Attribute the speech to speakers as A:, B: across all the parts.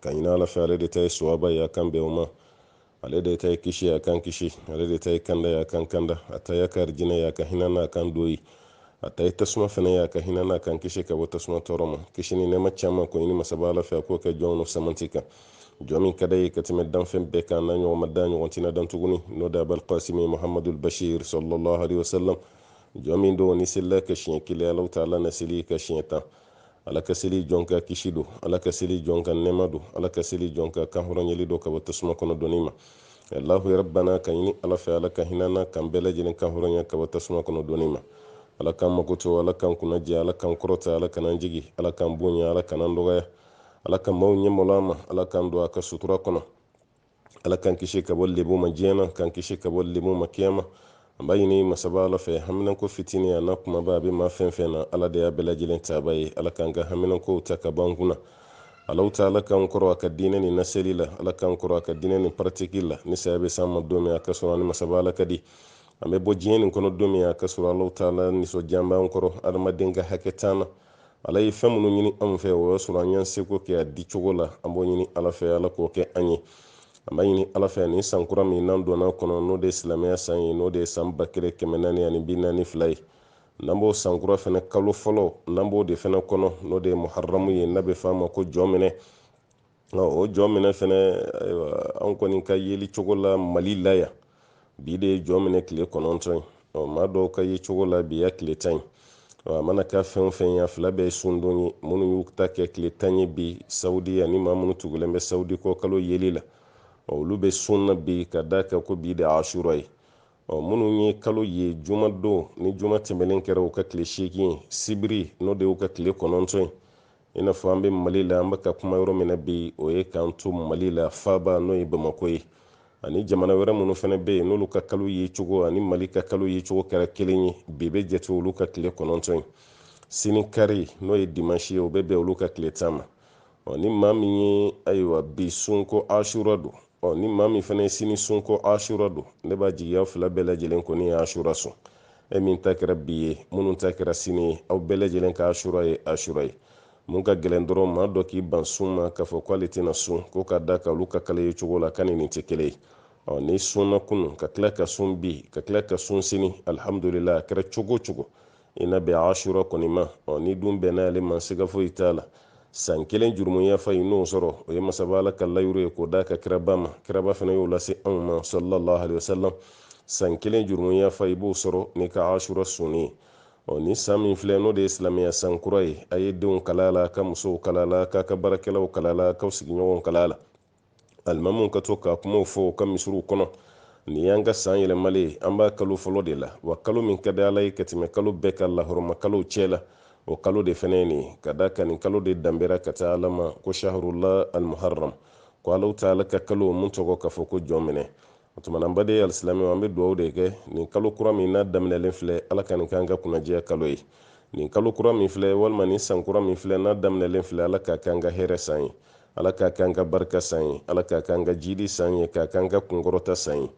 A: k'a ɲini ala fɛ ale de ta ye suwaba ye a k'an bɛn o ma ale de ta ye kisi a k'an kisi ale de ta ye kanda ye a k'an kanda a ta ye harijinɛ ye a ka hinɛ an na k'an don yen a ta ye tasuma fana ye a ka hinɛ an na k'an kisi ka bɔ tasuma tɔɔrɔ ma kisi ni nɛɛma caman k'o ɲini masaba ala fɛ a k'o kɛ jɔnw n'o samanti kan jɔn min ka d'a ye ka tɛmɛ danfɛn bɛɛ kan n'a ɲɔgɔn ma dan a ɲɔgɔn tina dan tuguni n'o de abal kasimi muhamadul bashir sallallahu alaihi wasallam jɔn min don n'i selil'a kan siɲɛ kelen allahu taala na seli i kan siɲɛ tan ala ka seli jɔn kan kisi don ala ka seli jɔn kan nɛɛma don ala ka seli jɔn kan kanhɔrɔnyali don ka bɔ tasuma kɔnɔ donni ma allahu rabbana k'a ɲini ala fɛ ala ka hinɛ an na k'an bɛɛ lajɛlen kanhɔrɔnya ka bɔ tasuma kɔnɔ donni ma ala k'an makoto ala k'an kunna jɛ ala k'an kɔrɔta ala kan'an jigin ala k'an bonya ala kan'an dɔgɔya ala ka maaw ɲɛ malo an ma ala k'an don a ka sutura kɔnɔ ala k'an kisi ka bɔ lebu ma diɲɛ na k'an kisi ka bɔ lebu ma kiyama an b'a ɲini masaba ala fɛ haminanko fitini an'a kumaba a bɛ maa fɛn fɛn na ala de y'a bɛɛ lajɛlen tabaa ye ala k'an ka haminankow ta ka b'an kunna allahu taala k'an kɔrɔ a ka diinɛ nin naseli la ala k'an kɔrɔ a ka diinɛ nin paratiki la ni saya bɛ s'an ma don min a k'a sɔrɔ an ni masaba ala ka di an bɛ bɔ diɲɛ nin kɔnɔ don min a k'a sɔrɔ allahu taala nisɔndiya b'an kɔrɔ adamaden ka hakɛ t'an na ala ye fɛn minnu ɲini anw fɛ o y'a sɔrɔ an y'an seko kɛ a di cogo la an b'o ɲini ala fɛ ala k'o kɛ an ye an b'a ɲini ala fɛ nin san kura min n'an donn'a kɔnɔ n'o de ye silamɛya san ye n'o de ye san ba kelen kɛmɛ naani ani bi naani fila ye n'an b'o san kura fɛnɛ kalo fɔlɔ n'an b'o de fɛnɛ kɔnɔ n'o de ye muharamu ye n'a bɛ f'a ma ko jɔminɛ o jɔminɛ fɛnɛ ayiwa an kɔni ka yeli cogo la mali la yan bi de ye jɔminɛ tile kɔnɔntɔn ye ɔ maa dɔw ka ye cogo la bi y'a tile tan ye a mana kɛ fɛn o fɛn ye a fila bɛɛ ye sundon ye minnu y'u ta kɛ tile tan ye bi sawudi ani maa minnu tugulen bɛ sawudi kɔ kalo yeli la olu bɛ sun na bi ka d'a kan ko bi de asura ye ɔ minnu ye kalo ye juma don ni juma tɛmɛnen kɛra u ka tile seegin ye sibiri n'o de y'u ka tile kɔnɔntɔn ye i n'a fɔ an bɛ mali la an bɛ ka kuma yɔrɔ min na bi o ye k'an to mali la faaba n'o ye bamako ye ani jamana wɛrɛ minnu fana bɛ yen n'olu ka kalo ye cogo ani mali ka kalo ye cogo kɛra kelen ye bi bɛ jate olu ka tile kɔnɔntɔn ye sini kari n'o ye dimansi ye o bɛ bɛn olu ka tile tan ma ɔ ni maa min ye ayiwa bi sun ko asura don ɔ ni maa min fana ye sini sun ko asura don ne b'a jigi aw fila bɛɛ lajɛlen kɔni ye asura sun e min ta kɛra bi ye minnu ta kɛra sini ye aw bɛɛ lajɛlen ka asura ye asura ye mun ka gɛlɛn dɔrɔn maa dɔ k'i ban sun ma k'a fɔ k'ale tɛna sun ko ka d'a kan olu ka kalo ye cogo la k'a ni nin tɛ kelen ye ɔ n'i sunna kunu ka tila ka sun bi ka tila ka sun sini alihamudulila a kɛra cogo cogo i na bɛn asura kɔni ma ɔ n'i dun bɛnna ale ma siga foyi t'a la san kelen jurumu yafa i n'o sɔrɔ o ye masaba ala ka layuru ye k'o d'a ka kiraba ma kiraba fana y'o lase anw ma sallallahu alaihi wasallam san kelen jurumu yafa i b'o sɔrɔ n'i ka asura sunni ye ɔ ni san min filɛ n'o de ye silamɛya san kura ye a ye denw kalan a la ka musow kalan a la k'a ka baarakɛlaw kalan a la k'aw sigiɲɔgɔnw kalan a la alimamuw ka to ka kumaw fɔ u ka misiriw kɔnɔ nin y'an ka san yɛlɛmalen ye an b'a kalo fɔlɔ de la wa kalo min ka di ala ye ka tɛmɛ kalo bɛɛ kan lahɔrɔmakalow cɛ la o kalo de fɛnɛ ye nin ye ka d'a kan nin kalo de danbera ka taa ala ma ko shahrullah almuharram ko allahu taala ka kalo mun tɔgɔ ka fɔ ko jɔminɛ o tumana n baden alisilamɛw an bɛ dugawu de kɛ nin kalo kura min n'a daminɛlen filɛ ala ka nin k'an ka kunnadiya kalo ye nin kalo kura min filɛ walima nin san kura min filɛ n'a daminɛlen filɛ ala k'a k'an ka hɛrɛ san ye ala k'a k'an ka barika san ye ala k'a k'an ka jiidi san ye k'a k'an ka kunkɔrɔta san ye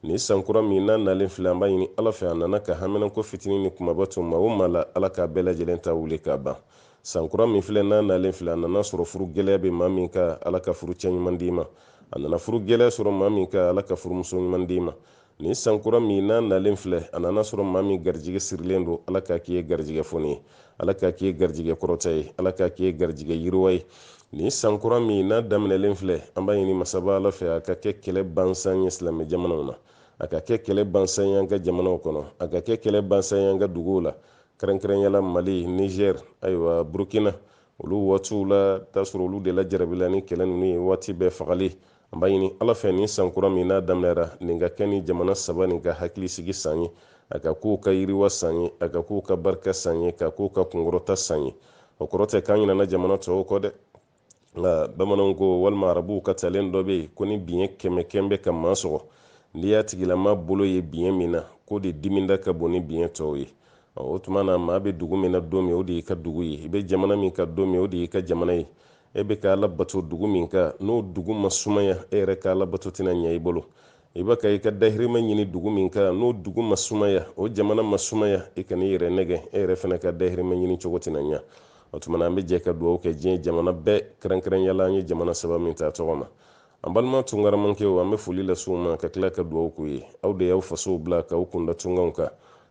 A: nin san kura min n'a nalen filɛ an b'a ɲini ala fɛ a nana ka haminanko fitinin ni kumaba to maa o maa la ala k'a bɛɛ lajɛlen ta wuli k'a ban san kura min filɛ n'a nalen filɛ a nana sɔrɔ furu gɛlɛya bɛ maa min kan ala ka furu cɛ ɲuman d'i ma a nana furu gɛlɛya sɔrɔ maa min kan ala ka furumuso ɲuman d'i ma nin sankura min n'a nalen filɛ a nana sɔrɔ maa min garijɛgɛ sirilen don ala k'a k'i ye garijɛgɛ foni ye ala k'a k'i ye garijɛgɛ kɔrɔta ye ala k'a k'i ye garijɛgɛ yiriwa ye nin sankura min n'a daminɛlen filɛ an b'a ɲini masaba ala fɛ a ka kɛ kɛlɛ bansan ye silamɛ jamanaw na a ka kɛ kɛlɛ bansan ye an ka jamanaw kɔnɔ a ka kɛ kɛlɛ bansan ye an ka duguw la kɛrɛnkɛrɛnyala mali niger ayiwa burkina olu waatiw la t'a sɔrɔ olu de la jarabila ni kɛlɛ ninnu ye waati bɛɛ fagali an b'a ɲini ala fɛ nin san kura min n'a daminɛra nin ka kɛ nin jamana saba nin ka hakili sigi san ye a ka k'u ka yiriwa san ye a ka k'u ka barika san ye k'a k'u ka kunkɔrɔta san ye o kɔrɔ tɛ k'an ɲinana jamana tɔw kɔ dɛ nka bamananw ko walima arabuw ka talen dɔ bɛ yen ko ni biɲɛ kɛmɛ kɛmɛ bɛ ka maa sɔgɔ n'i y'a tigilama bolo ye biɲɛ min na k'o de diminda ka bon ni biɲɛ tɔw ye O tuma na maa bɛ dugu min na don min o de y'i ka dugu ye i bɛ jamana min kan don min o de y'i ka jamana ye e bɛ ka ala bato dugu min kan n'o dugu ma sumaya e yɛrɛ ka ala bato tɛna ɲɛ i bolo i bɛ ka i ka dahirimɛ ɲini dugu min kan n'o dugu ma sumaya o jamana ma sumaya i kan'i yɛrɛ nɛgɛn e yɛrɛ fana ka dahirimɛ ɲini cogo tɛna ɲɛ o tuma na an bɛ jɛ ka dugawu kɛ diɲɛ jamana bɛɛ kɛrɛnkɛrɛnya la an ye jamana saba min ta tɔgɔ ma an balima tungaramankɛw an bɛ foli lase u ma ka tila ka dugawu k'u ye aw de y'aw fasow bila k'aw kunda tungaw kan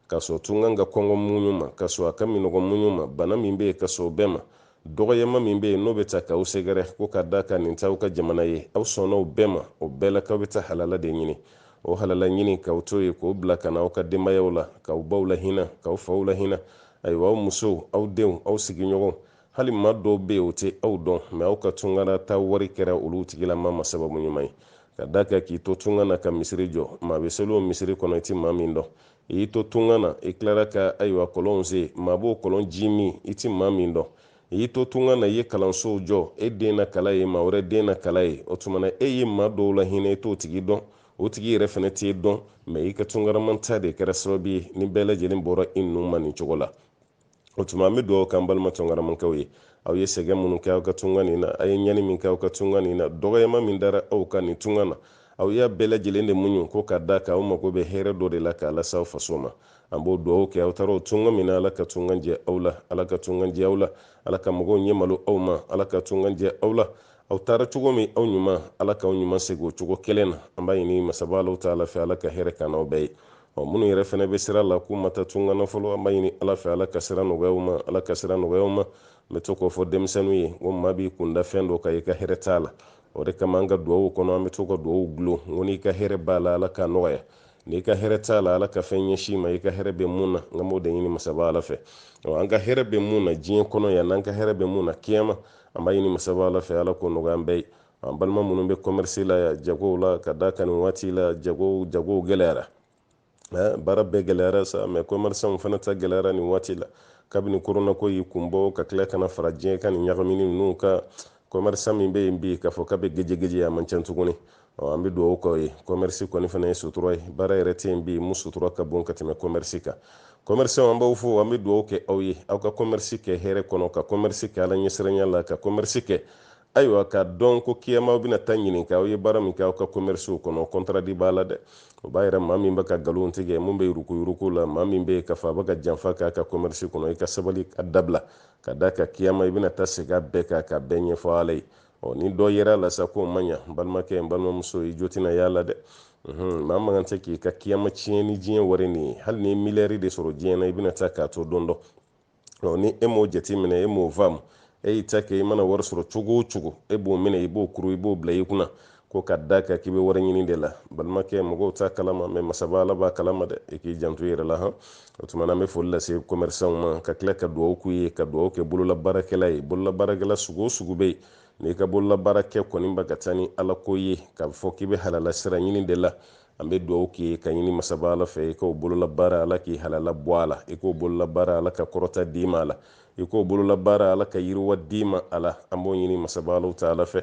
A: ka sɔn tunga ka kɔngɔ muɲu ma ka sɔn a ka minnɔgɔ muɲu ma bana min bɛ yen ka sɔn o bɛɛ ma dɔgɔyama min bɛ yen n'o bɛ taa k'aw sɛgɛrɛ ko ka d'a kan nin t'aw ka jamana ye aw sɔnna o bɛɛ ma o bɛɛ la k'aw bɛ taa halala de ɲini o halala ɲini k'aw to yen k'o bila ka na aw ka denbayaw la k'aw baw lahinɛ k'aw faw lahinɛ ayiwa aw musow aw denw aw sigiɲɔgɔnw hali maa dɔw bɛ yen o tɛ aw dɔn mɛ aw ka tungara taa wari kɛra olu tigilama ma sababu ɲuman ye ka d'a kan k'i to tunga na ka misiri jɔ maa bɛ seli o misiri kɔnɔ i tɛ maa min dɔn i y'i to tunga na i tilara ka ayiwa kɔlɔnw sen maa b'o kɔlɔn ji min i tɛ maa min dɔn i y'i to tunga na i ye kalansow jɔ e den na kalan yen maa wɛrɛ den na kalan yen o tuma na e ye maa dɔw lahinɛ i t'o tigi dɔn o tigi yɛrɛ fana t'e dɔn mɛ i ka tungaramanta de kɛra sababu ye nin bɛɛ lajɛlen bɔra i ninnu ma nin cogo la o tuma an bɛ dugawu k'an balima tungaramankɛw ye aw ye sɛgɛn minnu kɛ aw ka tunga nin na a ye ɲani min kɛ aw ka tunga nin na dɔgɔyama min dara aw kan nin tunga na aw y'a bɛɛ lajɛlen de muɲu ko ka da kan aw mago bɛ hɛrɛ dɔ de la k'a lase aw faso ma an b'o dugawu kɛ aw taara o tunga min na ala ka tunga diya aw la ala ka tunga diya aw la ala ka mɔgɔw ɲɛ malo aw ma ala ka tunga diya aw la aw taara cogo min aw ɲuman ala k'aw ɲuman segin o cogo kelen na an b'a ɲini masaba alahu taala fɛ ala ka hɛrɛ kɛ aw bɛɛ ye ɔ minnu yɛrɛ fana bɛ sira la k'u ma taa tunga na fɔlɔ an b'a ɲini ala fɛ ala ka sira nɔgɔya u ma ala ka sira nɔgɔya u ma n bɛ to k'o fɔ denmisɛnninw ye ko maa b'i kun da fɛn dɔ kan i ka hɛrɛ t'a la o de kama an ka duwawuw kɔnɔ an bɛ to ka duwawuw gulon ko n'i ka hɛrɛ b'a la ala k'a nɔgɔya n'i ka hɛrɛ t'a la ala ka fɛn ɲɛsin i ma i ka hɛrɛ bɛ mun na n ka m'o de ɲini masaba ala fɛ ɔ an ka hɛrɛ bɛ mun na diɲɛ kɔnɔ yan n'an ka hɛrɛ bɛ mun na kiyama an b'a ɲini masaba ala fɛ ala k'o nɔgɔya an bɛɛ ye an balima minnu bɛ kɔmɛrisi la yan jagow la ka da kan nin waati la jagow jagow gɛlɛyara baara bɛɛ gɛlɛyara sa mɛ kɔmɛrisanw fana ta gɛlɛyara nin waati la kabini koronako y'i kunbɔ ka tila ka na fara diɲɛ ka nin ɲagamini ninnu kan kɔmɛrisan min bɛ yen bi k'a fɔ k'a bɛ gejegeje a man ca tuguni an bɛ dugawu k'aw ye kɔmɛrisi kɔni fana ye sutura ye baara yɛrɛ tɛ yen bi mun sutura ka bon ka tɛmɛ kɔmɛrisi kan kɔmɛrisanw an b'aw fo an bɛ dugawu kɛ aw ye aw ka kɔmɛrisi kɛ hɛrɛ kɔnɔ ka kɔmɛrisi kɛ ala ɲɛsiranya la ka kɔmɛrisi kɛ ayiwa k'a dɔn ko kiyama aw bɛna taa ɲininka aw ye baara min kɛ aw ka komɛrisiw kɔnɔ kɔntaradi b'a la dɛ o b'a yira maa min bɛ ka nkalon tigɛ min bɛ yurukuyuruku la maa min bɛ k'a fɔ a bɛ ka janfa k'a ka komɛrisi kɔnɔ i ka sabali a dabila ka da kan kiyama i bɛna taa segin a bɛɛ kan k'a bɛɛ ɲɛfɔ ala ye ɔ ni dɔ yera a la sa k'o ma ɲa n balimakɛ n balimamuso i jo tɛna y'a la dɛ maa man kan tɛ k'i ka kiyama tiɲɛ ni diɲɛ wari nin ye hali n'i ye miliyari de sɔrɔ diɲɛ na i bɛna taa k'a to don dɔ ni e m'o jateminɛ e m'o faamu e y'i ta kɛ i mana wari sɔrɔ cogo o cogo e b'o minɛ i b'o kuru i b'o bila i kunna ko ka da kan k'i bɛ wari ɲini de la balimakɛ mɔgɔw t'a kalama mɛ masaba ala b'a kalama dɛ i k'i janto i yɛrɛ la han o tuma na an bɛ foli lase kɔmɛrisanw ma ka tila ka dugawu k'u ye ka dugawu kɛ bololabaarakɛla ye bololabaarakɛla sugu o sugu bɛ yen n'i ka bololabaara kɛ kɔni bɛ ka taa ni alako ye k'a fɔ k'i bɛ halalasira ɲini de la an bɛ dugawu k'i ye k'a ɲini masaba ala fɛ i k'o bololabaara ala k'i halala bɔ a la i k'o bololabaara ala ka kɔrɔta d'i ma a la i k'o bololabaara ala ka yiriwa d'i ma a la an b'o ɲini masaba alahu taala fɛ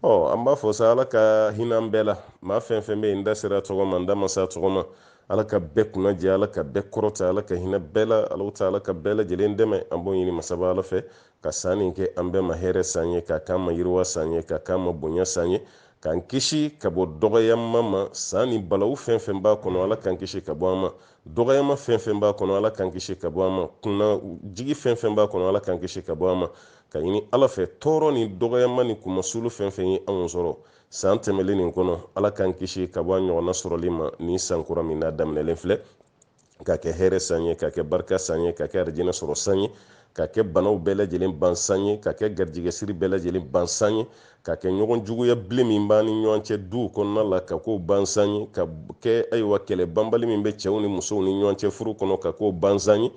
A: ɔ an b'a fɔ sa ala ka hin'an bɛɛ la maa fɛn o fɛn bɛ yen n da sera a tɔgɔ ma n da ma s'a tɔgɔ ma ala ka bɛɛ kunna diya ala ka bɛɛ kɔrɔta ala ka hinɛ bɛɛ la alahu taala ka bɛɛ lajɛlen dɛmɛ an b'o ɲini masaba ala fɛ ka san nin kɛ an bɛɛ ma hɛrɛ san ye k'a k'an ma yiriwa san ye k'a k'an ma bonya san ye k'an kisi ka bɔ dɔgɔyama ma san ni balawu fɛn fɛn b'a kɔnɔ ala k'an kisi ka bɔ a ma dɔgɔyama fɛn fɛn b'a kɔnɔ ala k'an kisi ka bɔ a ma kunnajigin fɛn fɛn b'a kɔnɔ ala k'an kisi ka bɔ a ma ka ɲini ala fɛ tɔɔrɔ ni dɔgɔyama ni kunmasuli fɛn fɛn ye anw sɔrɔ san tɛmɛlen nin kɔnɔ ala k'an kisi ka bɔ a ɲɔgɔnna sɔrɔli ma nin san kura min n'a daminɛlen filɛ ka kɛ hɛrɛ san ye ka kɛ barika san ye ka kɛ arijinɛ sɔrɔ san ye ka kɛ banaw bɛɛ lajɛlen ban san ye ka kɛ garijɛgɛsiri bɛɛ lajɛlen ban san ye ka kɛ ɲɔgɔn juguya bilen min b'an ni ɲɔgɔn cɛ duw kɔnɔna la ka k'o ban san ye ka kɛ ayiwa kɛlɛ banbali min bɛ cɛw ni musow ni ɲɔgɔn cɛ furu kɔnɔ ka k'o ban san ye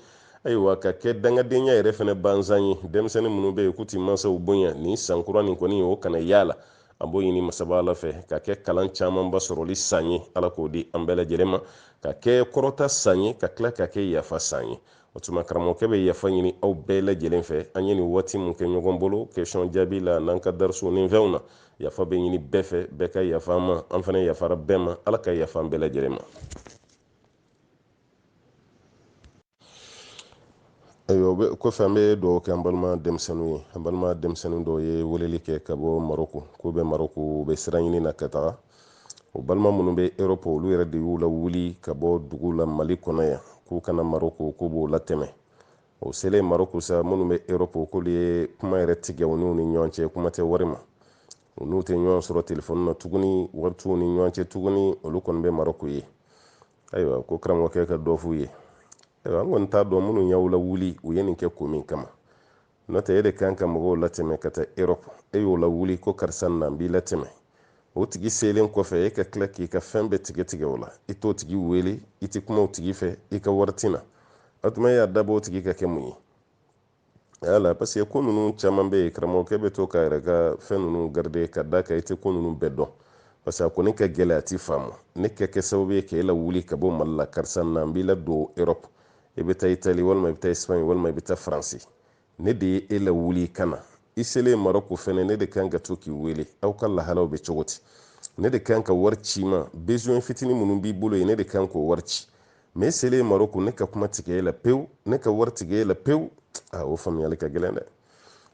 A: ayiwa ka kɛ dangadenya yɛrɛ fɛnɛ ban san ye denmisɛnnin minnu bɛ yen k'u ti mansaw bonya nin san kura nin kɔni o kana y'a la an b'o ɲini masaba ala fɛ ka kɛ kalan camanba sɔrɔli san ye ala k'o di an bɛɛ lajɛlen ma ka kɛ kɔrɔta san ye ka tila ka kɛ yafa san ye o tuma karamɔgɔkɛ bɛ yafa ɲini aw bɛɛ lajɛlen fɛ an ye nin waati min kɛ ɲɔgɔn bolo question jaabi la n'an ka darisuw ni fɛnw na yafa bɛ ɲini bɛɛ fɛ bɛɛ ka yafa an ma an fana yafara bɛɛ ma ala ka yafa an bɛɛ lajɛlen ma ayiwa kɔfɛ an bɛ dɔw kɛ an balima denmisɛnninw ye an balima denmisɛnnin dɔw ye weleli kɛ ka bɔ maroko k'u bɛ maroko u bɛ sira ɲini na ka taga u balima minnu bɛ erɔpu olu yɛrɛ de y'u lawuli ka bɔ dugu la mali kɔnɔ yan k'u ka na maroko k'u b'u latɛmɛ u selen maroko sa minnu bɛ erɔpu k'olu ye kuma yɛrɛ tigɛ u n'u ni ɲɔgɔn cɛ kuma tɛ wari ma u n'u tɛ ɲɔgɔn sɔrɔ telefɔni na tuguni wari t'u ni ɲɔgɔn cɛ tuguni olu kɔni bɛ maroko yen ayiwa ko karamɔgɔkɛ ka dɔ f'u ye ayiwa an kɔni t'a dɔn minnu y'aw lawuli u ye nin kɛ ko min kama n'o tɛ e de kan ka mɔgɔw latɛmɛ ka taa erɔp e y'o lawuli ko karisa na n b'i latɛmɛ o tigi selen kɔfɛ e ka tila k'i ka fɛn bɛɛ tigɛ tigɛ o la i t'o tigi wele i tɛ kuma o tigi fɛ i ka wari ti na o tuma e y'a dabɔ o tigi ka kɛ mun ye yala parce que ko ninnu caman bɛ yen karamɔgɔkɛ bɛ to k'a yɛrɛ ka fɛn ninnu garide ka da kan i tɛ ko ninnu bɛɛ dɔn parce que a kɔni ka gɛlɛn a ti faamu ne ka kɛ sababu ye k'e lawuli ka bɔ mali la karisa na n b'i ladon europe i bɛ taa itali walima i bɛ taa espagne walima i bɛ taa faransi ne de ye e lawuli ka na i selen marɔku fɛnɛ ne de kan ka to k'i wele aw ka lahalaw bɛ cogo di ne de kan ka wari ci i ma besoin fitini minnu b'i bolo yen ne de kan k'o wari ci mais e selen marɔku ne ka kuma tigɛ e la pewu ne ka wari tigɛ e la pewu a o faamuyali ka gɛlɛn dɛ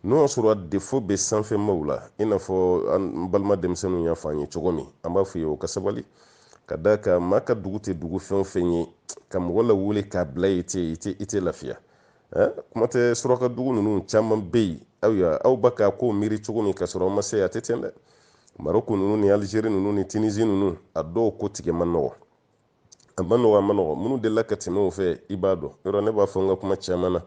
A: n'o y'a sɔrɔ défaut bɛ sanfɛmaw la i n'a fɔ an balima denmisɛnninw y'a fɔ an ye cogo min an b'a f'u ye u ka sabali ka da kan maa ka dugu tɛ dugu fɛn o fɛn ye ka mɔgɔ lawuli k'a bila i tɛ i tɛ i tɛ lafiya eh, kuma tɛ suraka dugu ninnu caman bɛ yen aw y'a aw b'a ka ko miiri cogo min ka sɔrɔ aw ma se a tɛ ten dɛ maroko ninnu ni alizeri ninnu ni tinizi ninnu a dɔw ko tigɛ man nɔgɔ a man nɔgɔ a man nɔgɔ minnu delila ka tɛmɛ o fɛ i b'a dɔn yɔrɔ ne b'a fɔ n ka kuma caman na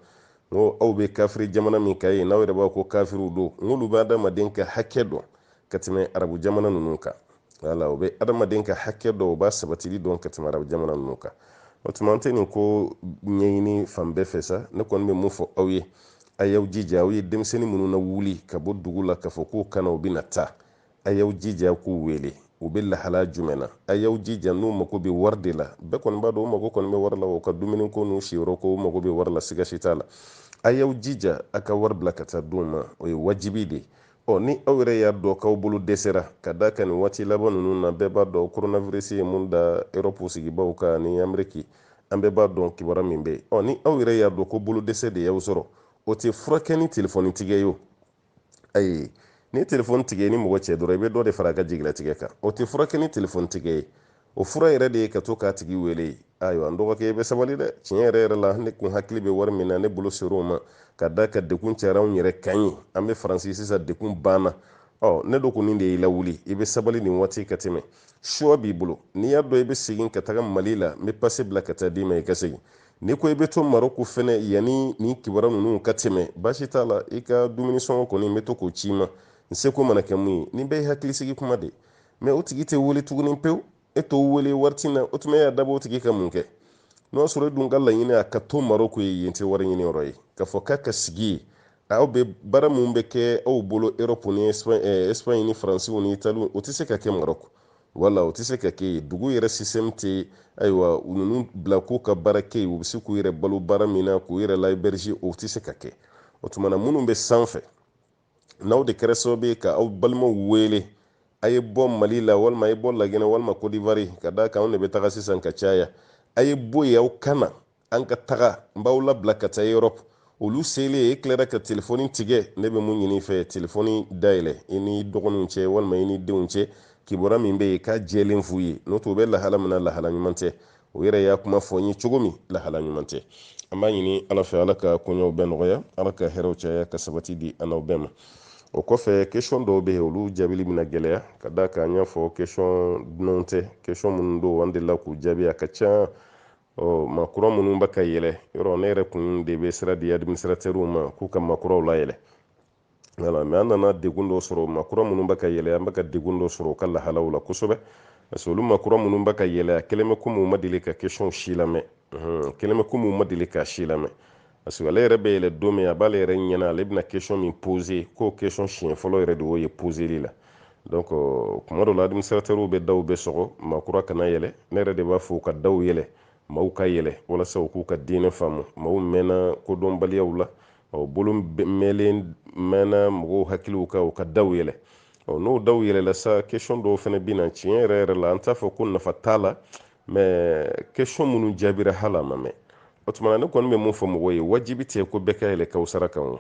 A: n ko aw bɛ kafiri jamana min kan yen n'aw yɛrɛ b'a ko kafiriw don n k'olu bɛ adamaden ka hakɛ dɔn ka tɛmɛ arabu jamana ninnu kan wala o bɛ adamaden ka hakɛ dɔn o b'a sabatili dɔn ka tɛmɛ arabu jamana ninnu kan o tuma an tɛ nin ko ɲɛɲini fan bɛɛ fɛ sa ne kɔni bɛ mun fɔ aw ye a y'aw jija aw ye denmisɛnnin minnu na wuli ka bɔ dugu la k'a fɔ k'u kana u bɛna taa a y'aw jija k'u wele u bɛ lahala jumɛn na a y'aw jija n'u mago bɛ wari de la bɛɛ kɔni b'a dɔn u mago kɔni bɛ wari la u ka dumuni ko n'u siyɔrɔ ko u mago bɛ wari la siga si t'a la a y'aw jija a ka wari bila ka taa d'u ma o ye wajibi de ye ɔ ni aw yɛrɛ y'a dɔn k'aw bolo dɛsɛra ka da kan nin waati laban ninnu na bɛɛ b'a dɔn koronavirisi ye mun da erɔpu sigibaaw kan ni ameriki an bɛɛ b'a dɔn kibaru min bɛ yen ni aw yɛrɛ y'a dɔn ko bolo dɛsɛ de y'aw sɔrɔ o tɛ furakɛ ni telefɔni tigɛ ye ayi ni telefɔni tigɛ ni mɔgɔ cɛ dɔrɔn i bɛ dɔ de fara a ka jigilatigɛ kan o tɛ furakɛ ni telefɔni tigɛ ye o fura yɛrɛ de ye ka to k'a tigi wele ayiwa n dɔgɔkɛ i bɛ sabali dɛ tiɲɛ yɛrɛ yɛrɛ la ne kun hakili bɛ wari min na ne bolo ser'o ma ka da kan degun cayara anw yɛrɛ kan yen an bɛ faransi sisan degun b'an na ɔ ne dun kɔni de y'i lawuli i bɛ sabali nin waati ka tɛmɛ choix b'i bolo n'i y'a dɔn i bɛ segin ka taga mali la n bɛ pase bila ka taa d'i ma i ka segin n'i ko i bɛ to maroko fɛnɛ yanni nin kibaru ninnu ka tɛmɛ baasi t'a la i ka dumuni sɔngɔ kɔni n bɛ to k'o c'i ma n seko mana kɛ min ye nin bɛɛ ye hakilisigi kuma de mais o tigi tɛ wele tuguni pewu e t'o wele wari t'i na o tuma e y'a dabɔ o tigi ka mun kɛ n'o y'a sɔrɔ e dun ka laɲini a ka to maroko yen yen tɛ wari ɲini yɔrɔ ye k'a fɔ k'a ka sigi yen aw bɛ baara minnu bɛ kɛ aw bolo europe ni espagne ni faransiw ni italiw o tɛ se ka kɛ maroko wala o tɛ se ka kɛ yen dugu yɛrɛ système tɛ ayiwa u ninnu bila k'u ka baara kɛ yen u bɛ se k'u yɛrɛ balo baara min na k'u yɛrɛ la héberger o tɛ se ka kɛ o tuma na minnu bɛ sanfɛ n'aw de kɛra sababu ye ka aw balimaw wele a ye bɔ mali la walima a ye bɔ laginɛ walima kɔdiwari ka da kan anw de bɛ taga sisan ka caya a ye bɔ yen aw ka na an ka taga n b'aw labila ka taa europe olu selen e tilara ka telefɔni tigɛ ne bɛ mun ɲini i fɛ telefɔni dayɛlɛ i ni dɔgɔninw cɛ walima i ni denw cɛ kibaruya min bɛ yen k'a jɛlen f'u ye n'o tɛ u bɛ lahala min na lahala ɲuman tɛ o yɛrɛ y'a kuma fɔ n ye cogo min lahala ɲuman tɛ an b'a ɲini ala fɛ ala ka koɲɛw bɛɛ nɔgɔya ala ka hɛrɛw caya ka sabati di an n'aw bɛɛ ma o kɔfɛ kesɔn dɔw bɛ yen olu jaabili bɛna gɛlɛya ka da kan an y'a fɔ kesɔn dunanw tɛ kesɔn minnu don an delila k'u jaabi a ka ca ɔ maa kura minnu bɛ ka yɛlɛ yɔrɔ ne yɛrɛ kun de bɛ sira di administratɛriw ma k'u ka maa kuraw layɛlɛ voilà mais an nana degun dɔ sɔrɔ maa kura minnu bɛ ka yɛlɛ an bɛ ka degun dɔ sɔrɔ u ka lahalaw la kosɛbɛ parce que olu maa kura minnu bɛ ka yɛlɛ a kɛlen bɛ komi u ma deli ka kesɔnw si lamɛn kɛlen bɛ komi u ma deli ka si lamɛn parce que ale yɛrɛ bɛ yɛlɛ don min a b'ale yɛrɛ ɲɛna ale bɛna kesɔn min pose k'o kesɔn siɲɛ fɔlɔ yɛrɛ de y'o ye poseli la donc kuma dɔ la administratɛriw bɛ daw bɛ sɔgɔ maa kura kana yɛlɛ ne yɛrɛ de b'a fɔ u ka daw yɛlɛ maaw ka yɛlɛ walasa u k'u ka diinɛ faamu maaw mɛnna kodɔnbaliyaw la ɔ bolo mɛlen mɛnna mɔgɔw hakiliw kan u ka daw yɛlɛ ɔ n'o daw yɛlɛla sa question dɔw fana bɛ na tiɲɛ yɛrɛ yɛrɛ la an t'a fɔ ko nafa t'a la mais question minnu jaabira hali a ma mɛn o tuma na ne kɔni bɛ mun fɔ mɔgɔw ye wajibi tɛ ko bɛɛ ka yɛlɛ kawusara kan o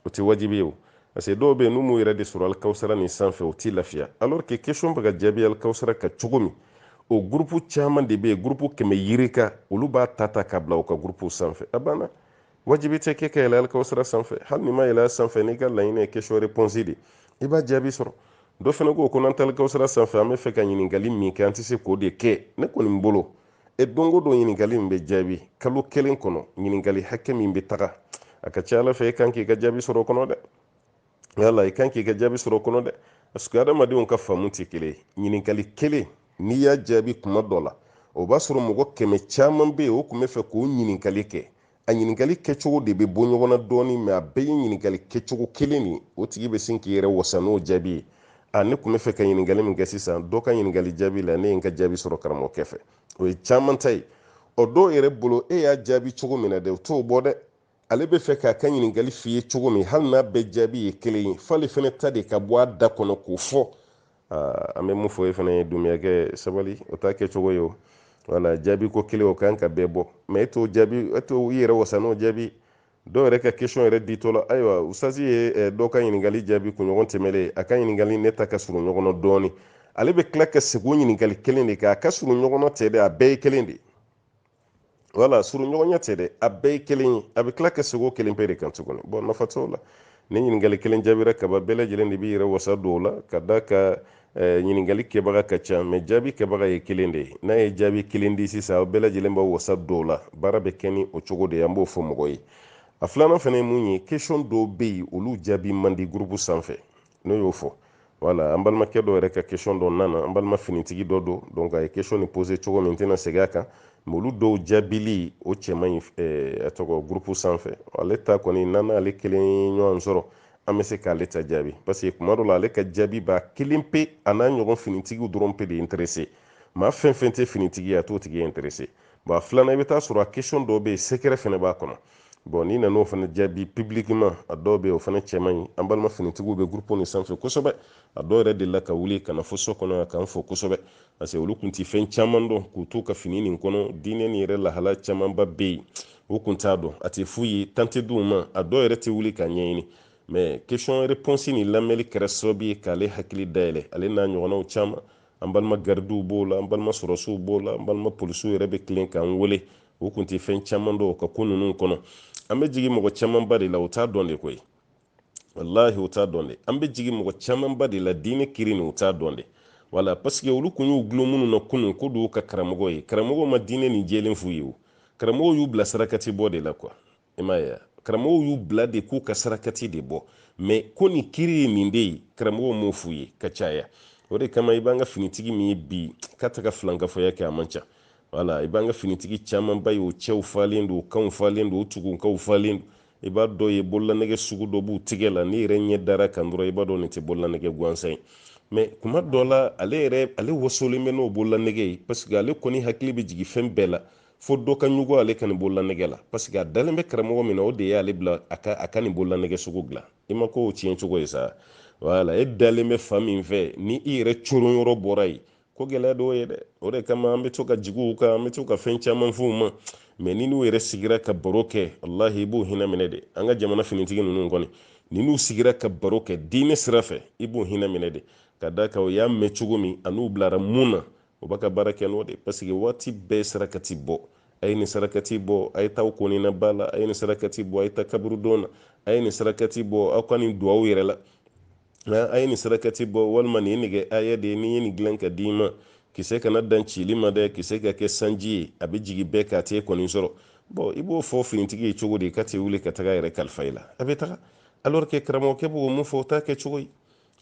A: o tɛ wajibi ye o parce que dɔw bɛ yen n'u m'u yɛrɛ de sɔrɔ alikawusara nin sanfɛ u t'i lafiya alors que question bɛ ka jaabi alikawusara kan cogo min o groupe caman de bɛ yen groupe kɛmɛ yirika olu b'a ta ta ka bila u ka groupew sanfɛ a banna wajibi tɛ k'e ka yɛlɛ alikawusara sanfɛ hali n'i ma yɛlɛ sanfɛ n'i ka laɲini ye question réponse de i b'a jaabi sɔrɔ dɔ fana ko ko n'an tɛ alikawusara sanfɛ an bɛ fɛ ka ɲininkali min kɛ an tɛ se k'o de kɛ ne kɔni bolo e don o don ɲininkali min bɛ jaabi kalo kelen kɔnɔ ɲininkali hakɛ min bɛ taga a ka ca a la fɛ e kan k'i ka jaabi sɔrɔ o kɔnɔ dɛ yala i kan k'i ka jaabi sɔrɔ o kɔnɔ dɛ parce que adamadenw ka faamu tɛ kelen ye ɲininkali kelen n'i y'a jaabi kuma dɔ la o b'a sɔrɔ mɔgɔ kɛmɛ caman bɛ yen o tun bɛ fɛ k'o ɲininkali kɛ a ɲininkali kɛcogo de bɛ bɔ ɲɔgɔn na dɔɔnin mais a bɛɛ ye ɲininkali kɛcogo kelen de o tigi bɛ sin k'i yɛrɛ wasa n'o jaabi ye a ne tun bɛ fɛ ka ɲininkali min kɛ sisan dɔ ka ɲininkali jaabi la ne ye n ka jaabi sɔrɔ karamɔgɔkɛ fɛ o ye caman ta ye ɔ dɔw yɛrɛ bolo e y'a jaabi cogo min na dɛ o t'o bɔ dɛ ale bɛ fɛ k'a ka ɲininkali f'i ye cogo min hali n'a bɛɛ jaabi ye kelen ye f'ale fana ta de ka bɔ a da kɔnɔ k'o fɔ an bɛ mun fɔ e fana ye dumuyakɛ sabali o t'a kɛcogo ye o wala jaabi ko kelen o kan ka bɛɛ bɔ mais e t'o jaabi e t'o i yɛrɛ wasa n'o jaabi dɔw yɛrɛ ka question yɛrɛ ditɔ la ayiwa usitazi ye eh, dɔw ka ɲininkali jaabi kunɲɔgɔn tɛmɛlen a ka ɲininkali ne ta ka surun ɲɔgɔn na dɔɔnin ale bɛ tila ka segin o ɲininkali kelen de kan a ka surun ɲɔgɔn na tɛ dɛ a bɛɛ ye kelen de ye wala surunɲɔgɔnya tɛ dɛ a bɛɛ ye kelen ye a bɛ tila ka segin o kelen pe de kan tuguni bon nafa t'o la ni ɲininkali kelen jaabira kaba bɛɛ lajɛlen de b'i yɛrɛ wasa don o la ka d'a kan eh, ɲininkali kɛbaga ka ca mais jaabi kɛbaga ye kelen de ye n'a ye jaabi kelen di sisan aw bɛɛ lajɛlen b'aw wasa don o la baara bɛ kɛ ni o cogo de ye an b'o fɔ mɔgɔ ye a filanan fana ye mun ye question dɔw bɛ yen olu jaabi man di groupe sanfɛ n'o y'o fɔ wala an balimakɛ dɔ yɛrɛ ka question dɔ nana an balima finitigi dɔ don donc a ye question nin poser cogo min n tɛna segin a kan mais olu dɔw jaabili o cɛ man ɲi eh, a tɔgɔ groupe sanfɛ ale ta kɔni n'an n'ale kelen ɲɔgɔn sɔrɔ an bɛ se k'ale ta jaabi parce que kuma dɔ la ale ka jaabi b'a kelen pe a n'a ɲɔgɔn finitigiw dɔrɔn pe de intéressé maa fɛn fɛn tɛ finitigi ye a t'o tigi intéressé bon a filanan i bɛ taa sɔrɔ a question dɔw bɛ yen secret fana b'a kɔnɔ bon n'i nan'o fana jaabi publiquement a dɔw bɛ yen o fana cɛ man ɲi an balima finitigiw bɛ groupe nin sanfɛ kosɛbɛ a dɔw yɛrɛ delila ka wuli ka na fo so kɔnɔ yan k'an fo kosɛbɛ parce que olu tun tɛ fɛn caman dɔn k'u t'u ka fini nin kɔnɔ diinɛ nin yɛrɛ lahala camanba bɛ yen u tun t'a dɔn a tɛ f'u ye temps tɛ d'u ma a dɔw yɛrɛ tɛ wuli k'a ɲɛɲini mais question réponse nin lamɛnni kɛra sababu ye k'ale hakili dayɛlɛ ale n'a ɲɔgɔnnaw caman an balima garidiw b'o la an balima sɔrɔsiw b'o la an balima polisiw yɛrɛ bɛ tilen k'an wele u kun tɛ fɛn caman dɔn ka ko ninnu kɔnɔ an bɛ jigin mɔgɔ camanba de la u t'a dɔn de koyi walahi u t'a dɔn de an bɛ jigin mɔgɔ camanba de la diinɛ kiri nin u t'a dɔn de wala pasike olu kun y'u gulon minnu na kunun ko don ka karamɔgɔ ye karamɔgɔ ma diinɛ nin jɛlen f'u ye o karamɔgɔ y'u bila sarakati bɔ de la kuwa i m'a ye karamɔgɔw y'u bila de k'u ka sarakati de bɔ mɛ ko nin kiri ye min bɛ yen karamɔgɔw m'o f'u ye ka caya o de kama i b'an ka finitigi min ye bi k'a tɛ ka filankafoya kɛ a man ca wala i b'an ka finitigi camanba ye u cɛw falen don u kanw falen don u tugukanw falen don i b'a dɔ ye bololanɛgɛ sugu dɔ b'u tigɛ la n'i yɛrɛ ɲɛ dar'a kan dɔrɔn i b'a dɔn nin tɛ bololanɛgɛ gansan ye mɛ kuma dɔ la ale yɛrɛ ale wasolen bɛ n'o bololanɛgɛ ye paseke ale kɔni hakili bɛ jigin fɛn bɛɛ la fo dɔ ka ɲugu ale ka nin bololanɛgɛ la paseke a dalen bɛ karamɔgɔ min na o de ye ale bila a ka a ka nin bololanɛgɛ sugu dilan i ma ko o tiɲɛ cogo ye sa wala e dalen bɛ fan min fɛ ni i yɛrɛ coron yɔrɔ bɔra yen ko gɛlɛya dɔw ye dɛ o de kama an bɛ to ka jigin u kan an bɛ to ka fɛn caman fɔ u ma mɛ n'i n'u yɛrɛ sigira ka baro kɛ walahi i b'u hinɛ minɛ de an ka jamana finitigi ninnu kɔni n'i n'u sigira ka baro kɛ diinɛ sira fɛ i b'u hinɛ minɛ de ka d'a kan u y'a mɛn cogo min an'u bilara min na u bɛ ka baara kɛ n'o de paseke waati bɛɛ sarakati bɔ a ye nin sarakati bɔ a ye taa ko nin na ba la a ye nin sarakati bɔ a ye taa kaburudon na a ye nin sarakati bɔ aw ka nin don aw yɛrɛ la nka a ye nin sarakati bɔ walima nin ye nɛgɛhaya de ye ne ye nin dilan k'a d'i ma kisɛ kana dan cili ma dɛ kisɛ ka kɛ sanji ye a bɛ jigin bɛɛ kan a t'e kɔni sɔrɔ bɔn i b'o fɔ finitigi ye cogo di k'a tɛ wuli ka taga a yɛrɛ kalifa i la a bɛ taga alors que karamɔgɔkɛ b'o min fɔ o t'a kɛ cogo ye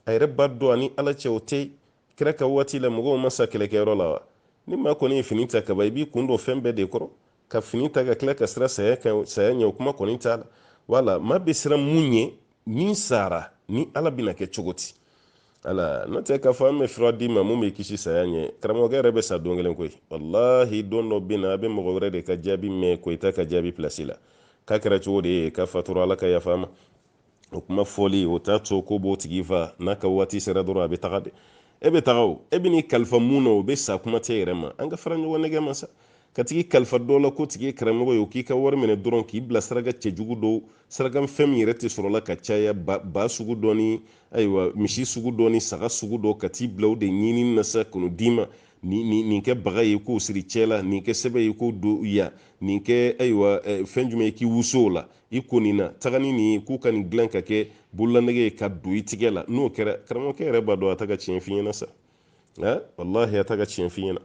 A: a yɛrɛ b'a dɔn a ni ala cɛ o tɛ kira ka waati la mɔgɔw ma sa kɛlɛkɛyɔrɔ la wa ni maa kɔni ye fini ta kaban i b'i kun don fɛn bɛɛ de kɔrɔ ka fini ta ka tila ka siran saya kan saya ɲɛ o kuma kɔni t'a la wala maa bɛ siran mun ɲɛ min sara ni ala bɛna kɛ cogo di wala n'o tɛ k'a fɔ an bɛ fura d'i ma min b'i kisi saya ɲɛ karamɔgɔkɛ yɛrɛ bɛ sa don kelen koyi walahi don dɔ bɛ na a bɛ mɔgɔ wɛrɛ de ka jaabi mɛn koyita ka jaabi pilasi la k'a kɛra cogo de ye k'a fatura ala ka yaf'a ma o kuma fɔli o t'a to k'o b'o tigi fa n'a ka waati sera dɔrɔn a bɛ taga de e bɛ taga o e bɛn'i kalifa min na o bɛ sa kuma t'e yɛrɛ ma an ka fara ɲɔgɔn nɛgɛ ma sa ka tag'i kalifa dɔ la k'o tigi ye karamɔgɔ ye o k'i ka wari minɛ dɔrɔn k'i bila saraka cɛjugu dɔw saraka fɛn min yɛrɛ tɛ sɔrɔ la ka caya ba sugu dɔ ni ayiwa misi sugu dɔ ni saga sugu dɔ ka t'i bila o de ɲinini na sa k'o d'i ma nin kɛ bagan ye k'o sir'i cɛ la nin kɛ sɛbɛn ye k'o don yan nin kɛ ayiwa fɛn jumɛn ye k'i wusu o la i ko nin na taga ni nin ye k'u ka nin dilan ka kɛ bololanɛgɛ ye ka don i tigɛ la n'o kɛra karamɔgɔkɛ yɛrɛ b'a dɔn a ta ka tiɲɛ f'i ɲɛna sa walahi a ta ka tiɲɛ f'i ɲɛna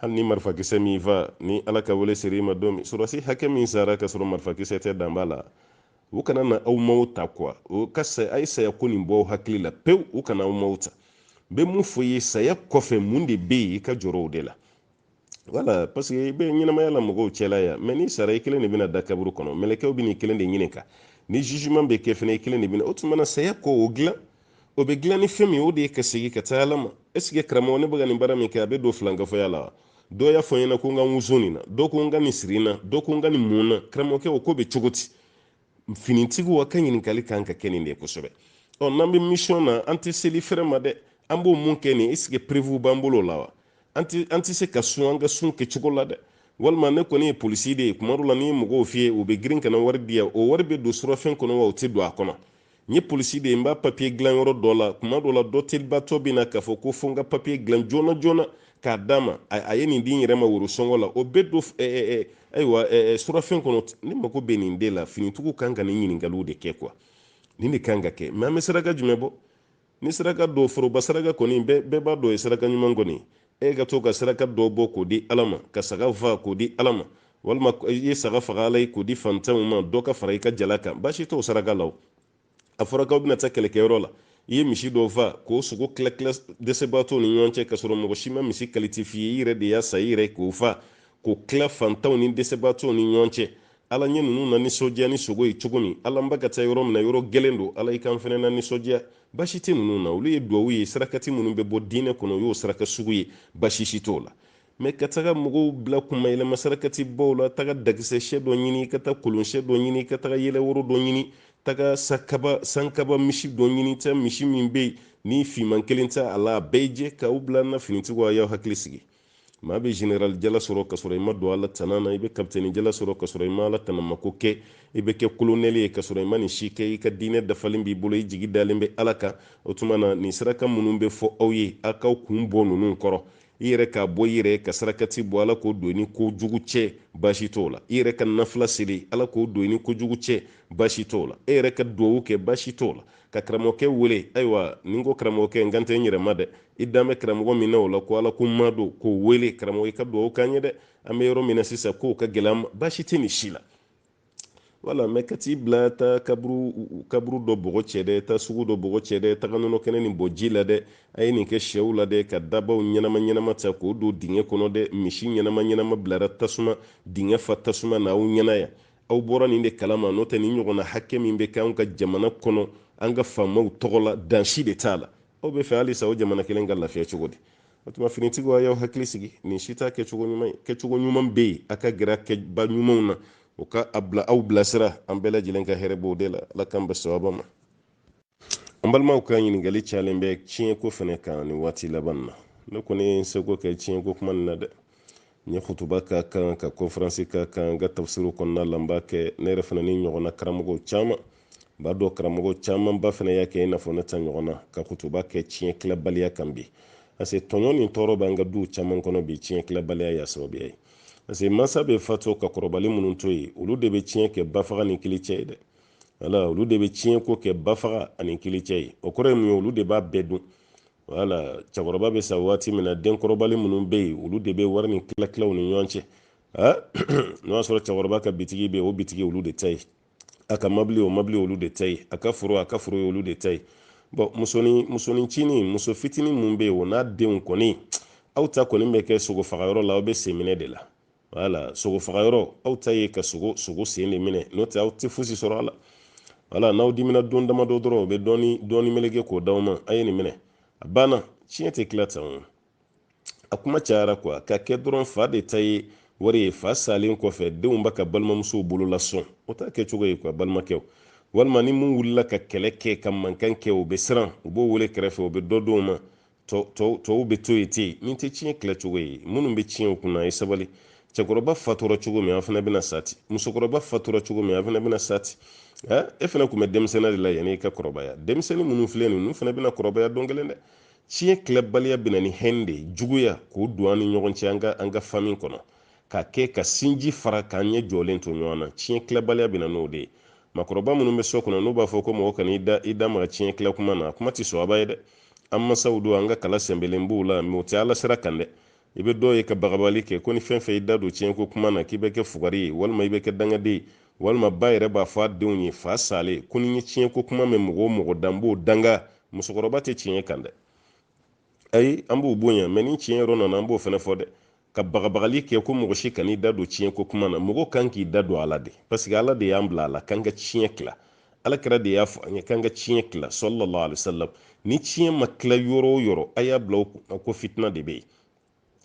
A: hali ni marifakisɛ m'i fa ni ala ka wele sera i ma don min sɔrɔsi hakɛ min sara ka sɔrɔ marifakisɛ tɛ dan b'a la u kana na aw maw ta kuwa o ka sa a ye saya ko nin bɔ hakili la pewu u kana aw maw ta n bɛ mun fɔ i ye saya kɔfɛ mun de bɛ yen i ka jɔrɔ o de la wala parce que i bɛ ɲɛnamaya la mɔgɔw cɛla yan mɛ n'i sara i kelen de bɛna da kaburu kɔnɔ mɛlɛkɛw bɛ n'i kelen de ɲininka ni jugement bɛ kɛ fana i kelen de bɛna o tuma na saya kɔ o dilan o bɛ dilan ni fɛn min o de ye ka segin ka taa ala ma est ce que karamɔgɔ ne bɛ ka nin baara min kɛ a bɛ don filankafɔya la wa dɔ y'a fɔ n ɲɛna ko n ka n wusu nin na dɔ ko n ka nin siri n na dɔ ko n ka nin mun n na karamɔgɔkɛ o ko bɛ cogo di finitigiw aw ka ɲininkali kan ka kɛ nin de kosɛbɛ ɔ n'an bɛ mission na an tɛ seli fɛrɛ ma dɛ an b'o mun kɛ nin est ce que preuve b'an bolo la wa an tɛ se ka sun an ka sun kɛcogo la dɛ walima ne kɔni ye polisi de ye kuma dɔ la ni n ye mɔgɔw fiyɛ u bɛ girin ka na wari di yan o wari bɛ don surafɛn kɔnɔ wa o tɛ don a kɔnɔ n ye polisi de ye n b'a papiye dilan yɔrɔ dɔ la kuma dɔ la dɔ telibatɔ bɛ na k'a fɔ ko fo n ka papiye dilan joona joona k'a d'a ma a ye nin di n yɛrɛ ma worosɔngɔ la o bɛ don ayiwa surafɛn kɔnɔ ne mako bɛ nin de la finitigiw kan ka nin ɲininkaliw de kɛ kuwa nin de kan ka kɛ mɛ an bɛ saraka jumɛn bɔ ni saraka dɔ foroba saraka kɔni bɛɛ b'a dɔn o ye saraka ɲuman kɔni e ka to ka saraka dɔ bɔ k'o di ala ma ka saga fa k'o di ala ma walima i ye saga faga ala ye k'o di fantanw ma dɔ ka fara i ka jala kan baasi t'o saraka la o a fɔra k'aw bɛna taa kɛlɛkɛyɔrɔ la i ye misi dɔ fa k'o sogo tilatila dɛsɛbaatɔw ni ɲɔgɔn cɛ k'a sɔrɔ mɔgɔ si ma misi kalite f'i ye i yɛrɛ de y'a san i yɛrɛ k'o fa k'o tila fantanw ni dɛsɛbaatɔw ni ɲɔgɔn cɛ ala n ye ninnu na nisɔndiya ni sogo ye cogo min ala n bɛ ka taa yɔrɔ min na yɔrɔ gɛlɛn don ala i ka n fɛnɛ na nisɔndiya baasi tɛ ninnu na olu ye duwawu ye sarakati minnu bɛ bɔ diinɛ kɔnɔ o y'o saraka sugu ye baasi si t'o la mɛ ka taga mɔgɔw bila kunma yɛlɛma sarakati bɔw la taga dakisɛ sɛ dɔ ɲini ka taa kolon sɛ dɔ ɲini ka taga yɛlɛworo dɔ ɲini taga sakaba sankaba misi dɔ ɲini taa misi min bɛ yen ni fiman kelen tɛ a la a bɛɛ jɛ k'aw bila na finitigiw a y'aw hakili sigi maa bɛ general jala sɔrɔ ka sɔrɔ i ma don ala tana na i bɛ kapitɛni jala sɔrɔ ka sɔrɔ i ma ala tanama ko kɛ i bɛ kɛ kolonɛli ye ka sɔrɔ i ma nin si kɛ i ka diinɛ dafalen b'i bolo i jigi dalen bɛ ala kan o tuma na nin saraka minnu bɛ fɔ aw ye aw k'aw kun bɔ ninnu kɔrɔ i yɛrɛ k'a bɔ i yɛrɛ ka sarakati bɔ ala k'o don i ni ko jugu cɛ baasi t'o la i yɛrɛ ka nafila seli ala k'o don i ni ko jugu cɛ baasi t'o la e yɛrɛ ka duwawu kɛ baasi t'o la ka karamɔgɔkɛ wele ayiwa n'i ko karamɔgɔkɛ n kan tɛ n yɛrɛ ma dɛ i dan bɛ karamɔgɔ min na o la ko ala ko maa don k'o wele karamɔgɔ i ka dugawu k'an ye dɛ an bɛ yɔrɔ min na sisan k'o ka gɛlɛn an ma baasi tɛ nin si la wala mɛ ka t'i bila taa kaburu kaburu dɔ bɔgɔ cɛ dɛ taa sugu dɔ bɔgɔ cɛ dɛ taga nɔnɔ kɛnɛ nin bɔn ji la dɛ a ye nin kɛ sɛw la dɛ ka daabaw ɲɛnama ɲɛnama ta k'o don dingɛ kɔnɔ dɛ misi ɲɛnama ɲɛnama bilara tasuma dingɛ fa tasuma na aw ɲɛna yan aw bɔra nin de kalama n'o tɛ nin ɲɔgɔnna hakɛ min bɛ kɛ anw ka jamana kɔnɔ an ka faamaw tɔgɔ la dan si de t'a la aw bɛ fɛ halisa o jamana kelen ka lafiya cogo di o tuma finitigiw a y'aw hakili sigi nin si t'a kɛcogo ɲuman ye kɛcogo ɲuman bɛ yen a ka gɛrɛ kɛba ɲumanw na o ka aw bilasira an bɛɛ lajɛlen ka hɛrɛ b'o de la ala k'an bɛn sababa ma an balimaw ka ɲininkali cayalen bɛ tiɲɛko fana kan nin waati laban na ne kɔni ye n seko kɛ tiɲɛko kuma nin na dɛ n ye kutuba k'a kan ka kɔnferansi k'a kan n ka tafsiriw kɔnɔna la n b'a kɛ ne yɛrɛ fana ni ɲɔgɔnna karamɔgɔw caman n b'a dɔn karamɔgɔ camanba fana y'a kɛ i n'a fɔ ne ta ɲɔgɔn na ka kutuba kɛ tiɲɛ tilabaliya kan bi parce que tɔɲɔ ni tɔɔrɔ b'an ka duw caman kɔnɔ bi tiɲɛ tilabaliya y'a sababuya ye parce que mansa bɛ fatu ka kɔrɔbalen minnu to yen olu de bɛ tiɲɛ kɛ bafaga ni kili cɛ ye dɛ wala olu de bɛ tiɲɛ ko kɛ bafaga ani kilicɛ ye o kɔrɔ ye mun ye olu de b'a bɛɛ dun wala cɛkɔrɔba bɛ sa waati min na denkɔrɔbalen minnu bɛ yen olu de bɛ wari nin tila tila u ni ɲɔgɔn cɛ n'o y'a sɔrɔ cɛkɔrɔba ka bitigi bɛ yen o bitigi olu de ta ye a ka mabili o mabili olu de ta ye a ka foro a ka foro ye olu de ta ye bon musonin musonincinin muso fitinin min bɛ yen o n'a denw kɔni aw ta kɔni bɛ kɛ sogo faga yɔrɔ la aw bɛ senminɛ de la wala sogo faga yɔrɔ aw ta ye ka sogo sogo sen de minɛ n'o tɛ aw tɛ fosi sɔrɔ a la wala n'aw dimina don damadɔ dɔrɔn o bɛ dɔɔni dɔɔni meleke k'o d'aw ma a ye nin minɛ a banna tiɲɛ tɛ tila tan o a kuma cayara kuwa ka kɛ dɔrɔn fa de ta ye wari ye fa salen kɔfɛ denw b'a ka balimamusow bolo lasɔn o t'a kɛcogo ye kuwa balimakɛw walima ni min wulila ka kɛlɛ kɛ ka mankan kɛ o bɛ siran u b'o wele kɛrɛfɛ o bɛ dɔ d'o ma tɔw bɛ to yen ten nin tɛ tiɲɛ tila cogo ye minnu bɛ tiɲɛ kunna a ye sabali cɛkɔrɔba fatura cogo min an fana bɛna sa ten musokɔrɔba fatura cogo min an fana bɛna sa ten e fana tun bɛ denmisɛnnin de la yanni i ka kɔrɔbaya denmisɛnnin minnu filɛ ninnu fana bɛna kɔrɔbaya don kelen dɛ tiɲɛ tilabaliya bɛna ni hɛn de ye juguya k'o don an ni ɲɔgɔn cɛ an ka an ka fami kɔnɔ ka kɛ ka sinji fara k'an ɲɛ jɔlen to ɲɔgɔn na tiɲɛ tilabaliya bɛna n'o de ye makɔrɔba minnu bɛ so kɔnɔ n'u b'a fɔ ko mɔgɔ kana i da i da maga tiɲɛ tila kuma na kuma tɛ sɔn a b'a ye dɛ an masaw don an ka kala sɛnbɛlen b'u la mais o tɛ ala sira kan dɛ i bɛ dɔw ye ka bagabali kɛ ko ni fɛn fɛn i da don tiɲɛko kuma na k'i bɛ kɛ fugari ye walima i bɛ kɛ dangaden ye walima ba yɛrɛ b'a fɔ a denw ye fa salen ko ni n ye tiɲɛko kuma mɛn mɔgɔ o mɔgɔ da n b'o danga musokɔrɔba tɛ tiɲɛ kan dɛ ayi an b'u bonya mais ni tiɲɛ yɔrɔ nana an b'o fana fɔ dɛ ka bagabagali kɛ ko mɔgɔ si kan'i da don tiɲɛ ko kuma na mɔgɔ kan k'i da don a la dɛ parce que ala de y'an bila a la k'an ka tiɲɛ tila ala kira de y'a fɔ an ye k'an ka tiɲɛ tila sallallahu alaihi wasallam ni tiɲɛ ma tila yɔrɔ o yɔrɔ a y'a bila aw kun na ko fitina de bɛ yen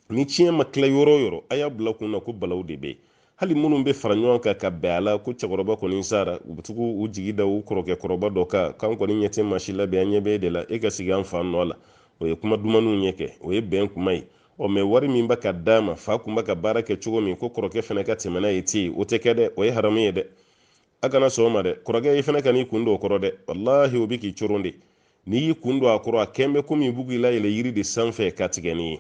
A: ni tiɲɛ ma tila yɔrɔ o yɔrɔ a y'a bila aw kun na ko balaw de bɛ yen hali minnu bɛ fara ɲɔgɔn kan ka bɛn a la ko cɛkɔrɔba kɔni sara u bɛ tugu u jigi da u kɔrɔkɛ kɔrɔba dɔ kan k'an kɔni ɲɛ tɛ maa si la bi an ɲɛ bɛ e de la e ka sigi an fa nɔ la o ye kuma dumannin ye kɛ o ye bɛn kuma ye ɔ mɛ wari min bɛ ka d'a ma fa kun bɛ ka baara kɛ cogo min ko kɔrɔkɛ fana ka tɛmɛ n'a ye ten o tɛ kɛ dɛ o ye haramu ye dɛ a kana sɔn o ma dɛ kɔrɔkɛ i fana kan'i kun don o kɔrɔ dɛ walahi o bɛ k'i coron de n'i y'i kun don a kɔrɔ a kɛn bɛ komi u bɛ k'i layɛlɛ yiri de sanfɛ k'a tigɛ n'i ye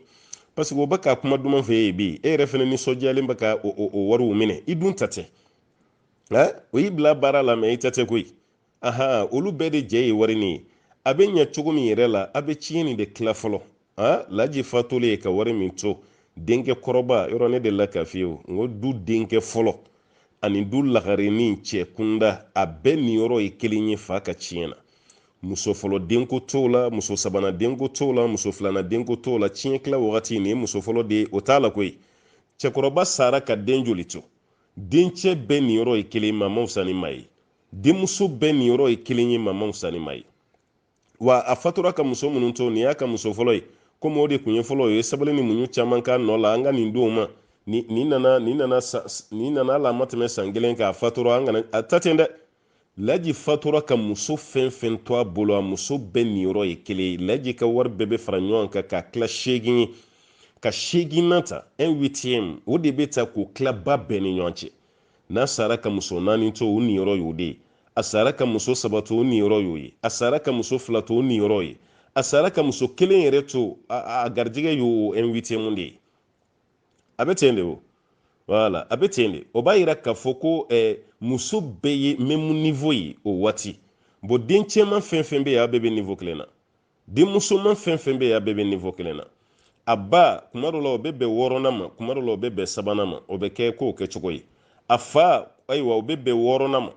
A: parce que o bɛ ka kuma duman f'i ye bi e yɛrɛ fana nisɔndiyalen bɛ ka o wariw minɛ i dun ta tɛ o y'i bila baara la mɛ i ta tɛ koyi ahan olu bɛɛ de jɛ ye wari nin ye a bɛ ɲɛ cogo min yɛrɛ la a bɛ tiɲɛ nin de tila fɔlɔ a laji fatulen ye ka wari min to denkɛ kɔrɔba yɔrɔ ne delila k'a f'i ye o n ko du denkɛ fɔlɔ ani du lagarenin cɛ kunda a bɛɛ niyɔrɔ ye kelen ye fa ka tiɲɛ na muso fɔlɔ denko t'o la muso sabanan denko t'o la muso filanan denko t'o la tiɲɛ tila wagati nin ye muso fɔlɔ den ye o t'a la koyi cɛkɔrɔba sara ka den joli to dencɛ bɛɛ niyɔrɔ ye kelen ma mawusa ni ma ye denmuso bɛɛ niyɔrɔ ye kelen ye mama musani ma ye wa a fatura ka muso minnu to nin y'a ka muso fɔlɔ ye komi o de tun ye fɔlɔ ye sabali ni muɲu caman k'a nɔ la an ka nin d'a ma nin nana nin nana nin nana hal'a ma tɛmɛ san kelen kan a fatura an kana a ta ten dɛ laji fatura ka muso fɛn fɛn to a bolo a muso bɛɛ niyɔrɔ ye kelen ye laji ka wari bɛɛ bɛ fara ɲɔgɔn kan k'a tila seegin ye ka seeginnan ta un huitième o de bɛ ta k'o tila ba bɛɛ ni ɲɔgɔn cɛ n'a sara ka muso naani to o niyɔrɔ y'o de ye a sara ka muso saba to o niyɔrɔ y'o ye a sara ka muso fila to o niyɔrɔ ye a sara ka muso kelen yɛrɛ to a garijɛgɛ y'o un huitième de ye a bɛ ten de o voilà a bɛ ten de o b'a yira k'a fɔ ko eh, muso bɛɛ ye même niveau ye o waati bon den cɛman fɛn fɛn bɛ yen a bɛɛ bɛ niveau kelen na den musoman fɛn fɛn bɛ yen a bɛɛ bɛ niveau kelen na a ba kuma dɔ la o bɛ bɛn wɔɔrɔnan ma kuma dɔ la o bɛ bɛn sabanan ma o bɛ kɛ ko kɛcogo ye a fa ayiwa o bɛ bɛn wɔɔrɔnan ma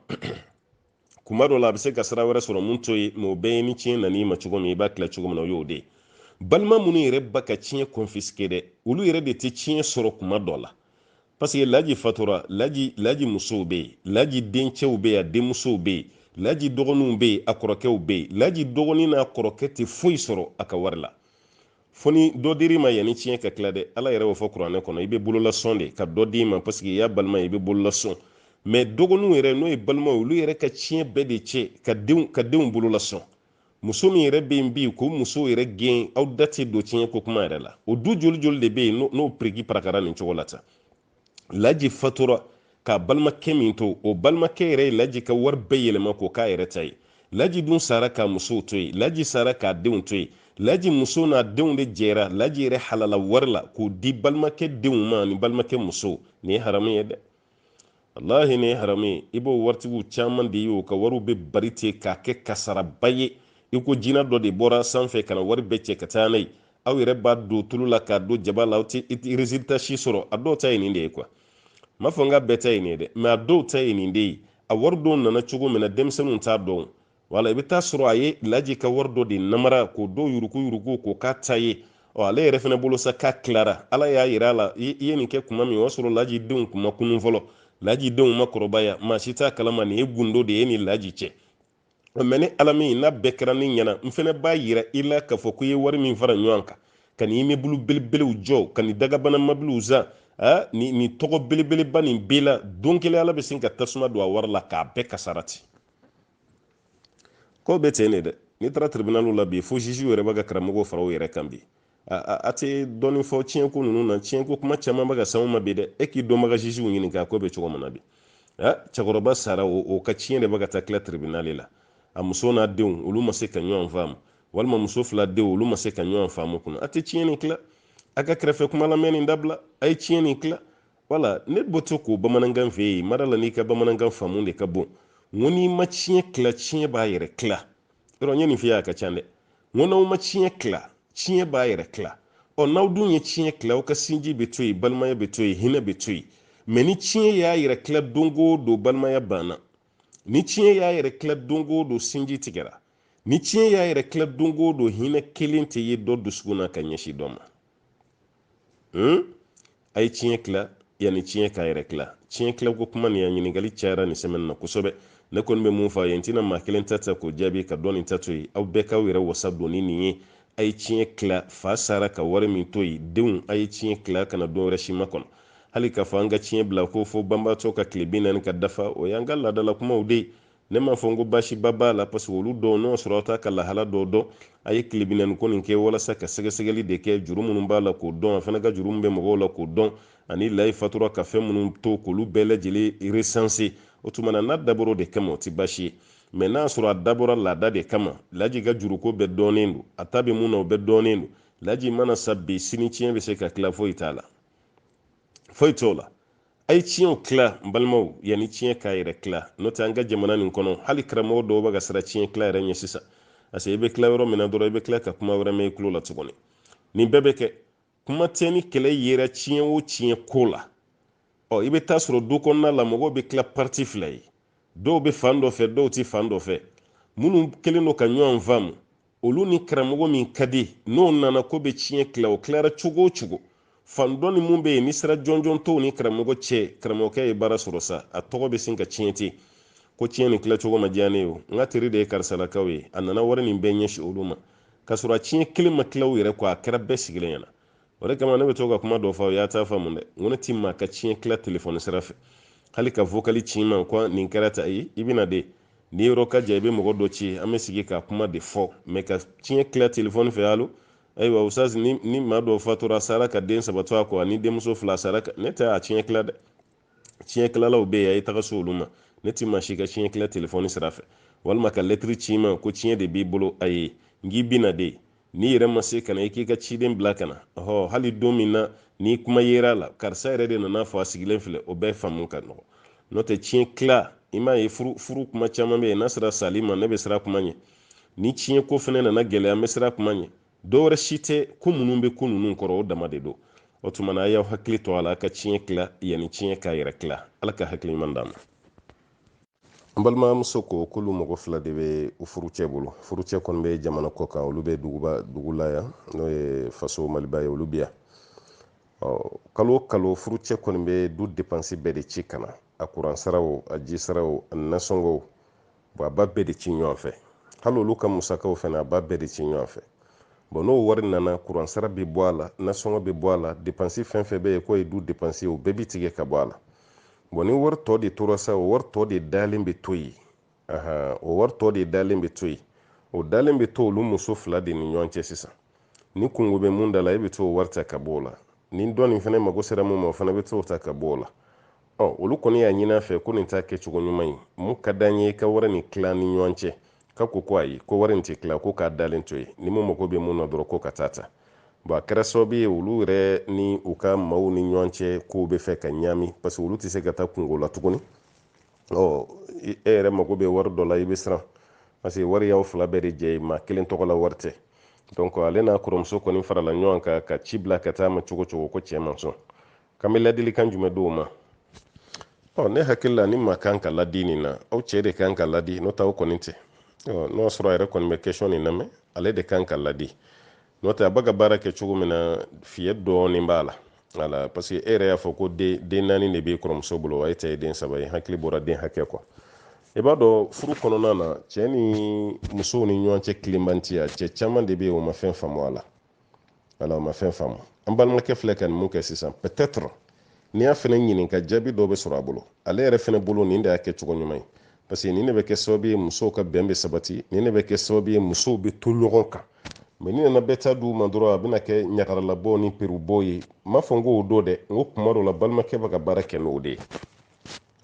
A: kuma dɔ la a bɛ se ka sira wɛrɛ sɔrɔ mun to ye mɛ o bɛɛ ye ni tiɲɛ nan'i ma cogo min i b'a tila cogo min na o y'o de ye balima minnu yɛrɛ b'a ka tiɲɛ confisquer dɛ olu yɛrɛ de tɛ tiɲɛ sɔrɔ kuma dɔ la parce que laji fatura laji musow bɛ yen laji dencɛw bɛ yen a denmusow bɛ yen laji dɔgɔninw bɛ yen a kɔrɔkɛw bɛ yen laji dɔgɔnin n'a kɔrɔkɛ tɛ foyi sɔrɔ a ka wari la fo ni dɔ dir'i ma yanni tiɲɛ ka tila dɛ ala yɛrɛ y'o fɔ kuranɛ kɔnɔ i bɛ bololasɔn de ka dɔ d'i ma parce que i y'a balima ye i bɛ bololasɔn mɛ dɔgɔninw yɛrɛ n'o ye balimaw olu yɛrɛ ka tiɲɛ bɛɛ de cɛ k'a denw bololasɔn muso min yɛrɛ bɛ yen bi k'o muso yɛrɛ gɛn aw da tɛ don tiɲɛ ko kuma yɛrɛ la o du joli joli de bɛ yen n'o piriki parakara nin cogo la tan laji fatura ka balimakɛ min to o balimakɛ yɛrɛ ye laji ka wari bɛɛ yɛlɛma k'o k'a yɛrɛ ta ye laji dun sara ka musow to yen laji sara k'a denw to yen laji muso n'a denw de jɛra laji yɛrɛ halala wari la k'o di balimakɛ denw ma ni balimakɛ musow nin ye haramu ye dɛ walahi nin ye haramu ye i b'o waritigiw caman de ye o ka wariw bɛ bari ten k'a kɛ kasaraba ye i ko jina dɔ de bɔra sanfɛ ka na wari bɛɛ cɛ ka taa n'a ye aw yɛrɛ b'a don tulu la k'a don jaba la aw tɛ résultat si sɔrɔ a dɔw ta ye nin de ye quoi n m'a fɔ n k'a bɛɛ ta ye nin ye dɛ mais a dɔw ta ye nin de ye a wari dɔw nana cogo min na denmisɛnninw t'a dɔn wala i bɛ taa sɔrɔ a ye laji ka wari dɔ de namara k'o dɔw yuruguyurugu k'o k'a ta ye ɔ ale yɛrɛ fana bolo sa k'a tilara ala y'a yira a la i ye nin kɛ kuma min o y'a sɔrɔ laji denw kun ma kunun fɔlɔ laji denw ma kɔrɔbaya maa si t'a kalama nin ye gundo de ye ni laji cɛ mɛ ni ala min n'a bɛɛ kɛra ne ɲɛna n fana b'a yira i la k'a fɔ ko i ye wari min fara ɲɔgɔn kan ka nin imebulu belebelew jɔ ka nin dagabana mobiliw san nin tɔgɔ belebeleba nin bɛɛ la don kelen ala bɛ sin ka tasuma don a wari la k'a bɛɛ kasara ten ko bɛ ten de dɛ n'i taara tribunaliw la bi fo juge yɛrɛ bɛ ka karamɔgɔw fara u yɛrɛ kan bi a tɛ dɔɔnin fɔ tiɲɛko ninnu na tiɲɛko kuma caman bɛ ka s'anw ma bi dɛ e k'i dɔnbaga jugew ɲininka ko bɛ cogo min na bi cɛkɔrɔba sara o ka tiɲɛ de bɛ ka taa tila tribunali la a muso n'a denw olu ma se ka ɲɔgɔn faamu walima muso fila denw olu ma se ka ɲɔgɔn faamu kunna a tɛ tiɲɛ nin tila a ka kɛrɛfɛ kuma lamɛn nin dabila a ye tiɲɛ nin tila wala ne bɔtɔ ko bamanankan fɛ yen mara la n'i ka bamanankan faamu de ka bon n ko n'i ma tiɲɛ tila tiɲɛ b'a yɛrɛ tila yɔrɔ n ye nin f'i ye a ka ca dɛ n ko n'aw ma tiɲɛ tila tiɲɛ b'a yɛrɛ tila ɔ n'aw dun ye tiɲɛ tila aw ka sinji bɛ to yen balimaya bɛ to yen hinɛ bɛ to yen mɛ ni tiɲɛ y'a yɛrɛ tila don o don balimaya banna ni tiɲɛ y'a yɛrɛ tila don o don sinji tigɛra ni tiɲɛ y'a yɛrɛ tila don o don hinɛ kelen tɛ ye dɔ dusukun na ka ɲɛsin dɔ ma hmm? a ye tiɲɛ tila yanni tiɲɛ k'a yɛrɛ tila tiɲɛ tilako kuma nin a ɲininkali cayara nin sɛmɛni na kosɛbɛ ne kɔni bɛ mun fɔ a ye n tɛna maa kelen ta ta k'o jaabi ka dɔ nin ta to yen aw bɛɛ k'aw yɛrɛ wasa don ni nin ye a ye tiɲɛ tila fa sara ka wari min to yen denw a ye tiɲɛ tila kana don wɛrɛ si makɔnɔ hali k'a fɔ an ka tiɲɛ bila ko fo banbaatɔ ka tile binaani ka dafa o y'an ka laadala kumaw de ye ne m'a fɔ n ko baasiba b'a la paseke olu dɔw n'o sɔrɔ aw t'a ka lahala dɔw dɔn a ye tile binaani ko nin kɛ walasa ka sɛgɛsɛgɛli de kɛ juru minnu b'a la k'o dɔn a fana ka juru min bɛ mɔgɔw la k'o dɔn ani laji fatura ka fɛn minnu to k'olu bɛɛ lajɛlen resanse o tuma na n'a dabɔra o de kama o tɛ baasi ye mɛ n'a sɔrɔ a dabɔra laada de kama laji ka juruko bɛɛ dɔnnen don a ta bɛ mun na o bɛɛ dɔnnen don laji mana sa bi sini tiɲɛ bɛ se ka tila foyi t'a la foyi t'o la a ye tiɲɛw tila n balimaw yanni tiɲɛ k'a yɛrɛ tila n'o tɛ an ka jamana nin kɔnɔ hali karamɔgɔ dɔw bɛ ka siran tiɲɛ tila yɛrɛ ɲɛ sisan parce que i bɛ tila yɔrɔ min na dɔrɔn i bɛ tila ka kuma wɛrɛ mɛn i tulo la tuguni nin bɛɛ bɛ kɛ kuma tɛ ni kɛlɛ yera tiɲɛ o tiɲɛ ko la ɔ i bɛ taa sɔrɔ du kɔnɔna la mɔgɔw bɛ tila pariti fila ye dɔw bɛ fan dɔ fɛ dɔw tɛ fan dɔ fɛ minnu kɛlen don ka ɲɔgɔn faamu olu ni karamɔgɔ min ka di n'o nana k'o bɛ tiɲɛ tila o tilara cogo o cogo fan dɔ nin mun bɛ yen ni sira jɔnjɔn t'u ni karamɔgɔ cɛ karamɔgɔkɛ ye baara sɔrɔ sa a tɔgɔ bɛ sin ka tiɲɛ ten ko tiɲɛ nin tilacogo ma diya ne ye o n ka teri de ye karisalakaw ye a nana wari nin bɛɛ ɲɛsin olu ma k'a sɔrɔ a tiɲɛ kelen ma tila u yɛrɛ kɔ a kɛra bɛɛ sigilen ɲɛna o de kama ne bɛ to ka kuma dɔ fɔ y'a ta faamu dɛ n ko ne ti maa ka tiɲɛ tila telefɔni sira fɛ hali ka vokali ci n ma ko nin kɛra tan i bɛ na de n'i yɔrɔ ka jan i bɛ mɔgɔ dɔ ci an bɛ sigi ka kuma de fɔ mɛ ka tiɲɛ tila telefɔni fɛ alo ayiwa ustaz ni maa dɔ fatura sara ka den saba to a kɔ ani denmuso fila sara ne tɛ a tiɲɛ tila dɛ tiɲɛ kilalaw bɛ yen a ye taga s'olu ma ne ti maa si ka tiɲɛ kila telefɔni sira fɛ walima ka lɛtiri ci n ma ko tiɲɛ de b'i bolo ayi n k'i bi na de n'i yɛrɛ ma se ka na i k'i ka ciden bila ka na ɔhɔ hali don min na ni kuma yera a la karisa yɛrɛ de nana a fɔ a sigilen filɛ o bɛɛ faamu ka nɔgɔ n'o tɛ tiɲɛ tila i m'a ye furu kuma caman bɛ yen n'a sera sali ma ne bɛ siran kuma ɲɛ ni tiɲɛ ko fana nana gɛlɛya n bɛ siran kuma ɲɛ dɔ wɛrɛ si tɛ ko minnu bɛ ko ninnu kɔrɔ o dama de don o tuma na a y'aw hakili to a la a ka tiɲɛ tila yanni tiɲɛ k'a yɛrɛ tila ala ka hakili ɲuman d'a ma n balimamuso ko k'olu mɔgɔ fila de bɛ u furucɛ bolo furucɛ kɔni bɛ jamana kɔ kan olu bɛ dugu la yan n'o ye faso maliba ye olu bɛ yan kalo o kalo furucɛ kɔni bɛ du depansi bɛɛ de ci ka na a kuransaraw a jisaraw a nasɔngɔw bɔn a b'a bɛɛ de ci ɲɔgɔn fɛ hali olu ka musakaw fana a b'a bɛɛ de ci ɲɔgɔn fɛ bɔn n'o wari nana kuransara bɛ bɔ a la nasɔngɔ bɛ bɔ a la depansi fɛn o fɛn bɛ yen k'o ye du depansi o bɛɛ bɛ tigɛ ka bɔ a la bɔn ni wari tɔ de tora sa o wari tɔ de dalen bɛ to yen o wari tɔ de dalen bɛ to yen o dalen bɛ to olu muso fila de ni ɲɔgɔn cɛ sisan ni kunko bɛ mun da la e bɛ t'o wari ta ka bɔ o la ni dɔ nin fana mago sera mun ma o fana bɛ t'o ta ka bɔ o la ɔ olu kɔni y'a ɲini a fɛ ko nin t'a kɛcogo ɲuman ye mun ka d'an ye ka wari nin tila ni ɲɔgɔn cɛ a ko ko ayi ko wari nin tɛ tila ko k'a dalen to yen ni mun mago bɛ mun na dɔrɔn k'o ka taa a ta bɔn a kɛra sababu ye olu yɛrɛ ni u ka maaw ni ɲɔgɔn cɛ kow b'a fɛ ka ɲaami parce que olu tɛ se ka taa kunko la tuguni ɔ e yɛrɛ mago bɛ wari dɔ la i bɛ siran parce que wari y'aw fila bɛɛ de jɛ ye maa kelen tɔgɔ la wari tɛ donc ale n'a kɔrɔmuso kɔni farala ɲɔgɔn kan ka ci bila ka taa a ma cogo o cogo ko cɛ ma sɔn k'an bɛ ladilikan jumɛn di o ma ɔ ne hakili la ni maa kan ka ladi nin na aw cɛ de kan ka ladi n'o tɛ aw kɔni tɛ n'o y'a sɔrɔ a yɛrɛ kɔni bɛ question nin lamɛn ale de kan ka ladi n'o tɛ a bɛ ka baara kɛ cogo min na fiyɛ dɔɔnin b'a la wala parce que e yɛrɛ y'a fɔ ko den naani de bɛ kɔrɔmuso bolo wa e ta ye den saba ye n hakili bɔra den hakɛ kɔ i b'a dɔn furu kɔnɔna na cɛ ni musow ni ɲɔgɔn cɛ tilenbantiya cɛ caman de bɛ yen o ma fɛn faamu a la wala o ma fɛn faamu an balimakɛ filɛ ka nin mun kɛ sisan peut-être n'i y'a fɛnɛ ɲininka jaabi dɔ bɛ sɔrɔ a bolo ale yɛrɛ fɛnɛ bolo nin de y'a kɛ cogo ɲuman ye parce que nin de bɛ kɛ sababu ye musow ka bɛn bɛ sabati nin de bɛ kɛ sababu ye musow bɛ to ɲɔgɔn kan mɛ n'i nana bɛɛ ta d'u ma dɔrɔn a bɛna kɛ ɲagaralabɔ ni perubɔ ye n m'a fɔ n k'o don dɛ n ko kuma dɔ la balimakɛ bɛ ka baara kɛ n'o de ye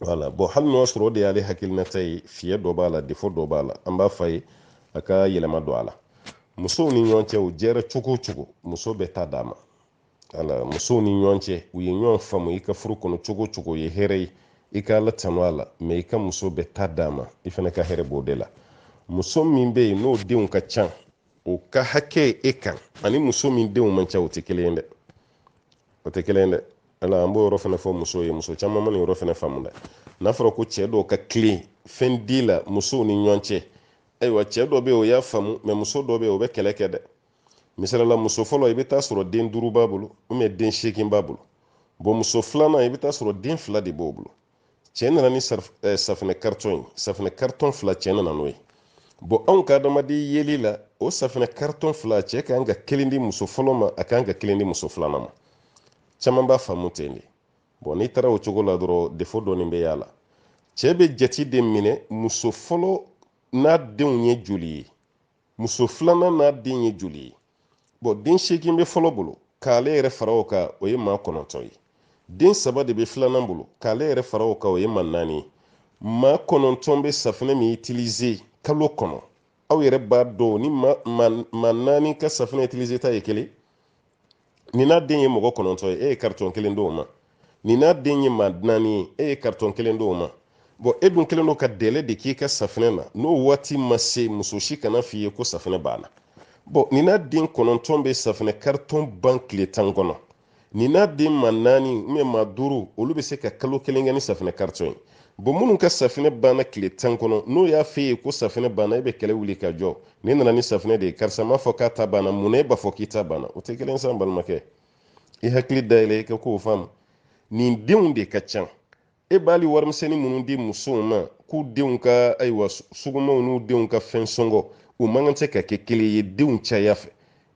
A: wala bɔn hali n'o y'a sɔrɔ o de y'ale hakilinata ye fiɲɛ dɔ b'a la defo dɔ b'a la an b'a f'a ye a ka yɛlɛma don a la musow ni ɲɔgɔn cɛ u jɛra cogo o cogo muso bɛɛ ta d'a ma wala musow ni ɲɔgɔn cɛ u ye ɲɔgɔn faamu i ka furu kɔnɔ cogo o cogo o ye hɛrɛ ye i ka ala tanu a la mɛ i ka muso bɛɛ ta d'a ma i fana ka hɛrɛ b'o de la muso min bɛ yen n'o denw ka ca o ka hakɛ e kan ani muso min denw man ca o tɛ kelen ye dɛ o tɛ kelen ye dɛ ala an b'o yɔrɔ fana fɔ muso ye muso caman ma nin yɔrɔ fana faamu dɛ n'a fɔra ko cɛ dɔw ka tilen fɛn di la musow ni ɲɔgɔn cɛ ayiwa cɛ dɔ bɛ yen o y'a faamu mɛ muso dɔ bɛ yen o bɛ kɛlɛ kɛ dɛ misali la muso fɔlɔ i bɛ taa sɔrɔ den duuru b'a bolo ubiyɛn den seegin b'a bolo bɔn muso filanan i bɛ taa sɔrɔ den fila de b'o bolo cɛ nana ni eh, safinɛ karitɔn ye safinɛ karitɔn fila cɛ nana n'o ye bɔn anw ka adamaden yeli la o safinɛ karitɔn fila cɛ ka kan ka kelen di muso fɔlɔ ma a ka kan ka kelen di muso filanan ma caman b'a faamu ten de bɔn n'i taara o cogo la dɔrɔn defo dɔɔnin bɛ y'a la cɛ bɛ jate de minɛ muso fɔlɔ n'a denw ye joli ye muso filanan n'a den ye joli ye bɔn den seegin bɛ fɔlɔ bolo k'ale yɛrɛ fara o kan o ye maa kɔnɔntɔn ye den saba de bɛ filanan bolo k'ale yɛrɛ fara o kan o ye maa naani ye maa kɔnɔntɔn bɛ safinɛ min itilize kalo kɔnɔ aw yɛrɛ b'a dɔn ni maa naani ka safinɛ itilizeta ye kelen nin n'a den ye mɔgɔ kɔnɔntɔn ye e ye karitɔn kelen d'o ma nin n'a den ye maa naani ye e ye karitɔn kelen d'o ma bɔn e dun kɛlen don ka dɛlɛ de k'i ka safinɛ na n'o waati ma se muso si kana f'i ye ko safinɛ banna bɔn nin n'a den kɔnɔntɔn bɛ safinɛ karitɔn ban tile tan kɔnɔ nin n'a den maa naani ubiyɛn maa duuru olu bɛ se ka kalo kelen kɛ ni safinɛ karitɔn ye bɔn minnu ka safinɛ banna tile tan kɔnɔ n'o y'a f'e ye ko safinɛ banna e bɛ kɛlɛ wuli ka jɔ ni nana ni safinɛ de ye karisa m'a fɔ k'a ta banna mun na e b'a fɔ k'i ta banna o tɛ kelen sa n balimakɛ i hakili dayɛlɛ i ka kow faamu nin denw de ka ca e b'ali warimisɛnnin minnu di musow ma k'u denw ka ayiwa sugumaw n'u denw ka fɛn sɔngɔ u man kan tɛ ka kɛ kelen ye denw caya fɛ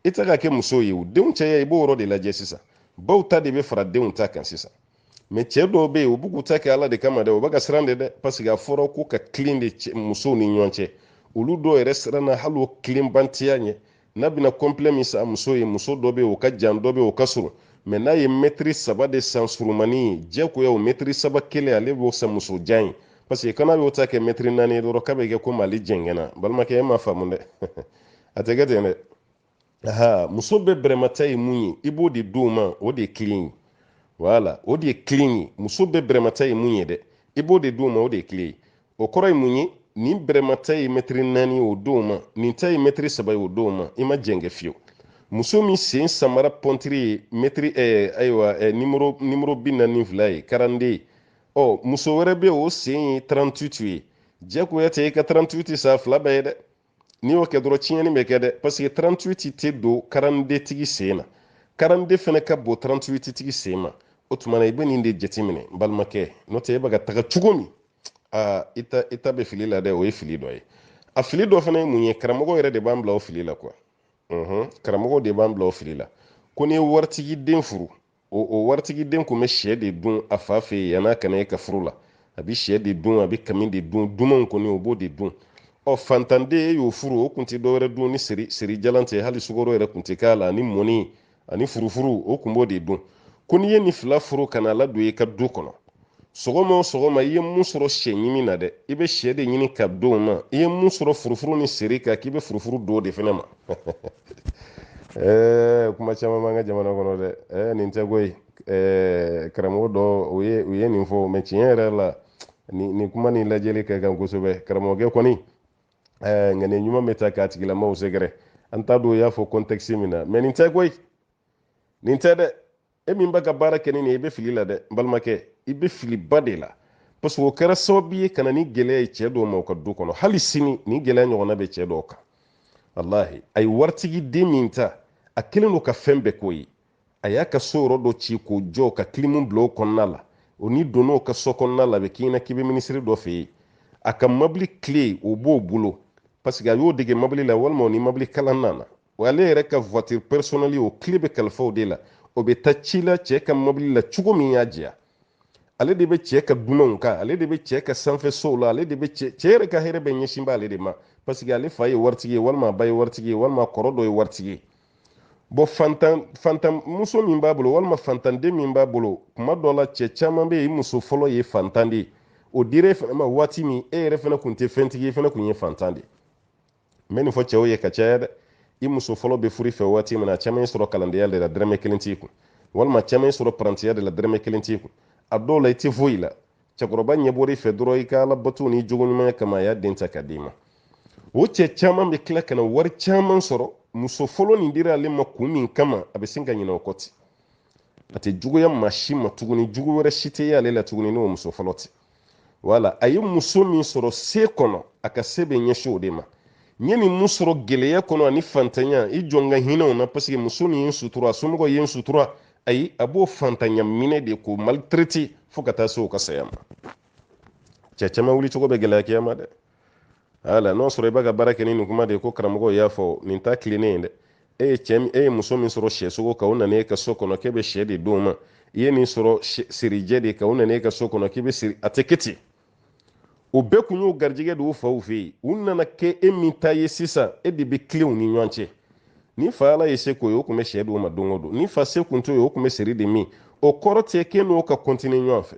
A: i tɛ k'a kɛ muso ye o denw caya i b'o yɔrɔ de lajɛ sisan baw ta de bɛ fara denw ta kan sisan mɛ cɛ dɔw bɛ yen u b'u k'u ta kɛ ala de kama dɛ u bɛ ka siran de dɛ paseke a fɔra ko ka kilen de musow ni ɲɔgɔn cɛ olu dɔw yɛrɛ siranna hali o kilenbantiya ɲɛ n'a bɛna kɔnplɛ min san muso ye muso dɔ bɛ yen o ka jan dɔ bɛ yen o ka surun mɛ n'a ye mɛtiri saba de san surumani ye diyagoya o mɛtiri saba kelen ale b'o san muso jan ye paseke ko n'a y'o ta kɛ mɛtiri naani ye dɔrɔn k'a bɛ kɛ komi ale jɛngɛnna balimakɛ e m'a faamu dɛ a tɛ kɛ ten dɛ aha muso bɛɛ bɛrɛmata ye mun ye i b'o de d'o ma o de ye tilen ye wala o de ye tilen ye muso bɛɛ bɛrɛmata ye mun ye dɛ i b'o de d'o ma o de ye tilen ye o kɔrɔ ye mun ye nin bɛrɛmata ye mɛtiri naani ye o d'o ma nin ta ye mɛtiri saba ye o d'o ma i ma jɛngɛ fiyewu muso min sen samara pɔntiri ye mɛtiri eh, ayiwa eh, nimoro nimoro bi naani ni fila ye karande ye ɔ muso wɛrɛ bɛ o sen ye tarantutu ye jagoya tɛ i ka tarantutu san fila bɛɛ ye dɛ n'i y'o kɛ dɔrɔn tiɲɛni bɛ kɛ dɛ paseke 38 tɛ don karandetigi sen na karande fana ka bon 38 tigi sen ma o tuma na i bɛ nin de jateminɛ n balimakɛ n'o tɛ e bɛ ka taga cogo min aa i ta i ta bɛ fili la dɛ o ye fili dɔ ye a fili dɔ fana ye mun ye karamɔgɔ yɛrɛ de b'an bila o fili la kuwa karamɔgɔ de b'an bila o fili la ko n'i ye waritigi den furu o o waritigi den kun bɛ sɛ de dun a fa fɛ yen yan'a ka na e ka furu la a bɛ sɛ de dun a bɛ kami de dun dumanw kɔni o b'o de dun ɔ fantanden e y'o furu o kun tɛ dɔwɛrɛ dun ni seri seri jalan tɛ hali sukoro yɛrɛ kun tɛ k'a la ani mɔni ani furufuru o kun b'o de dun ko n'i ye nin fila furu ka n'a ladon i ka du kɔnɔ sɔgɔma o sɔgɔma i ye mun sɔrɔ sɛ ɲimi na dɛ i bɛ sɛ de ɲini ka d'o ma i ye mun sɔrɔ furufuru ni seri kan k'i bɛ furufuru d'o de fana ma ɛɛ kuma caman b'an ka jamana kɔnɔ dɛ ɛɛ nin tɛ koyi ɛɛ karamɔgɔ dɔ o ye u ye nin fɔ mɛ tiɲɛ yɛrɛ la nin nin kuma nin lajɛli ka kan kosɛbɛ karamɔgɔkɛ kɔni ɛɛ nka nin ɲuman bɛ taa k'a tigilamaw sɛgɛrɛ an t'a dɔn u y'a fɔ kɔntɛkisi min na mɛ nin tɛ koyi nin tɛ dɛ e min bɛ ka baara kɛ ni nin ye i bɛ fili la dɛ n balimakɛ i bɛ filiba de la parce que o kɛra sababu ye ka na ni gɛlɛya ye cɛ dɔw ma u ka du kɔnɔ hali sini nin gɛlɛya ɲɔgɔnna bɛ cɛ dɔw kan walahi a ye waritigi den min ta a kɛlen don ka fɛn bɛɛ k'o ye a y'a ka so yɔrɔ dɔ ci k'o jɔ ka kilimu bila o kɔnɔna la o n'i donn'o ka so kɔnɔna la a bɛ k'i ɲɛna k'i bɛ minisiri dɔ fɛ yen a ka mabili kile o b'o bolo parce que a y'o dege mabili la walima o ni mabili kalan nana wa ale yɛrɛ ka voiture personnelle o kile bɛ kalifa o de la o bɛ taa ci la cɛ ka mobili la cogo min y'a diya ale de bɛ cɛ ka dunanw kan ale de bɛ cɛ ka sanfɛ sow la ale de bɛ cɛ cɛ yɛrɛ ka hɛrɛ bɛɛ ɲɛsin bɛ ale de ma parce que ale fa ye waritigi ye walima a ba ye waritigi ye walima kɔrɔ dɔ ye waritigi ye bon fantan fantan muso min b'a bolo walima fantanden min b'a bolo kuma dɔ la cɛ caman bɛ yen i muso fɔlɔ ye fantan de ye o dira e fana ma waati min e yɛrɛ fana tun tɛ fɛntigi ye e fana tun ye fantan de ye n bɛ nin fɔ cɛw ye ka caya dɛ i muso fɔlɔ bɛ fur'i fɛ waati min na caman y'i sɔrɔ kalandenya de la dɛrɛmɛ kelen t'i kun walima caman y'i sɔrɔ parantiya de la dɛrɛmɛ kelen t'i kun a dɔw la i tɛ foyi la cɛkɔrɔba ɲɛ bɔr'i fɛ dɔrɔn i ka ala bato n'i jogo ɲumanya kama a y'a den ta ka d'i ma o cɛ caman bɛ tila ka na wari caman sɔrɔ muso fɔlɔ nin dira ale ma kun min kama a bɛ sin ka ɲinɛ o kɔ ten a tɛ juguya maa si ma tuguni jugu wɛrɛ si tɛ y'ale la tuguni n'o muso fɔlɔ tɛ wala a ye muso min sɔrɔ se kɔnɔ a ka se bɛ ɲɛsin o de ma n ye nin mun sɔrɔ gɛlɛya kɔnɔ ani fantanya i jɔ n ka hinɛ o na paseke muso nin ye n sutura a somɔgɔw ye n sutura ayi a b'o fantanya minɛ de k'o maltraiter fo ka taa se o ka saya ma cɛ caman wulicogo bɛ gɛlɛya kiyama dɛ ala n'o sɔrɔ i b'a ka baara kɛ ni nin kuma de ye ko karamɔgɔ y'a fɔ nin ta tilennen ye dɛ e ye cɛ e ye muso min sɔrɔ sɛsogo kan o nana e ka so kɔnɔ k'e bɛ sɛ de d'o ma i ye nin sɔrɔ sirijɛ de kan o nana e ka so kɔnɔ k'i bɛ siri a tɛ kɛ ten o bɛɛ kun y'o garijɛgɛ de y'u faw fɛ yen u nana kɛ e min ta ye sisan e de bɛ tilen u ni ɲɔgɔn cɛ ni fa ala ye se k'o ye o tun bɛ sɛ d'o ma don o don ni fa se kun t'o ye o tun bɛ siri de min o kɔrɔ tɛ k'e n'o ka kɔntini ɲɔgɔn fɛ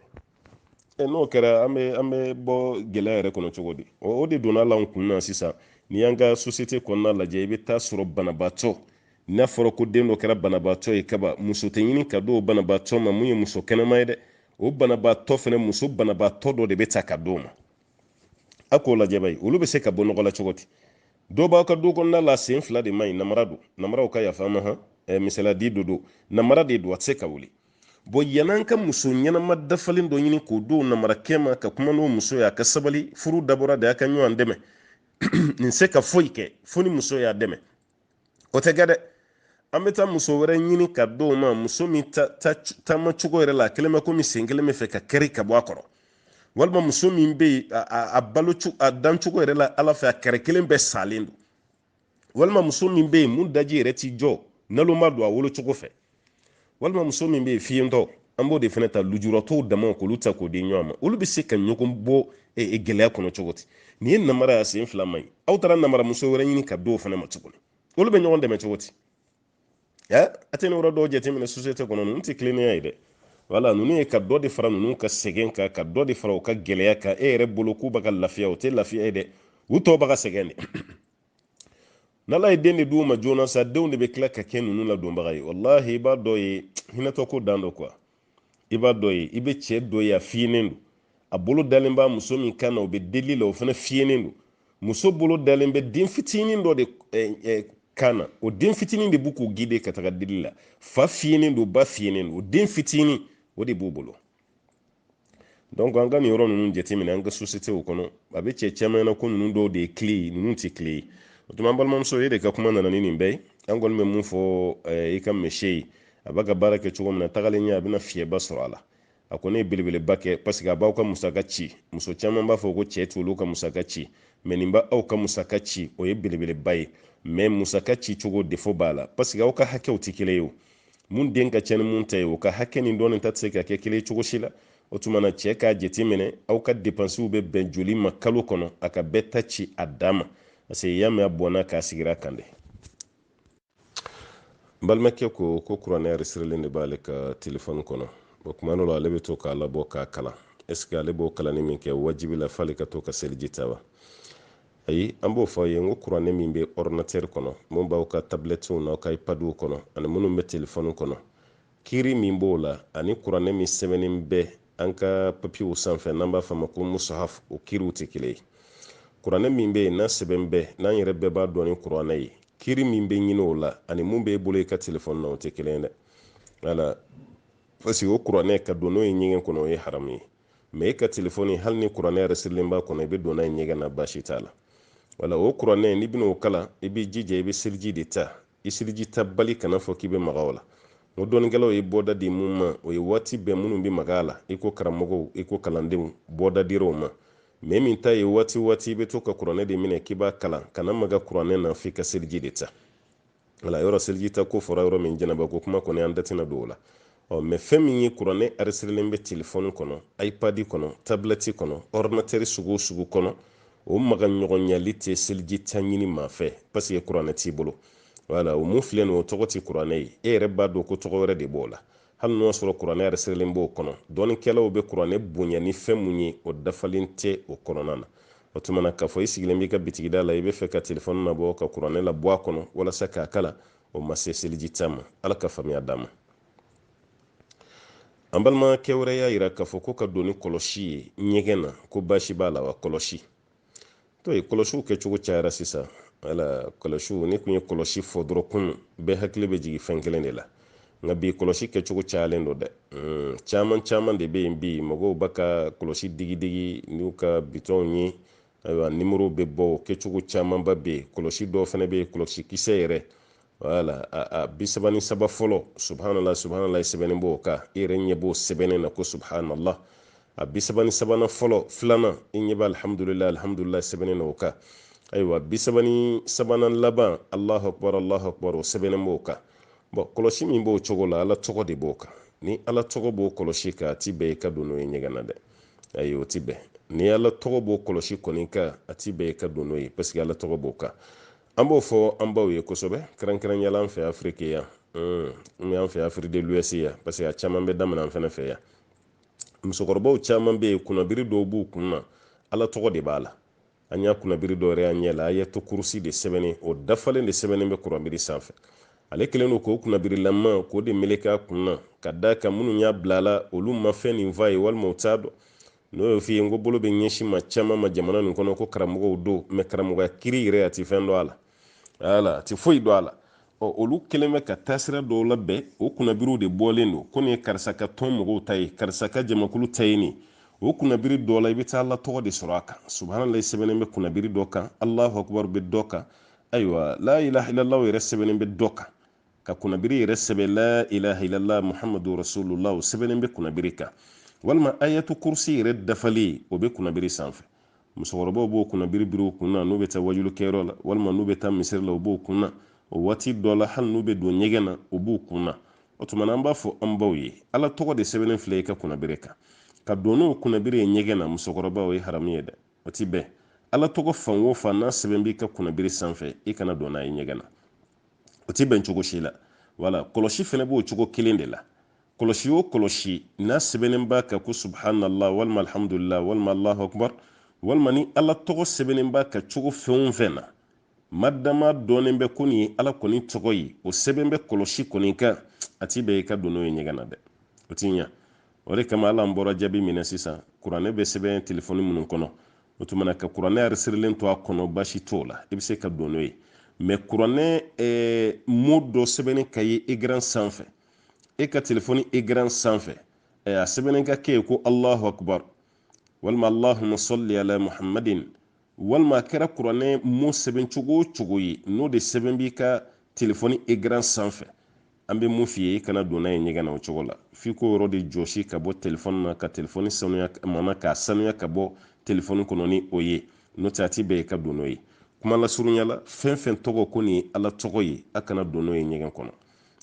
A: e n'o kɛra an bɛ an bɛ bɔ gɛlɛya yɛrɛ kɔnɔ cogo di o de donna la kun na sisan n'i y'an ka sosiyete kɔnɔna lajɛ i bɛ taa sɔrɔ banabaatɔ n'a fɔra ko den dɔ kɛra banabaatɔ ye kaba muso tɛ ɲini ka d'o banabaatɔ ma mun ye muso kɛnɛma ye dɛ o banabaatɔ fana muso banabaatɔ dɔ de bɛ ta ka d'o ma a k'o lajɛ bayi olu bɛ se ka bɔ nɔgɔ la cogo di dɔw b'aw ka du kɔnɔna la sen fila de man ɲi namara don namaraw ka yafa ma han misaliya de don namara de don a tɛ se ka wuli bɔn yan'an ka muso ɲɛnama dafalen dɔ ɲini k'o d'o namarakɛ ma ka kuma n'o muso ye a ka sabali furu dabɔra de a ka ɲɔgɔn dɛmɛ nin se ka foyi kɛ fo ni muso y'a dɛmɛ o tɛ kɛ dɛ an bɛ taa muso wɛrɛ ɲini ka d'o ma muso min taama cogo yɛrɛ la a kɛlen bɛ komi sen kelen bɛ fɛ ka kɛri ka bɔ a kɔrɔ walima muso min bɛ yen a balo a dancogo yɛrɛ la ala fɛ a kɛrɛ kelen bɛɛ salen don walima muso min bɛ yen mun daji yɛrɛ ti jɔ nalonma don a wolo cogo fɛ walima muso min bɛ yen fiyentɔ an b'o de fana ta lujuratɔw dama k'olu ta k'o di ɲɔgɔn ma olu bɛ se ka ɲɔgɔn bɔ e, e, gɛlɛya kɔnɔ cogo di nin ye namara y'a sen fila man ɲi aw taara namaramuso wɛrɛ ɲini ka d'o fana ma tuguni olu bɛ ɲɔgɔn dɛmɛ cogo di a tɛ nin yɔrɔ dɔw jateminɛ sosiyete kɔnɔ ninnu tɛ tilennenya ye dɛ wala ninnu ye ka dɔ de fara ninnu ka sɛgɛn kan ka dɔ de fara u ka gɛlɛya kan e yɛrɛ bolo k'u bɛ ka lafiya o tɛ lafiya ye dɛ u tɔw bɛ ka sɛgɛn de n'ala ye den de d'u ma joona sa denw de bɛ tila ka kɛ ninnu ladonbaga ye walahi i b'a dɔ ye hinɛtɔko dan don kuwa i b'a dɔ ye i bɛ cɛ dɔ ye a fiyenen don a bolo dalen b'a muso min kan na o bɛ deli la o fana fiyenen don muso bolo dalen bɛ den fitinin dɔ de eh, eh, kan na o den fitinin de b'u k'u guider ka taga deli la fa fiyenen don ba fiyenen don o den fitinin o de b'u bolo donc an ka nin yɔrɔ ninnu jateminɛ an ka société o kɔnɔ a bɛ cɛ caman na ko ninnu dɔw de ye kilen ye ninnu tɛ kilen ye o tuma an balimamuso e de ka kuma nana ni nin bɛɛ ye an kɔni bɛ mun fɔ eh, i ka mɛse ye a b'a ka baara kɛ cogo min na tagalen ɲɛ a bɛna fiyɛba sɔrɔ a la a kɔni ye belebeleba kɛ paseke a b'aw ka musaka ci muso caman b'a fɔ ko cɛ t'olu ka musaka ci mɛ nin b'aw ka musaka ci o ye belebeleba ye mɛ musaka ci cogo defo b'a la paseke aw ka hakɛw tɛ kelen ye o mun den ka ca ni mun ta ye o ka hakɛ nin dɔɔnin ta tɛ se ka kɛ kelen cogo si la o tuma na cɛ k'a jateminɛ aw ka depansiw bɛ bɛn joli ma kalo kɔnɔ a ka bɛɛ ta ci a dan ma parce que y'a mɛn a bɔnna k'a sigira kan dɛ n balimakɛ ko ko kuranɛ arisirilen de b'ale ka telefɔni kɔnɔ o kuma dɔ la ale bɛ to k'a labɔ k'a kalan ɛseke ale b'o kalanni min kɛ wajibi la f'ale ka to ka seliji ta wa ayi an b'o fɔ a ye n ko kuranɛ min bɛ ɔridinatɛri kɔnɔ mun b'aw ka tabilɛtiw n'aw ka ipadiw kɔnɔ ani minnu bɛ telefɔni kɔnɔ kiri min b'o la ani kuranɛ min sɛbɛnnen bɛ an ka papiyew sanfɛ n'an b'a fɔ a ma ko musahaf o kiriw tɛ kelen ye kuranɛ min bɛ yen n'a sɛbɛn bɛ n'an yɛrɛ bɛɛ b'a dɔn ni kuranɛ ye kiri min bɛ ɲini o la ani mun b'e bolo i ka telefɔni na o tɛ kelen ye dɛ wala parce que o kuranɛ ka don n'o ye ɲɛgɛn kɔnɔ o ye haramu ye mɛ e ka telefɔni hali ni kuranɛ arisirilen b'a kɔnɔ i bɛ don n'a ye ɲɛgɛn na baasi t'a la wala o kuranɛ n'i bɛna o kalan i b'i jija i bɛ seliji de ta i seliji ta bali kana fɔ k'i bɛ maga o la o dɔnnikɛlaw ye bɔda di mun ma o ye waati bɛɛ minnu bɛ maga a la i ko karamɔgɔw i ko kalandenw bɔda dira o ma mɛ min ta ye waati waati i bɛ to ka kuranɛ de minɛ k'i b'a kalan kana maga kuranɛ na f'i ka seliji de ta wala yɔrɔ seliji ta ko fɔra yɔrɔ min janaba ko kuma kɔni an da tɛna don o la ɔ mɛ fɛn min ye kuranɛ arisirilen bɛ telefɔni kɔnɔ ipadi kɔnɔ tabilɛti kɔnɔ ɔridinatɛri sugu o sugu kɔnɔ o maga ɲɔgɔnyali tɛ seliji ta ɲini maa fɛ paseke kuranɛ t'i bolo wala o mun filɛ nin o tɔgɔ tɛ kuranɛ ye e yɛrɛ b'a dɔn ko tɔgɔ wɛrɛ de b'o la hali n'o sɔrɔ kuranɛ arisirilen b'o kɔnɔ dɔnnikɛlaw bɛ kuranɛ bonya ni fɛn mun ye o dafalen tɛ o kɔnɔna na o tuma na k'a fɔ i sigilen b'i ka bitigida la i b'a fɛ ka telefɔni labɔ ka kuranɛ labɔ a kɔnɔ walasa k'a kalan o ma se seliji ta ma ala ka faamuya d'an ma an balimakɛ wɛrɛ y'a yira k'a fɔ ko ka don ni kɔlɔsi ye ɲɛgɛn na ko baasi b'a la wa kɔlɔsi to ye kɔlɔsiw kɛcogo cayara sisan wala kɔlɔsiw n'i kun ye kɔlɔsi fɔ dɔrɔn kunun bɛɛ hakili bɛ jigin fɛn kelen de la nka bi kɔlɔsi kɛcogo cayalen don dɛ hmm, caman caman de bɛ yen bi mɔgɔw bɛ ka kɔlɔsi digidigi n'u ka bitɔnw ye ayiwa nimoro bɛ bɔ o kɛcogo camanba bɛ yen kɔlɔsi dɔw fana bɛ yen kɔlɔsi kisɛ yɛrɛ wala a bi saba ni saba fɔlɔ subhanala subhanala sɛbɛnnen b'o kan i yɛrɛ ɲɛ b'o sɛbɛnnen na ko subhanala a bi saba ni sabanan fɔlɔ filanan i ɲɛ bɛ alihamudulila alihamudulila sɛbɛnnen na o kan ayiwa bi saba ni sabanan laban alahu akbar alahu akbar o sɛbɛnnen b'o kan bɔn kɔlɔsi min b'o cogo la ala tɔgɔ de b'o kan ni ala tɔgɔ b'o kɔlɔsi kan a ti bɛn i ka don n'o ye ɲɛgɛn na dɛ ayi o ti bɛn ni ala tɔgɔ b'o kɔlɔsi kɔni kan a ti bɛn i ka don n'o ye paseke ala tɔgɔ b'o kan an b'o fɔ an baw ye kosɛbɛ kɛrɛnkɛrɛnyala an fɛ afirike yan an fɛ afirike de l'ouest yan parce que a caman bɛ daminɛ an fɛnɛ fɛ yan musokɔrɔbaw caman bɛ yen kunnabiri dɔw b'u kun na ala tɔgɔ de b'a la an y'a kunnabiri dɔw yɛrɛ y'an ɲɛ la ayatul kursi de sɛbɛnnen o dafalen de sɛbɛnnen bɛ kunnabiri sanfɛ ale kɛlen don k'o kunnabirilama k'o de meleke a kun na ka d'a kan minnu y'a bila la olu ma fɛn nin f'a ye walima u t'a dɔn n'o y'o f'i ye n ko bolo bɛ ɲɛsin maa caman ma jamana nin kɔnɔ ko karamɔgɔw don mɛ karamɔgɔya kiri yɛrɛ a ti fɛn dɔn a la wala a ti foyi dɔn a la ɔ olu kɛlen bɛ ka taasira dɔw labɛn o kunnabiriw de bɔlen don ko nin ye karisa ka tɔn mɔgɔw ta ye karisa ka jamakulu ta ye nin o kunnabiri dɔ la i bɛ taa ala tɔgɔ de sɔrɔ a kan subhanallah sɛbɛnnen bɛ kunnabiri dɔ kan allahu akbar bɛ dɔ kan ayiwa la ilaha illallah yɛrɛ sɛbɛnnen bɛ dɔ kan ka kunnabiri yɛrɛ sɛbɛn la ilaha illallah muhammadu rasulullah o sɛbɛnnen bɛ kunnabiri kan walima ayatul kursi yɛrɛ dafalen o bɛ kunnabiri sanfɛ musokɔrɔbaw b'o kunnabiri biri u kun na n'u bɛ taa wajulu kɛyɔrɔ la walima n'u bɛ taa misiri la u b'o kun na o waati dɔ la hali n'u bɛ don ɲɛgɛn na u b'u kun na o tuma na an b'a fɔ an baw ye ala tɔgɔ de sɛbɛnnen filɛ i ka kunnabiri kan ka don n'o kunnabiri ye ɲɛgɛn na musokɔrɔba o ye haramu ye dɛ o ti bɛn ala tɔgɔ fan o fan n'a sɛbɛn b'i ka kunnabiri sanfɛ i kana don n'a ye ɲɛgɛn na o ti bɛn cogo si la wala kɔlɔsi fɛnɛ b'o cogo kelen de la kɔlɔsi o kɔlɔsi n'a sɛbɛnnen b'a kan ko subhanallah walima alhamdulillah walima allahu akbar walima ni ala tɔgɔ sɛbɛnnen b'a kan cogo fɛn o fɛn na madama dɔnnen bɛ ko nin ye ala kɔni tɔgɔ ye o sɛbɛn bɛ kɔlɔsi kɔni kan a ti bɛn i ka don n'o ye ɲɛgɛn na dɛ o ti ɲa o de kama wala an bɔra jaabi min na sisan kuranɛ bɛ sɛbɛn telefɔni minnu kɔnɔ o tuma na ka kuranɛ aresirilen to a kɔnɔ basi t'o la i bɛ se ka don n'o ye mɛ kuranɛ eh, mo dɔ sɛbɛnni ka ye egran sanfɛ e ka telefɔni egran sanfɛ eh, a sɛbɛnni ka kɛ ye ko allahu akbar walima allahumma salli ala muhammadin walima a kɛra kuranɛ mo sɛbɛn cogo o cogo ye n'o de sɛbɛn b'i ka telefɔni egran sanfɛ an bɛ mun f'i ye i kana don n'a ye ɲɛgɛn na o cogo la f'i k'o yɔrɔ de jɔsi ka bɔ telefɔni na ka telefɔni sanuya mana k'a sanuya ka bɔ telefɔni kɔnɔ ni o ye n'o tɛ a ti bɛn i ka don n'o ye kuma lasurunya la fɛn fɛn tɔgɔ ko nin ye ala tɔgɔ ye a kana don n'o ye ɲɛgɛn kɔnɔ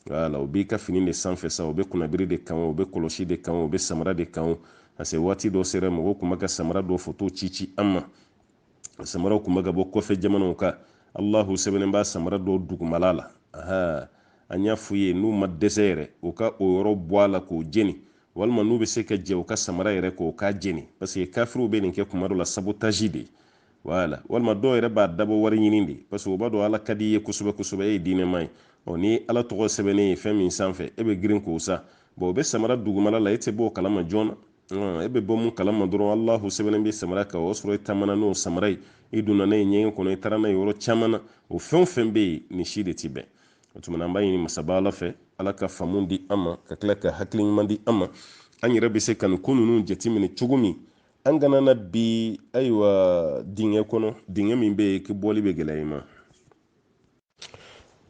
A: wala o b'i ka fini de sanfɛ sa o bɛ kunnabiri de kan o bɛ kɔlɔsi de kan o bɛ samara de kan parce que waati dɔ sera mɔgɔw tun bɛ ka samara dɔ foto ci ci an ma samaraw kun bɛ ka bɔ kɔfɛ jamanaw kan allahu sɛbɛnnen b'a samara dɔw dugumala la aha an y'a f'u ye n'u ma dɛsɛ yɛrɛ u ka o yɔrɔ bɔ a la k'o jeni walima n'u bɛ se ka jɛ u ka samara yɛrɛ k'o k'a jeni parce que kafiriw bɛ nin kɛ kuma dɔ la sabotaji de wala walima dɔw yɛrɛ b'a dabɔ wari ɲini de parce que u b'a dɔn ala ka di i ye kosɛbɛ kosɛbɛ e ye diinɛma ye ɔ ni ala tɔgɔ sɛbɛnnen ye fɛn min sanfɛ e bɛ girin k'o san bɔn o bɛ samara dugumala la e tɛ bɔ o kalama joona e bɛ bɔ mun kalama dɔrɔn alahu sɛbɛnnen bɛ samara kan o sɔrɔ i taamana n'o samara ye i donna n'a ye ɲɛgɛn kɔnɔ i taara n'a ye yɔrɔ caman na o fɛn o fɛn bɛ yen nin si de tɛ bɛn o tuma an b'a ɲini masaba ala fɛ ala ka faamu di an ma ka tila ka hakili ɲuman di an ma an yɛrɛ bɛ se ka nin ko ninnu jateminɛ cogo min an kana na bin ayiwa dingɛ kɔnɔ dingɛ min bɛ yen k'i bɔli bɛ gɛlɛya i ma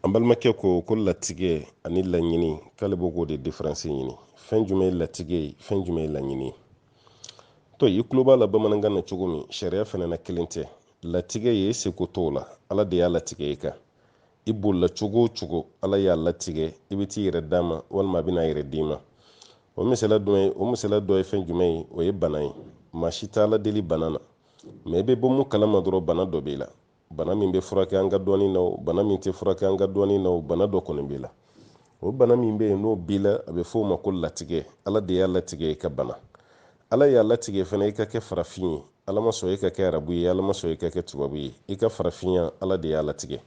A: an balimakɛ ko ko latigɛ ani laɲini k'ale b'o k'o de diferansi ɲini fɛn jumɛn ye latigɛ ye fɛn jumɛn ye laɲini ye to i tulo b'a la bamanankan na cogo min sariya fana na kelen tɛ latigɛ i seko t'o la ala de y'a latigɛ i kan i bolila cogo o cogo ala y'a latigɛ i bɛ t'i yɛrɛ d'a ma walima a bɛ n'a yɛrɛ d'i ma o misala dɔ ye o misala dɔ ye fɛn jumɛn ye o ye bana ye maa si t'ala deli bana na mɛ i bɛ bɔ mun kalama dɔrɔn bana dɔ b'i la bana min bɛ furakɛ an ka dɔnni na o bana min tɛ furakɛ an ka dɔnni na o bana dɔ kɔni b'i la o bana min bɛ yen n'o b'i la a bɛ f'o ma ko latigɛ ala de y'a latigɛ i ka bana ala y'a latigɛ fana i ka kɛ farafin ye ala ma sɔn i ka kɛ arabu ye ala ma sɔn i ka kɛ tubabu ye i ka farafinya ala de y'a latigɛ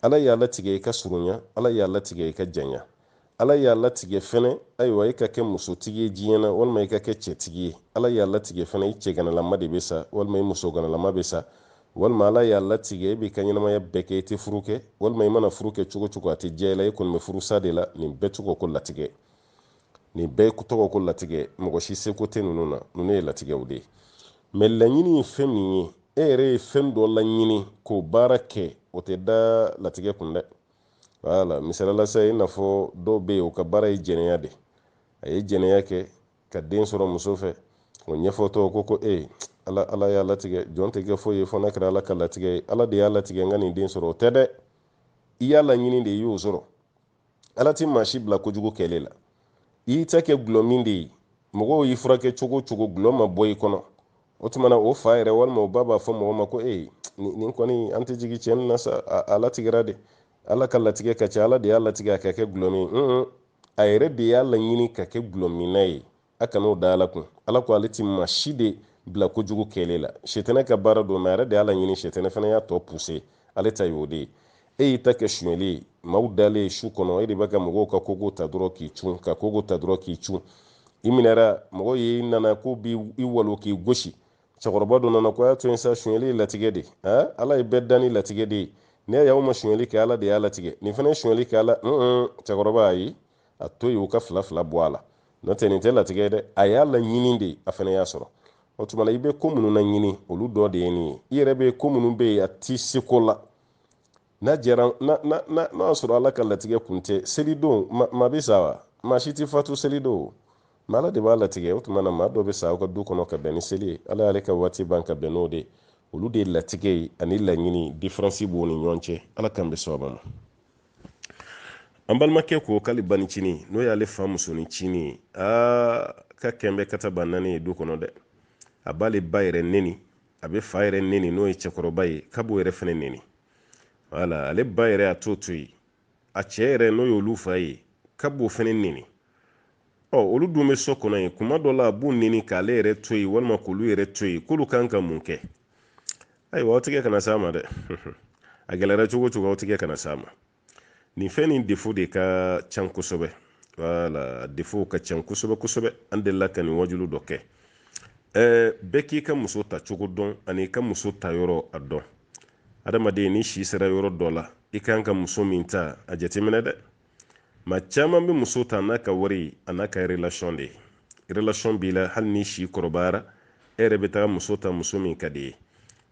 A: ala y'a latigɛ i ka surunya ala y'a latigɛ i ka janya ala y'a latigɛ fɛnɛ ayiwa i ka kɛ musotigi ye diɲɛ na walima i ka kɛ cɛtigi ye ala y'a latigɛ fɛnɛ i cɛganalama de bɛ sa walima i musoganalama bɛ sa walima ala y'a latigɛ i b'i ka ɲɛnamaya bɛɛ kɛ i tɛ furu kɛ walima i mana furu kɛ cogo cogo a tɛ diya i la i kɔni bɛ furusa de la nin bɛɛ tɔgɔ ko latigɛ nin bɛɛ tɔgɔ ko latigɛ mɔgɔ si seko tɛ ninnu na ninnu ye latigɛw de ye mɛ laɲini ye fɛn min ye e yɛrɛ ye fɛn dɔ laɲini k'o baara kɛ o tɛ da latigɛ kun dɛ wala misali la sa i n'a fɔ dɔw bɛ yen u ka baara ye jɛnɛya de a ye jɛnɛya kɛ ka den sɔrɔ muso fɛ o ɲɛfɔtɔ ko ko e ala ala y'a latigɛ jɔn tɛ kɛ foyi ye fɔ n'a kɛra ala ka latigɛ ye ala de y'a latigɛ n ka nin den sɔrɔ o tɛ dɛ i y'a laɲini de i y'o sɔrɔ ala ti maa si bila kojugu kɛli la i y'i ta kɛ gulɔmin de ye mɔgɔw y'i furakɛ cogo cogo gulɔ ma bɔ i kɔnɔ o tuma na o fa yɛrɛ walima o ba b'a fɔ mɔgɔ ma ko ee nin kɔni an tɛ jigin cɛ nin na sa a latigɛra de ala ka latigɛ ka ca ala de y'a latigɛ a ka kɛ gulɔmin ye a yɛrɛ de y'a laɲini ka kɛ gulɔminna ye a kan'o da ala kun ala ko ale ti maa si de bila kojugu kɛli la setɛnɛ ka baara don mɛ a yɛrɛ de y'a laɲini setɛnɛ fana y'a tɔ puse ale ta y'o de ye e y'i ta kɛ sonyɛli ye maaw dalen su kɔnɔ e de bɛ ka mɔgɔw ka kogo ta dɔrɔn k'i cun ka kogo ta dɔrɔn k'i cun i minɛra mɔgɔw nana k'u b'i walon k'i gosi cɛkɔrɔba dɔ nana ko a y'a to yen sa sonyɛli ye latigɛ de ye ala ye bɛɛ dan ni latigɛ de ye n'i y'a y'aw ma sonyɛli kɛ ala de y'a latigɛ nin fana ye sonyɛli kɛ ala cɛkɔrɔba ayi a to yen u ka fila fila bɔ a la n'o tɛ nin tɛ latigɛ ye dɛ a y'a laɲini de a fana y'a sɔrɔ o tuma na i bɛ ko minnu laɲini olu dɔ de ye nin ye i yɛrɛ bɛ ko minnu bɛ yen a t'i seko la n'a jɛra n'a y'a sɔrɔ ala ka latigɛ kun tɛ selidon maa bɛ sa wa maa si tɛ fatu selidon ma ala de b'a latigɛ o tuma na maa dɔ bɛ sa aw ka du kɔnɔ ka bɛn ni seli ye ala y'ale ka waati ban ka bɛn n'o de ye olu de ye latigɛ ye ani laɲini diferansi b'o ni ɲɔgɔn cɛ ala k'an bɛɛ sababa ma an balimakɛ ko k'ale banicinin n'o y'ale fa musonin cinin ye aa ka kɛnbɛ ka taa ba naani ye du kɔnɔ dɛ a b'ale ba yɛrɛ neni a bɛ fa yɛrɛ neni n'o ye cɛkɔrɔba ye k'a b'o yɛrɛ fɛnɛ neni wala ale ba yɛrɛ a t'o to yen a cɛ yɛrɛ n'o y'olu fa ye k'a b'o fɛnɛ neni ɔ olu dun bɛ so kɔnɔ yen kuma dɔ la a b'u neni k'ale yɛrɛ to yen walima k'olu yɛrɛ to yen k'olu kan ka mun kɛ ayiwa aw tigɛ kana s'a ma dɛ a gɛlɛyara cogo cogo aw tigɛ kana s'a ma nin fɛn nin defo de ka can kosɛbɛ wala defo ka can kosɛbɛ kosɛbɛ an delila ka nin wajulu dɔ kɛ ɛɛ bɛɛ k'i ka muso ta cogo dɔn an'i ka muso ta yɔrɔ a dɔn adamaden ni si sera yɔrɔ dɔ la i kan ka muso min ta a jateminɛ dɛ maa caman bɛ muso ta n'a ka wari an'a ka relation de ye relation b'i la hali ni si kɔrɔbayara e yɛrɛ bɛ taa muso ta muso min ka d'i ye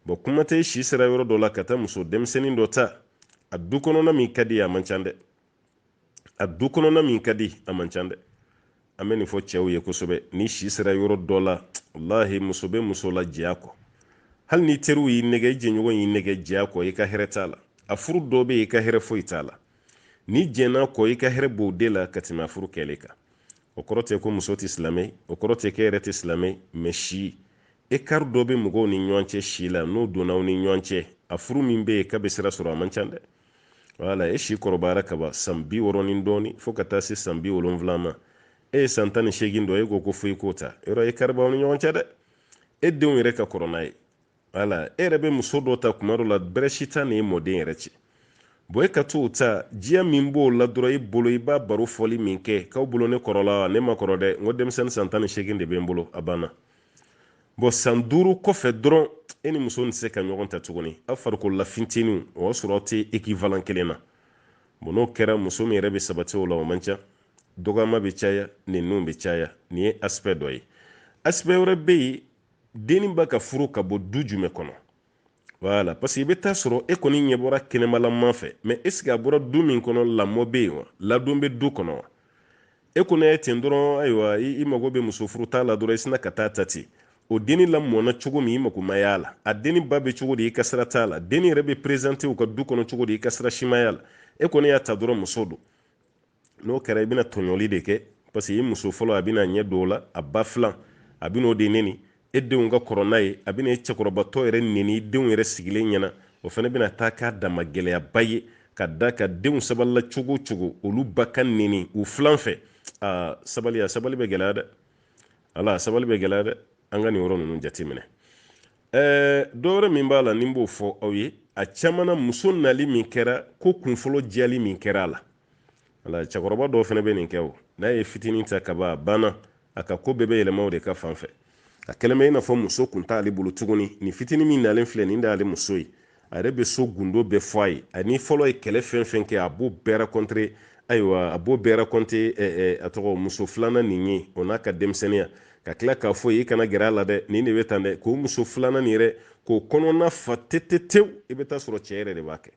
A: bɔn kuma tɛ si sera yɔrɔ dɔ la ka taa muso denmisɛnnin dɔ ta a du kɔnɔna min ka di a man ca dɛ a du kɔnɔna min ka di a man ca dɛ an bɛ nin fɔ cɛw ye kosɛbɛ ni si sera yɔrɔ dɔ la walahi muso bɛ muso la jɛn a kɔ hali ni teriw y'i nɛgɛ i jɛɲɔgɔn y'i nɛgɛ jɛn a kɔ i ka hɛrɛ t'a la a furu dɔ bɛ yen i ka hɛrɛ foyi t'a la n'i jɛnna a kɔ i ka hɛrɛ b'o de la ka tɛmɛ a furu kɛlen kan o kɔrɔ tɛ ko muso tɛ silamɛ o kɔrɔ tɛ k'e yɛrɛ tɛ silamɛ mɛ si ekari dɔ bɛ mɔgɔw ni ɲɔgɔn cɛ si la n'o donna aw ni ɲɔgɔn cɛ a furu min bɛ yen k'a bɛ sira sɔrɔ a man ca dɛ wala e si kɔrɔbayara kaban san bi wɔɔrɔ ni dɔɔni fo ka taa se san bi wolonwula ma e ye san tan ni seegin dɔ ye ko ko fo i k'o ta yɔrɔ ekari b'aw ni ɲɔgɔn cɛ dɛ e denw yɛrɛ ka kɔrɔ n'a ye wala e yɛrɛ bɛ muso dɔ ta kuma dɔ la bɛrɛ si t'a ni e mɔden yɛrɛ cɛ bɔn e ka t'o ta diya min b'o la dɔrɔn i bolo i b'a baro fɔli min kɛ k'aw bolo ne kɔrɔla wa ne ma kɔrɔ dɛ n ko denmisɛnnin san tan ni seegin de bɛ n bolo a banna bɔn san duuru kɔfɛ dɔrɔn e ni muso nin tɛ se ka ɲɔgɔn ta tuguni aw farikolola fintinin o y'a sɔrɔ aw tɛ ekivalan kelen na bɔn n'o kɛra muso min yɛrɛ bɛ sabati o la o man ca dɔgɔyama bɛ caya neniw bɛ caya nin ye aspɛ dɔ ye aspɛ wɛrɛ bɛ yen denni b'a ka furu ka bɔ du jumɛn kɔnɔ wala parce que i bɛ taa sɔrɔ e kɔni ɲɛ bɔra kɛnɛmalama fɛ mɛ est-ce que a bɔra du min kɔnɔ lamɔ bɛ yen wa ladon bɛ du kɔnɔ wa e kɔni ye ten dɔrɔn ayiwa i mago bɛ muso furuta la dɔrɔn i sinna ka taa a ta ten o denni lamɔna cogo min i mago ma y'a la a denni ba bɛ cogo di i ka sira t'a la denni yɛrɛ bɛ perezante u ka du kɔnɔ cogo di i ka sira si ma y'a la e kɔni y'a ta dɔrɔn muso don n'o kɛra i bɛna tɔɲɔli de kɛ parce que i muso fɔlɔ a bɛna ɲɛ don o la a ba filan a bɛna o de neni e denw ka kɔrɔ n'a ye a bɛna e cɛkɔrɔbatɔ yɛrɛ neni denw yɛrɛ sigilen ɲɛna o fana bɛna taa k'a dama gɛlɛyaba ye ka d'a kan denw sabalila cogo cogo olu ba ka neni u filan fɛ aa sabali a sabali bɛ gɛlɛya dɛ wala sabali bɛ gɛlɛya dɛ an ka nin yɔrɔ ninnu jateminɛ ɛɛ dɔwɛrɛ min b'a la ne b'o fɔ aw ye a caman na muso nali min kɛra ko kunfɔlɔ jiyali min kɛra a la wala cɛkɔrɔba dɔw fana bɛ nin kɛ o n'a ye fitinin ta ka ban a banna a ka ko bɛɛ bɛ yɛlɛma o de ka fan fɛ a kɛlen bɛ i n'a fɔ muso kun t'ale bolo tuguni nin fitinin min nalen filɛ nin de y'ale muso ye a yɛrɛ bɛ so gundo bɛɛ fɔ a ye a ni fɔlɔ ye kɛlɛ fɛn fɛn kɛ a b'o bɛɛ raconter ayiwa a b'o bɛɛ raconter a tɔgɔ muso filanan nin ye o n'a ka denmisɛnninya ka tila k'a fɔ i kana gɛrɛ a la dɛ nin de bɛ tan dɛ k'o muso filanan nin yɛrɛ k'o kɔnɔna fa tetetew i bɛ taa sɔrɔ cɛ yɛrɛ de b'a kɛ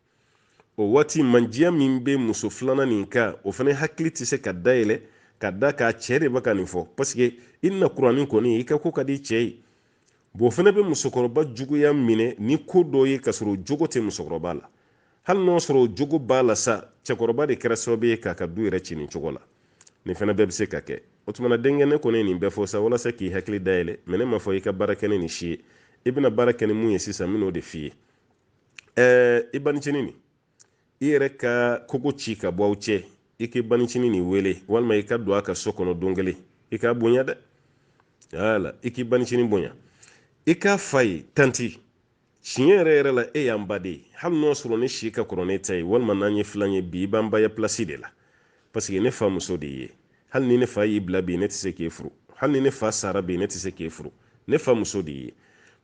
A: o waati mandiya min bɛ muso filanan nin kan o fana hakili tɛ se ka dayɛlɛ ka d'a kan cɛ de bɛ ka nin fɔ paseke i na kuranin kɔni i ka ko ka di cɛ ye b'o fana bɛ musokɔrɔba juguya minɛ ni ko dɔ ye k'a sɔrɔ o jogo tɛ musokɔrɔba la hali n'o sɔrɔ o jogo b'a la sa cɛkɔrɔba de kɛra sababu ye k'a ka du yɛrɛ ci nin cogo la nin fana bɛɛ bɛ se ka kɛ o tuma na denkɛ ne kɔni ye nin bɛɛ fɔ sa walasa k'i hakili dayɛlɛ mɛ ne ma fɔ i ka baara kɛ ni nin si ye i bɛna baara kɛ ni mun ye sisan n bɛn'o de f'i ye ɛɛ i banicinin nin i yɛrɛ ka kogo ci ka bɔ aw cɛ i k'i banicinin nin wele walima i ka don a ka so kɔnɔ don kelen i k'a bonya dɛ wala i k'i banicinin bonya i k'a f'a ye tanti tiɲɛ yɛrɛ yɛrɛ la e y'an ba de ye hali n'o sɔrɔ ne si ka kɔrɔ n'e ta ye walima n'an ye filan ye bi i b'an baya pilasi de la paseke ne fa muso de ye hali ni ne fa y'i bila bi ne tɛ se k'e furu hali ni ne fa sara bi ne tɛ se k'e furu ne fa muso de ye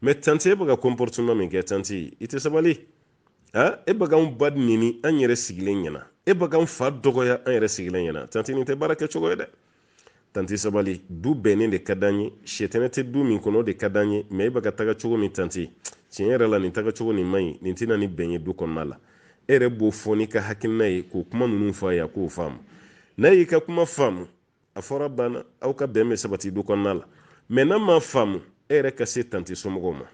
A: mɛ tanti e bɛ ka comportement min kɛ tanti i tɛ sabali a e bɛ k'anw ba neni an yɛrɛ sigilen ɲɛna e bɛ k'anw fa dɔgɔya an yɛrɛ sigilen ɲɛna tanti nin tɛ baara kɛ cogo ye dɛ tanti sabali du bɛnnen de ka d'an ye sitanɛ tɛ du min kɔnɔ o de ka d'an ye mɛ e bɛ ka taga cogo min tanti tiɲɛ yɛrɛ la nin taga cogo nin man ɲi nin tɛ na ni bɛn ye du kɔnɔna la e yɛrɛ b'o fɔ n'i ka hakilina ye k'o kuma ninnu fɔ a ye a k'o faamu n'a y'i ka kuma faamu a fɔra banna aw ka bɛn bɛ sabati du kɔnɔna la mɛ n'a ma faamu e yɛrɛ ka se tanti somɔgɔw ma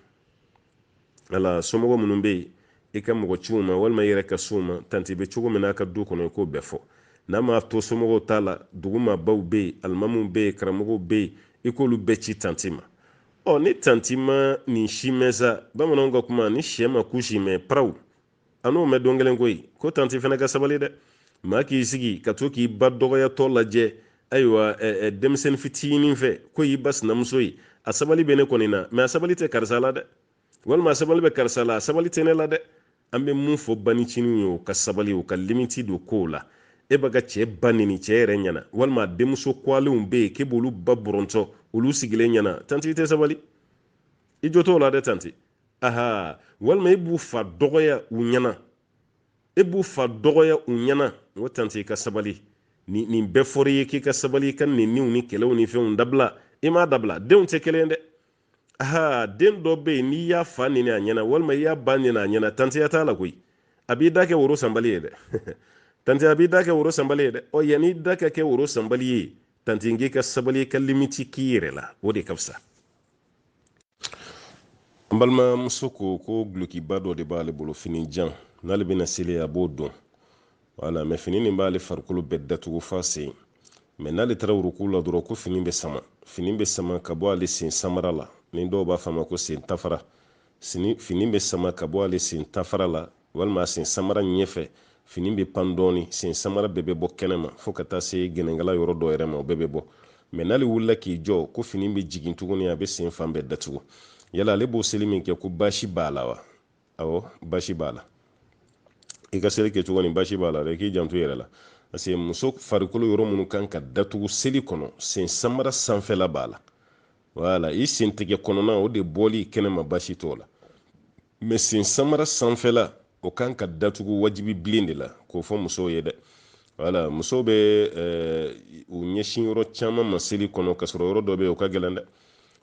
A: wala somɔgɔ minnu bɛ yen i ka mɔgɔ ci u ma walima i yɛrɛ ka s'u ma tanti bɛ cogo min n'a ka du kɔnɔ i k'o bɛɛ fɔ n'a ma to somɔgɔw ta la dugu maabaw bɛ yen alimamuw bɛ yen karamɔgɔw bɛ yen i k'olu bɛɛ ci tanti ma ɔ ni tanti ma nin si mɛn sa bamananw ka kuma ni sɛ ma kusi mɛn paraw an n'o mɛn don kelen koyi ko tanti fana ka sabali dɛ maa k'i sigi ka to k'i ba dɔgɔyatɔ lajɛ ayiwa denmisɛnnin fitinin fɛ k'o y'i ba sinamuso ye a sabali bɛ ne kɔni na mɛ a sabali tɛ karisa la dɛ walima a sabali bɛ karisa la a sabali tɛ ne la dɛ an bɛ mun fɔ baniciniw ye u ka sabali u ka limiti don kow la e b'i ka cɛ ba neni cɛ yɛrɛ ɲɛna walima a denmuso kɔgɔlenw bɛ yen k'e b'olu ba bɔrɔntɔ olu sigilen ɲɛna tanti i tɛ sabali i jo t'o la dɛ tanti aha walima e b'u fa dɔgɔya u ɲɛna e b'u fa dɔgɔya u ɲɛna n ko tante i ka sabali nin bɛɛ fɔra i ye k'i ka sabali i ka neniw ni kɛlɛw ni fɛnw dabila i m'a dabila denw tɛ kelen dɛ aha den dɔ bɛ yen n'i y'a fa neni a ɲɛna walima i y'a ba neni a ɲɛna tanteya t'a la koyi a b'i da kɛ woro sanbali ye dɛ tante a b'i da kɛ woro sanbali ye dɛ ɔ yanni i da ka kɛ woro sanbali ye tante k'i ka sabali i ka limiti k'i yɛrɛ la o de ka fisa n balimamuso ko ko gulokiba dɔ de b'ale bolo fini jan n'ale bɛna seli a b'o don wala mɛ fini nin b'ale farikolo bɛɛ datugu f'a sen mɛ n'ale taara wuruku la dɔrɔn ko fini bɛ sama fini bɛ sama ka bɔ ale sen samara la ni dɔw b'a fɔ a ma ko sen tafara fini bɛ sama ka bɔ ale sen tafara la walima a sen samara ɲɛfɛ fini bɛ pan dɔɔni sen samara bɛɛ bɛ bɔ kɛnɛ ma fo ka taa se gɛnɛnkala yɔrɔ dɔ yɛrɛ ma o bɛɛ bɛ bɔ mɛ n'ale wulila k'i jɔ ko fini bɛ jigin tuguni a bɛ sen fan bɛɛ datugu yala ale b'o seli min kɛ ko baasi b'a la wa awɔ baasi b'a la i ka seli kɛcogo nin baasi b'a la dɛ k'i janto i yɛrɛ la parce que muso farikolo yɔrɔ minnu kan ka datugu seli kɔnɔ sen samara sanfɛla b'a la wala i sen tigɛ kɔnɔna o de bɔli kɛnɛma baasi t'o la mɛ sen samara sanfɛla o kan ka datugu wajibi bilen de la k'o fɔ musow ye dɛ wala musow bɛ eh, u ɲɛsin yɔrɔ caman ma seli kɔnɔ k'a sɔrɔ yɔrɔ dɔ bɛ yen o ka gɛlɛn dɛ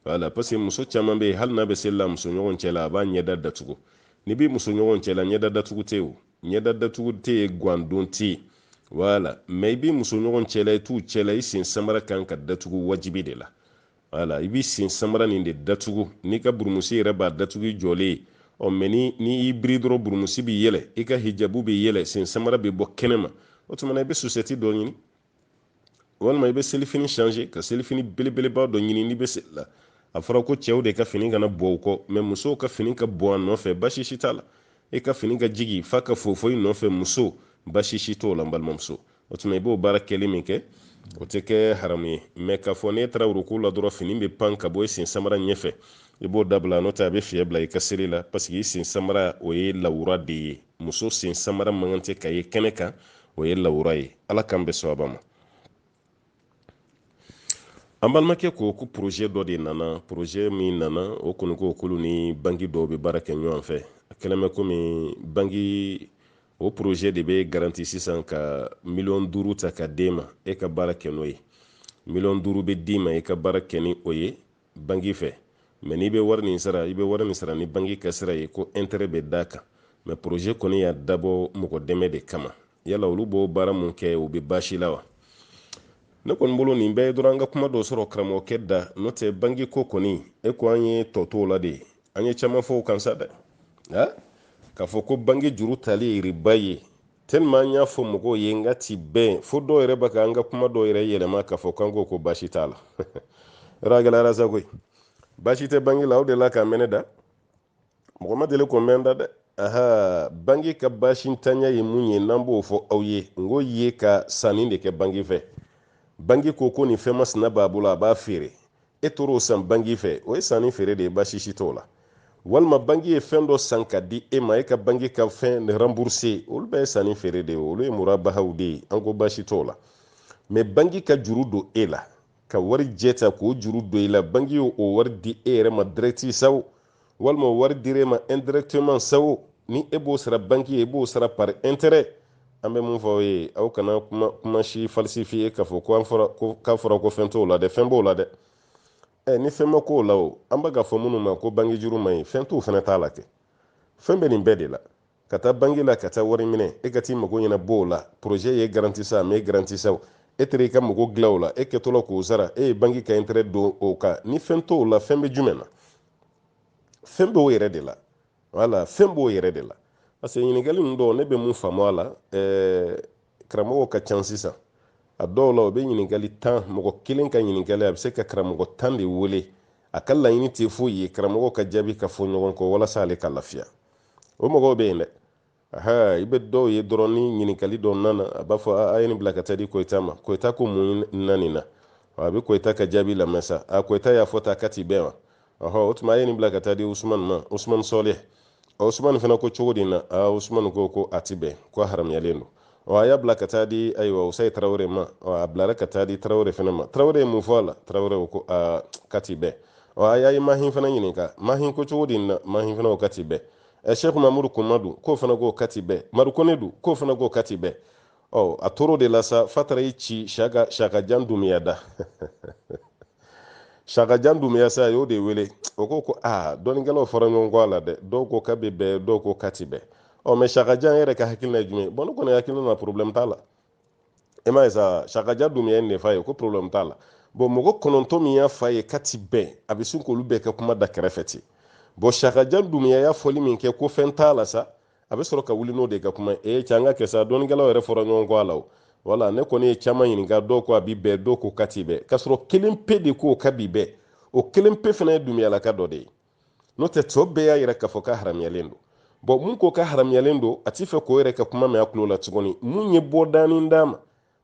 A: wala parce que muso caman bɛ yen hali n'a bɛ seli la musoɲɔgɔn cɛ la a b'a ɲɛda datugu n'i bɛ musoɲɔgɔn cɛ la ɲɛda datugu tɛ yen ɲɛda datugu tɛ yen gan don tɛ yen wala mɛ i bɛ musoɲɔgɔn cɛ la i t'u cɛ la i sen samara kan ka datugu wajibi de la wala i b'i sen samara nin de datugu n'i ka burumusi yɛrɛ b'a datugu i jɔlen ye ɔ mɛ ni n'i y'i biri dɔrɔn burumusi bɛ yɛlɛ i ka hijabu bɛ yɛlɛ sen samara bɛ bɔ kɛnɛ ma o tuma na i bɛ sosɛti dɔ ɲini walima i bɛ selifini changer ka selifini belebeleba dɔ ɲini n'i bɛ seli la a fɔra ko cɛw de ka fini kana bɔ u kɔ mɛ musow ka fini ka bɔ a nɔfɛ basi si t'a la i ka fini ka jigi f'a ka fofo i nɔfɛ muso basi si t'o la n balimamuso o tuma i b'o baara kɛli min kɛ o tɛ kɛ haramu ye mais k'a fɔ n'e taara ruku la dɔrɔn fini bɛ pan ka bɔ i sen samara ɲɛfɛ i b'o dabila n'o tɛ a bɛ fiɲɛ bila i ka seli la parce que i sen samara o ye lawura de ye muso sen samara man kan tɛ ka ye kɛnɛ kan o ye lawura ye ala k'an bɛn sawaba ma an balimakɛ ko ko projet dɔ de nana projet min nana o kɔni ko k'olu ni banki dɔw bɛ baara kɛ ɲɔgɔn fɛ a kɛlen bɛ komi banki o projet de bɛ garanti sisan ka miliyɔn duuru ta ka d'e ma e ka baara kɛ n'o ye miliyɔn duuru bɛ d'i ma i ka baara kɛ ni o ye banki fɛ mais n'i bɛ wari nin sara i bɛ wari nin sara ni banki ka sira ye ko intérêt bɛ d'a kan mais projet kɔni y'a dabɔ mɔgɔ dɛmɛ de kama yala olu b'o baara min kɛ o bɛ baasi la wa ne kɔni bolo nin bɛɛ ye dɔrɔn an ka kuma dɔ sɔrɔ karamɔgɔkɛ da n'o tɛ banki ko kɔni e ko an ye tɔ t'o la de an ye caman fɔ o kan sa dɛ nka k'a fɔ ko banki juru tali ye riba ye tellement an y'a fɔ mɔgɔw ye n k'a ti bɛn fo dɔw yɛrɛ bɛ ka an ka kuma dɔw yɛrɛ yɛlɛma k'a fɔ k'an ko ko baasi t'a la yɔrɔ a gɛlɛyara sa koyi baasi tɛ banki la o de la k'a mɛn ne da mɔgɔ ma deli k'o mɛn da dɛ aha banki ka baasi ntanya ye mun ye n'an b'o fɔ aw ye n ko e ka sanni de kɛ banki fɛ banki ko ko nin fɛn masina b'a bolo a b'a feere e taar'o san banki fɛ o ye sanni feere de ye baasi si t'o la walima banki ye fɛn dɔ san ka di e ma e ka banki ka fɛn rembourser olu bɛɛ ye sanni feere de ye olu ye murabahaw de ye an ko baasi t'o la mais banki ka juru don e la ka wari jɛ ta k'o juru don i la banki y'o wari di e yɛrɛ ma direct sawo walima o wari dir'e ma indirectement sawo ni e b'o sara banki ye e b'o sara par intérêt an bɛ min fɔ aw ye aw kana kuma kuma si falsifier k'a fɔ ko k'a fɔra ko fɛn t'o la dɛ fɛn b'o la dɛ ɛ ni fɛn ma k'o la o an bɛ k'a fɔ minnu ma ko banki juru man ɲi fɛn t'o fana t'a la kɛ fɛn bɛ nin bɛɛ de la ka taa banki la ka taa wari minɛ e ka t'i mago ɲɛnabɔ o la projet ye garanti sa mais garanti sa e taar'i ka mago dilan o la e kɛtɔla k'o sara e ye banki ka intérêt don o kan ni fɛn t'o la fɛn bɛ jumɛn na fɛn b'o yɛrɛ de la voilà fɛn b'o yɛrɛ de la parce que ɲininkali ninnu dɔw ne bɛ min faamu a la ɛɛ karamɔgɔw ka ca sisan a dɔw la o bɛ ɲininkali ta mɔgɔ kelen ka ɲininkali a bɛ se ka karamɔgɔ tan de wele a ka laɲini tɛ foyi ye karamɔgɔw ka jaabi ka fɔ ɲɔgɔn kɔ walasa ale ka lafiya o mɔgɔw bɛ yen dɛ aha i bɛ dɔw ye dɔrɔn ni ɲininkali dɔ nana a b'a fɔ a ye nin bila ka taa di koyita ma koyita ko mun na nin na a bɛ koyita ka jaabi lamɛn sa a koyita y'a fɔ tan k'a ti bɛn wa ɔhɔ o tuma a ye nin bila ka taa di usumani ma usumani sɔlɛ usumani fana ko cogo di na aa usumani ko ko a ti bɛn ko a haramuyalen don ɔ a y'a bila ka taa di ayiwa usayi tarawele ma ɔ a bilara ka taa di tarawele fana ma tarawele ye mun fɔ a la tarawele o ko aa k'a ti bɛn ɔ a y'a ye mahin fana ɲininka mahin ko cogo di na mahin fana ko k'a ti bɛn ɛ sɛku mamudu kuma dun k'o fana ko k'a ti bɛn maru kone dun k'o fana ko k'a ti bɛn ɔ a tor'o de la sa f'a taara i ci siyaka siyaka jan dumuya da siyaka jan dumuya sa a y'o de wele o ko ko aa dɔnnikɛlaw fɔra ɲɔgɔn kɔ a la dɛ dɔw ko k'a bɛ bɛn dɔw ko k'a ti bɛn ɔ mɛ siyaka jan yɛrɛ ka hakilina ye jumɛn bɔn ne kɔni hakilina na problème t'a la e m'a ye sa siyaka jan dun ye nin f'a ye ko problème t'a la bɔn mɔgɔ kɔnɔntɔn min y'a f'a ye k'a ti bɛn a bɛ sin k'olu bɛɛ ka kuma da kɛrɛfɛ ten bɔn siyaka jan dumuya y'a fɔli min kɛ ko fɛn t'a la sa a bɛ sɔrɔ ka wuli n'o de ka kuma e cɛ an ka kɛ sa dɔnnikɛlaw yɛrɛ fɔra ɲɔgɔn kɔ a la o wala ne kɔni ye caman ɲininka dɔw ko a bi bɛn dɔw ko k'a ti bɛn k'a sɔrɔ kelen pe de ko k'a bi bɛn o kelen pe fana ye dumuyalaka dɔ de ye n'o tɛ tɔ bɛɛ y'a yira k'a fɔ k'a haramuyalen don bɔn min ko k'a haramuyalen don a t'i fɛ k'o yɛrɛ ka kuma mɛn a tulo la tuguni min ye bɔda nin d'a ma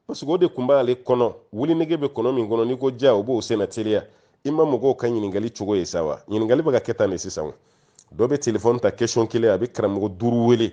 A: parce que o de kun b'ale kɔnɔ wulinege bɛ kɔnɔ min kɔnɔ n'i ko ja o b'o senna teliya i ma mɔgɔw ka ɲininkali cogo ye sa wa ɲininkali bɛ ka kɛ tan de sisan dɔ bɛ telefɔni ta kesɔn kelen a bɛ karamɔgɔ duuru wele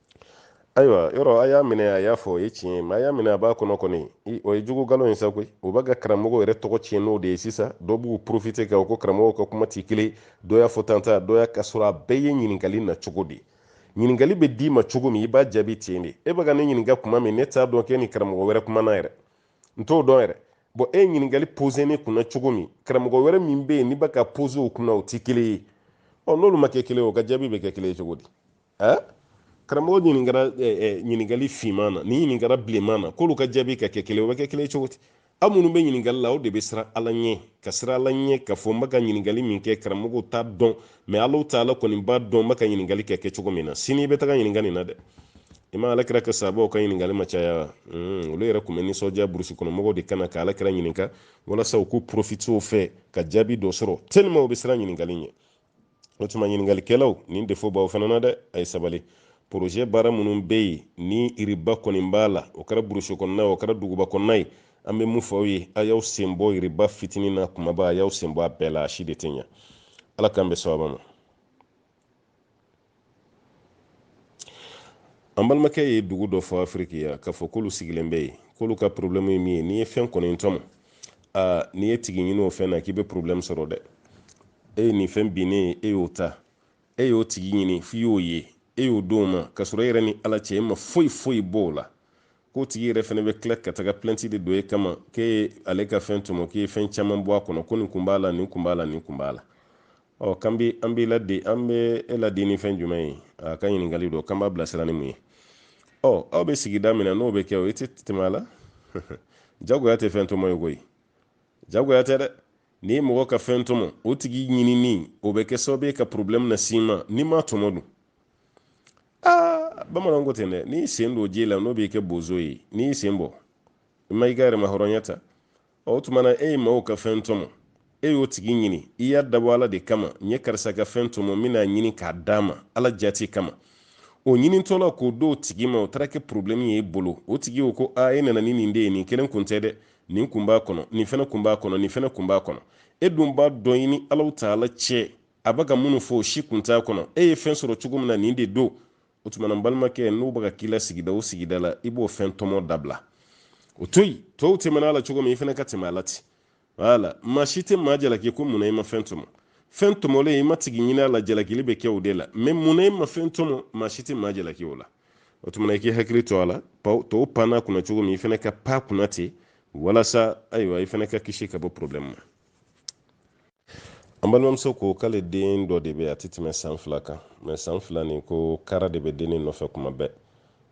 A: ayiwa yɔrɔ a y'a minɛ a y'a fɔ o ye tiɲɛ ye mɛ a y'a minɛ a b'a kɔnɔ kɔni o ye jugu galon ye sa koyi o b'a ka karamɔgɔ yɛrɛ tɔgɔ tiɲɛ n'o de ye sisan dɔw b'u porofite kɛ o ko karamɔgɔw ka kuma ti kelen dɔ y'a fɔ tan ta dɔ y'a k'a sɔrɔ a bɛɛ ye ɲininkali na cogo de ɲininkali bɛ d'i ma cogo min i b'a jaabi ten de e bɛ ka ne ɲininka kuma min ne t'a dɔn k'e ni karamɔgɔ wɛrɛ kumana yɛrɛ n t'o dɔn yɛrɛ bɔn e ye ɲininkali pose ne kunna cogo min karamɔgɔ wɛrɛ min bɛ yen n'i bɛ k'a pose o kunna o ti kelen ye ɔ n'olu ma kɛ kelen o ka jaabi bɛ kɛ kelen ye cogo di eh? karamɔgɔ ɲininkara ɲininkali finman na nin ɲininkara bilenman na k'olu ka jaabi ka kɛ kelen o bɛ kɛ kelen cogo di aw minnu bɛ ɲininkali la o de bɛ siran ala ɲɛ ka siran ala ɲɛ k'a fɔ n bɛ ka ɲininkali min kɛ karamɔgɔw t'a dɔn mɛ alahu taala kɔni b'a dɔn n bɛ ka ɲininkali kɛ kɛ cogo min na sini i bɛ taga ɲininka nin na dɛ i ma ala kira ka sabaw ka ɲininkali ma caya hmm, olu yɛrɛ tun bɛ nisɔndiya burusi kɔnɔmɔgɔw de ka na ka ala kira ɲininka walasa u k'u porofite o fɛ ka jaabi dɔ sɔrɔ tellement u bɛ siran ɲininkali ɲɛ o tuma ɲininkalikɛlaw nin defo b'aw fana na dɛ a ye sabali poroze baara minnu bɛ yen ni iriba kɔni b'a la o kɛra burusi kɔnɔna ye o kɛra duguba kɔnɔna ye an bɛ mun fɔ aw ye a y'aw sen bɔ iriba fitinin n'a kumaba a y'aw sen bɔ a bɛɛ la a si de tɛ ɲa ala k'an bɛn sawaba ma an balimakɛ ye dugu dɔ fɔ afiriki yan k'a fɔ k'olu sigilen bɛ yen k'olu ka porobilɛmu ye min ye n'i ye fɛn kɔni tɔmɔ aa n'i ye tigi ɲini o fɛn na k'i bɛ porobilɛmu sɔrɔ dɛ e ye nin fɛn binnen ye e y'o ta e y'o tigi ɲini f'i y'o ye e y'o d'o ma k'a sɔrɔ e yɛrɛ ni ala cɛ e ma foyi foyi bɔ o la k'o tigi yɛrɛ fɛnɛ bɛ tila ka taga plɛnti de don e kama k'e ye ale ka fɛn tɔmɔ k'i ye fɛn caman bɔ a kɔnɔ ko nin kun b'a la nin kun b'a la nin kun b'a la ɔ kan bi an b'i ladi an bɛ e ladi ni fɛn jumɛn ye a ka ɲininkali don k'an b'a bilasira ni mun ye ɔ aw bɛ sigida min na n'o bɛ kɛ o i tɛ tɛmɛ a la jagoya tɛ fɛn tɔmɔ ye koyi jagoya tɛ dɛ n'i ye mɔgɔ ka fɛn tɔmɔ o tigi ɲinini o bɛ kɛ sababu ye ka porobilɛmu na s'i ma n'i m'a tɔmɔ dun aa bamananw ko ten dɛ n'i sen don ji la n'o b'i kɛ bozo ye n'i y'i sen bɔ i ma i ka yɛrɛmahɔrɔnya ta o tuma na e ye maaw ka fɛn tɔmɔ e y'o tigi ɲini i y'a dabɔ ala de kama n ye karisa ka fɛn tɔmɔ n bɛn'a ɲini k'a d'a ma ala jati kama o ɲinitɔ la k'o d'o tigi ma o taara kɛ porobilɛmu ye e bolo o tigi y'o ko a e nana ni nin de ye nin kelen kun tɛ dɛ nin kun b'a kɔnɔ nin fɛnɛ kun b'a kɔnɔ nin fɛnɛ kun b'a kɔnɔ e dun b'a dɔn i ni alahu taala cɛ a bɛ ka minnu fɔ o si kun t'a kɔnɔ e ye fɛn sɔrɔ cogo min na nin de don o tuma na n balimakɛ n'u bɛ ka k'i la sigida o sigida la i b'o fɛn tɔmɔ dabila o to yen tɔw tɛmɛna a la cogo min i fɛnɛ ka tɛmɛ a la ten wala maa si tɛ maa jalaki ko mun na i ma fɛn tɔmɔ fɛn tɔmɔlen i m'a tigi ɲini a la jalakili bɛ kɛ o de la mɛ mun na i ma fɛn tɔmɔ maa si tɛ maa jalaki o la o tuma i k'i hakili to a la tɔw panna kunna cogo min i fɛnɛ ka pan kunna ten walasa ayiwa i fɛnɛ ka kisi ka bɔ problɛmu ma an balimamuso ko k'ale den dɔ de bɛ a tɛ tɛmɛ san fila kan mɛ san fila nin ko kara de bɛ dennin nɔfɛ kuma bɛɛ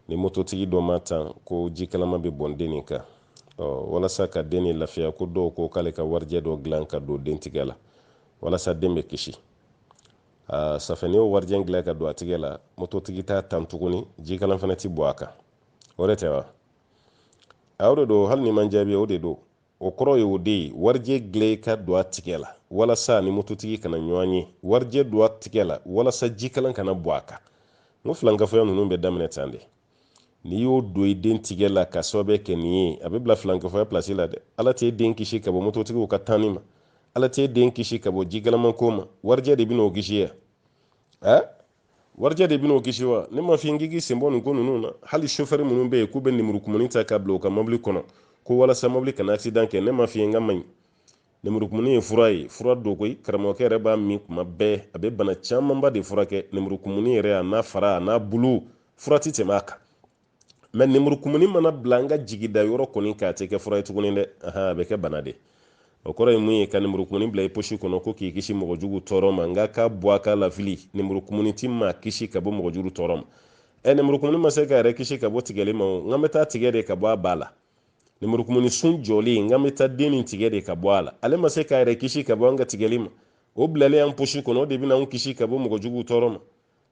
A: ni mototigi dɔ m'a tan ko ji kalama bɛ bɔn den nin kan walasa ka den nin lafiya ko dɔw ko k'ale ka warijɛ dɔ dilan ka don den tigɛ la walasa den bɛ kisi safɛ n'i y'o warijɛ dilan ka don a tigɛ la mototigi t'a tan tuguni ji kalan fana tɛ bɔn a kan o de tɛ wa a o de don hali n'i ma n jaabi o de don o kɔrɔ ye o de ye warijɛ gilan ka don a tigɛ la walasa a ni mototigi kana ɲɔgɔn ye warijɛ don a tigɛ la walasa jikalan kana bɔn a kan n ko filankafoya ninnu bɛ daminɛ tan de n'i y'o don i den tigɛ la ka sababu kɛ nin ye a bɛ bila filankafoya pilasi la dɛ ala t'e den kisi ka bɔ mototigiw ka tanni ma ala t'e den kisi ka bɔ jikalamanko ma warijɛ de bɛna o kisi ya warijɛ de bɛn'o kisi wa ne m'a f'i ye k'i sen bɔ nin ko ninnu na hali sofɛri minnu bɛ yen k'u bɛ nemurukumuni ta ka bila u ka mobili kɔnɔ ko walasa mobili kana accident kɛ ne m'a f'i ye k'a man ɲi nemurukumuni ye fura ye fura don koyi karamɔgɔkɛ yɛrɛ b'a min kuma bɛɛ a bɛ bana camanba de furakɛ nemurukumuni yɛrɛ a n'a fara a n'a bulu fura tɛ tɛmɛ a kan mɛ nemurukumuni mana bila an ka jigidayɔrɔ kɔni k'a tɛ kɛ fura ye tuguni dɛ a bɛ kɛ bana de o kɔrɔ ye mun ye ka nemurukumuni bila i posi kɔnɔ ko k'i kisi mɔgɔ jugu tɔɔrɔ ma n k'a k'a bɔ a k'a lafili nemurukumuni ti maa kisi ka bɔ mɔgɔ jugu tɔɔrɔ ma ɛ nemurukumuni ma se k'a yɛrɛ kisi ka bɔ tigɛli ma o n k'a bɛ taa tigɛ de ka bɔ a ba la nemurukumuni sun jɔlen n k'an bɛ taa den nin tigɛ de ka bɔ a la ale ma se k'a yɛrɛ kisi ka bɔ an ka tigɛli ma o bilalen an posi kɔnɔ o de bɛna an kisi ka bɔ mɔgɔ jugu tɔɔrɔ ma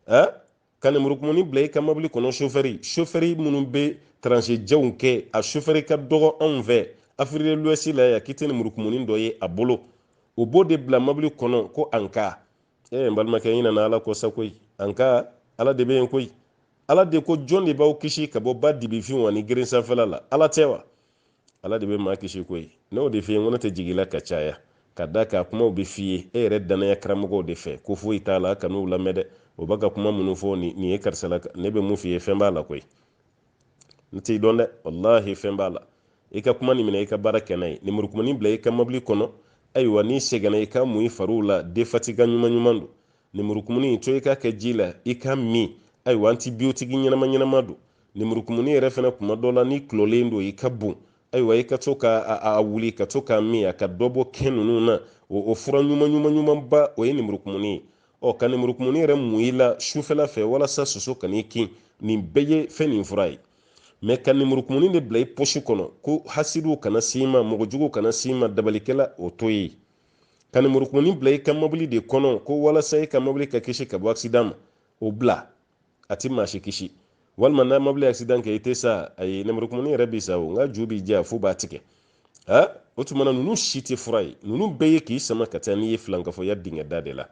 A: ɛ ka lemurukumuni bila i ka mɔbili kɔnɔ sofɛri sofɛri minnu bɛ trajet janw kɛ a sofɛri ka dɔgɔ anw fɛ afiriki de luwɛsi la yan k'i tɛ lemurukumuni dɔ ye a bolo o b'o de bila mɔbili kɔnɔ ko an ka ee n balimakɛ i ɲinana ala kɔ sa koyi an ka ala de bɛ yen koyi ala de ko jɔn de b'aw kisi ka bɔ ba dibifinw ani geren sanfɛla la ala tɛ wa ala de bɛ maa kisi koyi n'o de f'i ye n ko ne tɛ jigin la ka caya ka da k'a kumaw bɛɛ f'i ye e yɛrɛ dannaya karamɔgɔw de fɛ ko foyi t'a la kan'u lamɛn dɛ o b'a ka kuma minnu fɔ nin ye karisa la ne bɛ mun f'i ye fɛn b'a la koyi ne t'i dɔn dɛ walahi fɛn b'a la i ka kuma nin minɛ i ka baara kɛ n'a ye lemurukumuni bila i ka mɔbili kɔnɔ ayiwa n'i sɛgɛnna i k'a mun i fariw la défatigant ɲuman ɲuman don lemurukumuni to i k'a kɛ ji la i k'a min ayiwa antibiyotiki ɲɛnama ɲɛnama don lemurukumuni yɛrɛ fana kuma dɔ la n'i tɔlɔlen don i ka bon ayiwa i ka to ka a wuli ka to k'a min a ka dɔ bɔ kɛn ninnu na o fura ɲuman ɲuman ɲumanba o ye lemurukumuni ye ɔ ka lemurukumuni yɛrɛ mun i la sufɛla fɛ walasa soso kan'i kin nin bɛɛ ye fɛn nin fura ye mɛ ka lemurukumuni de bila i posi kɔnɔ ko hasidiw kana s'i ma mɔgɔ juguw kana s'i ma dabalikɛla o to yen ka nemurukumuni bila i ka mɔbili de kɔnɔ ko walasa i ka mɔbili ka kisi ka bɔ accident ma o bila a ti maa si kisi walima n'a mɔbili accident kɛ i tɛ sa ayi nemurukumuni yɛrɛ bi sa o nka ju bi ja f'u b'a tigɛ ha o tuma na ninnu si tɛ fura ye ninnu bɛɛ ye k'i sama ka taa n'i ye filankafɔya dingɛda de la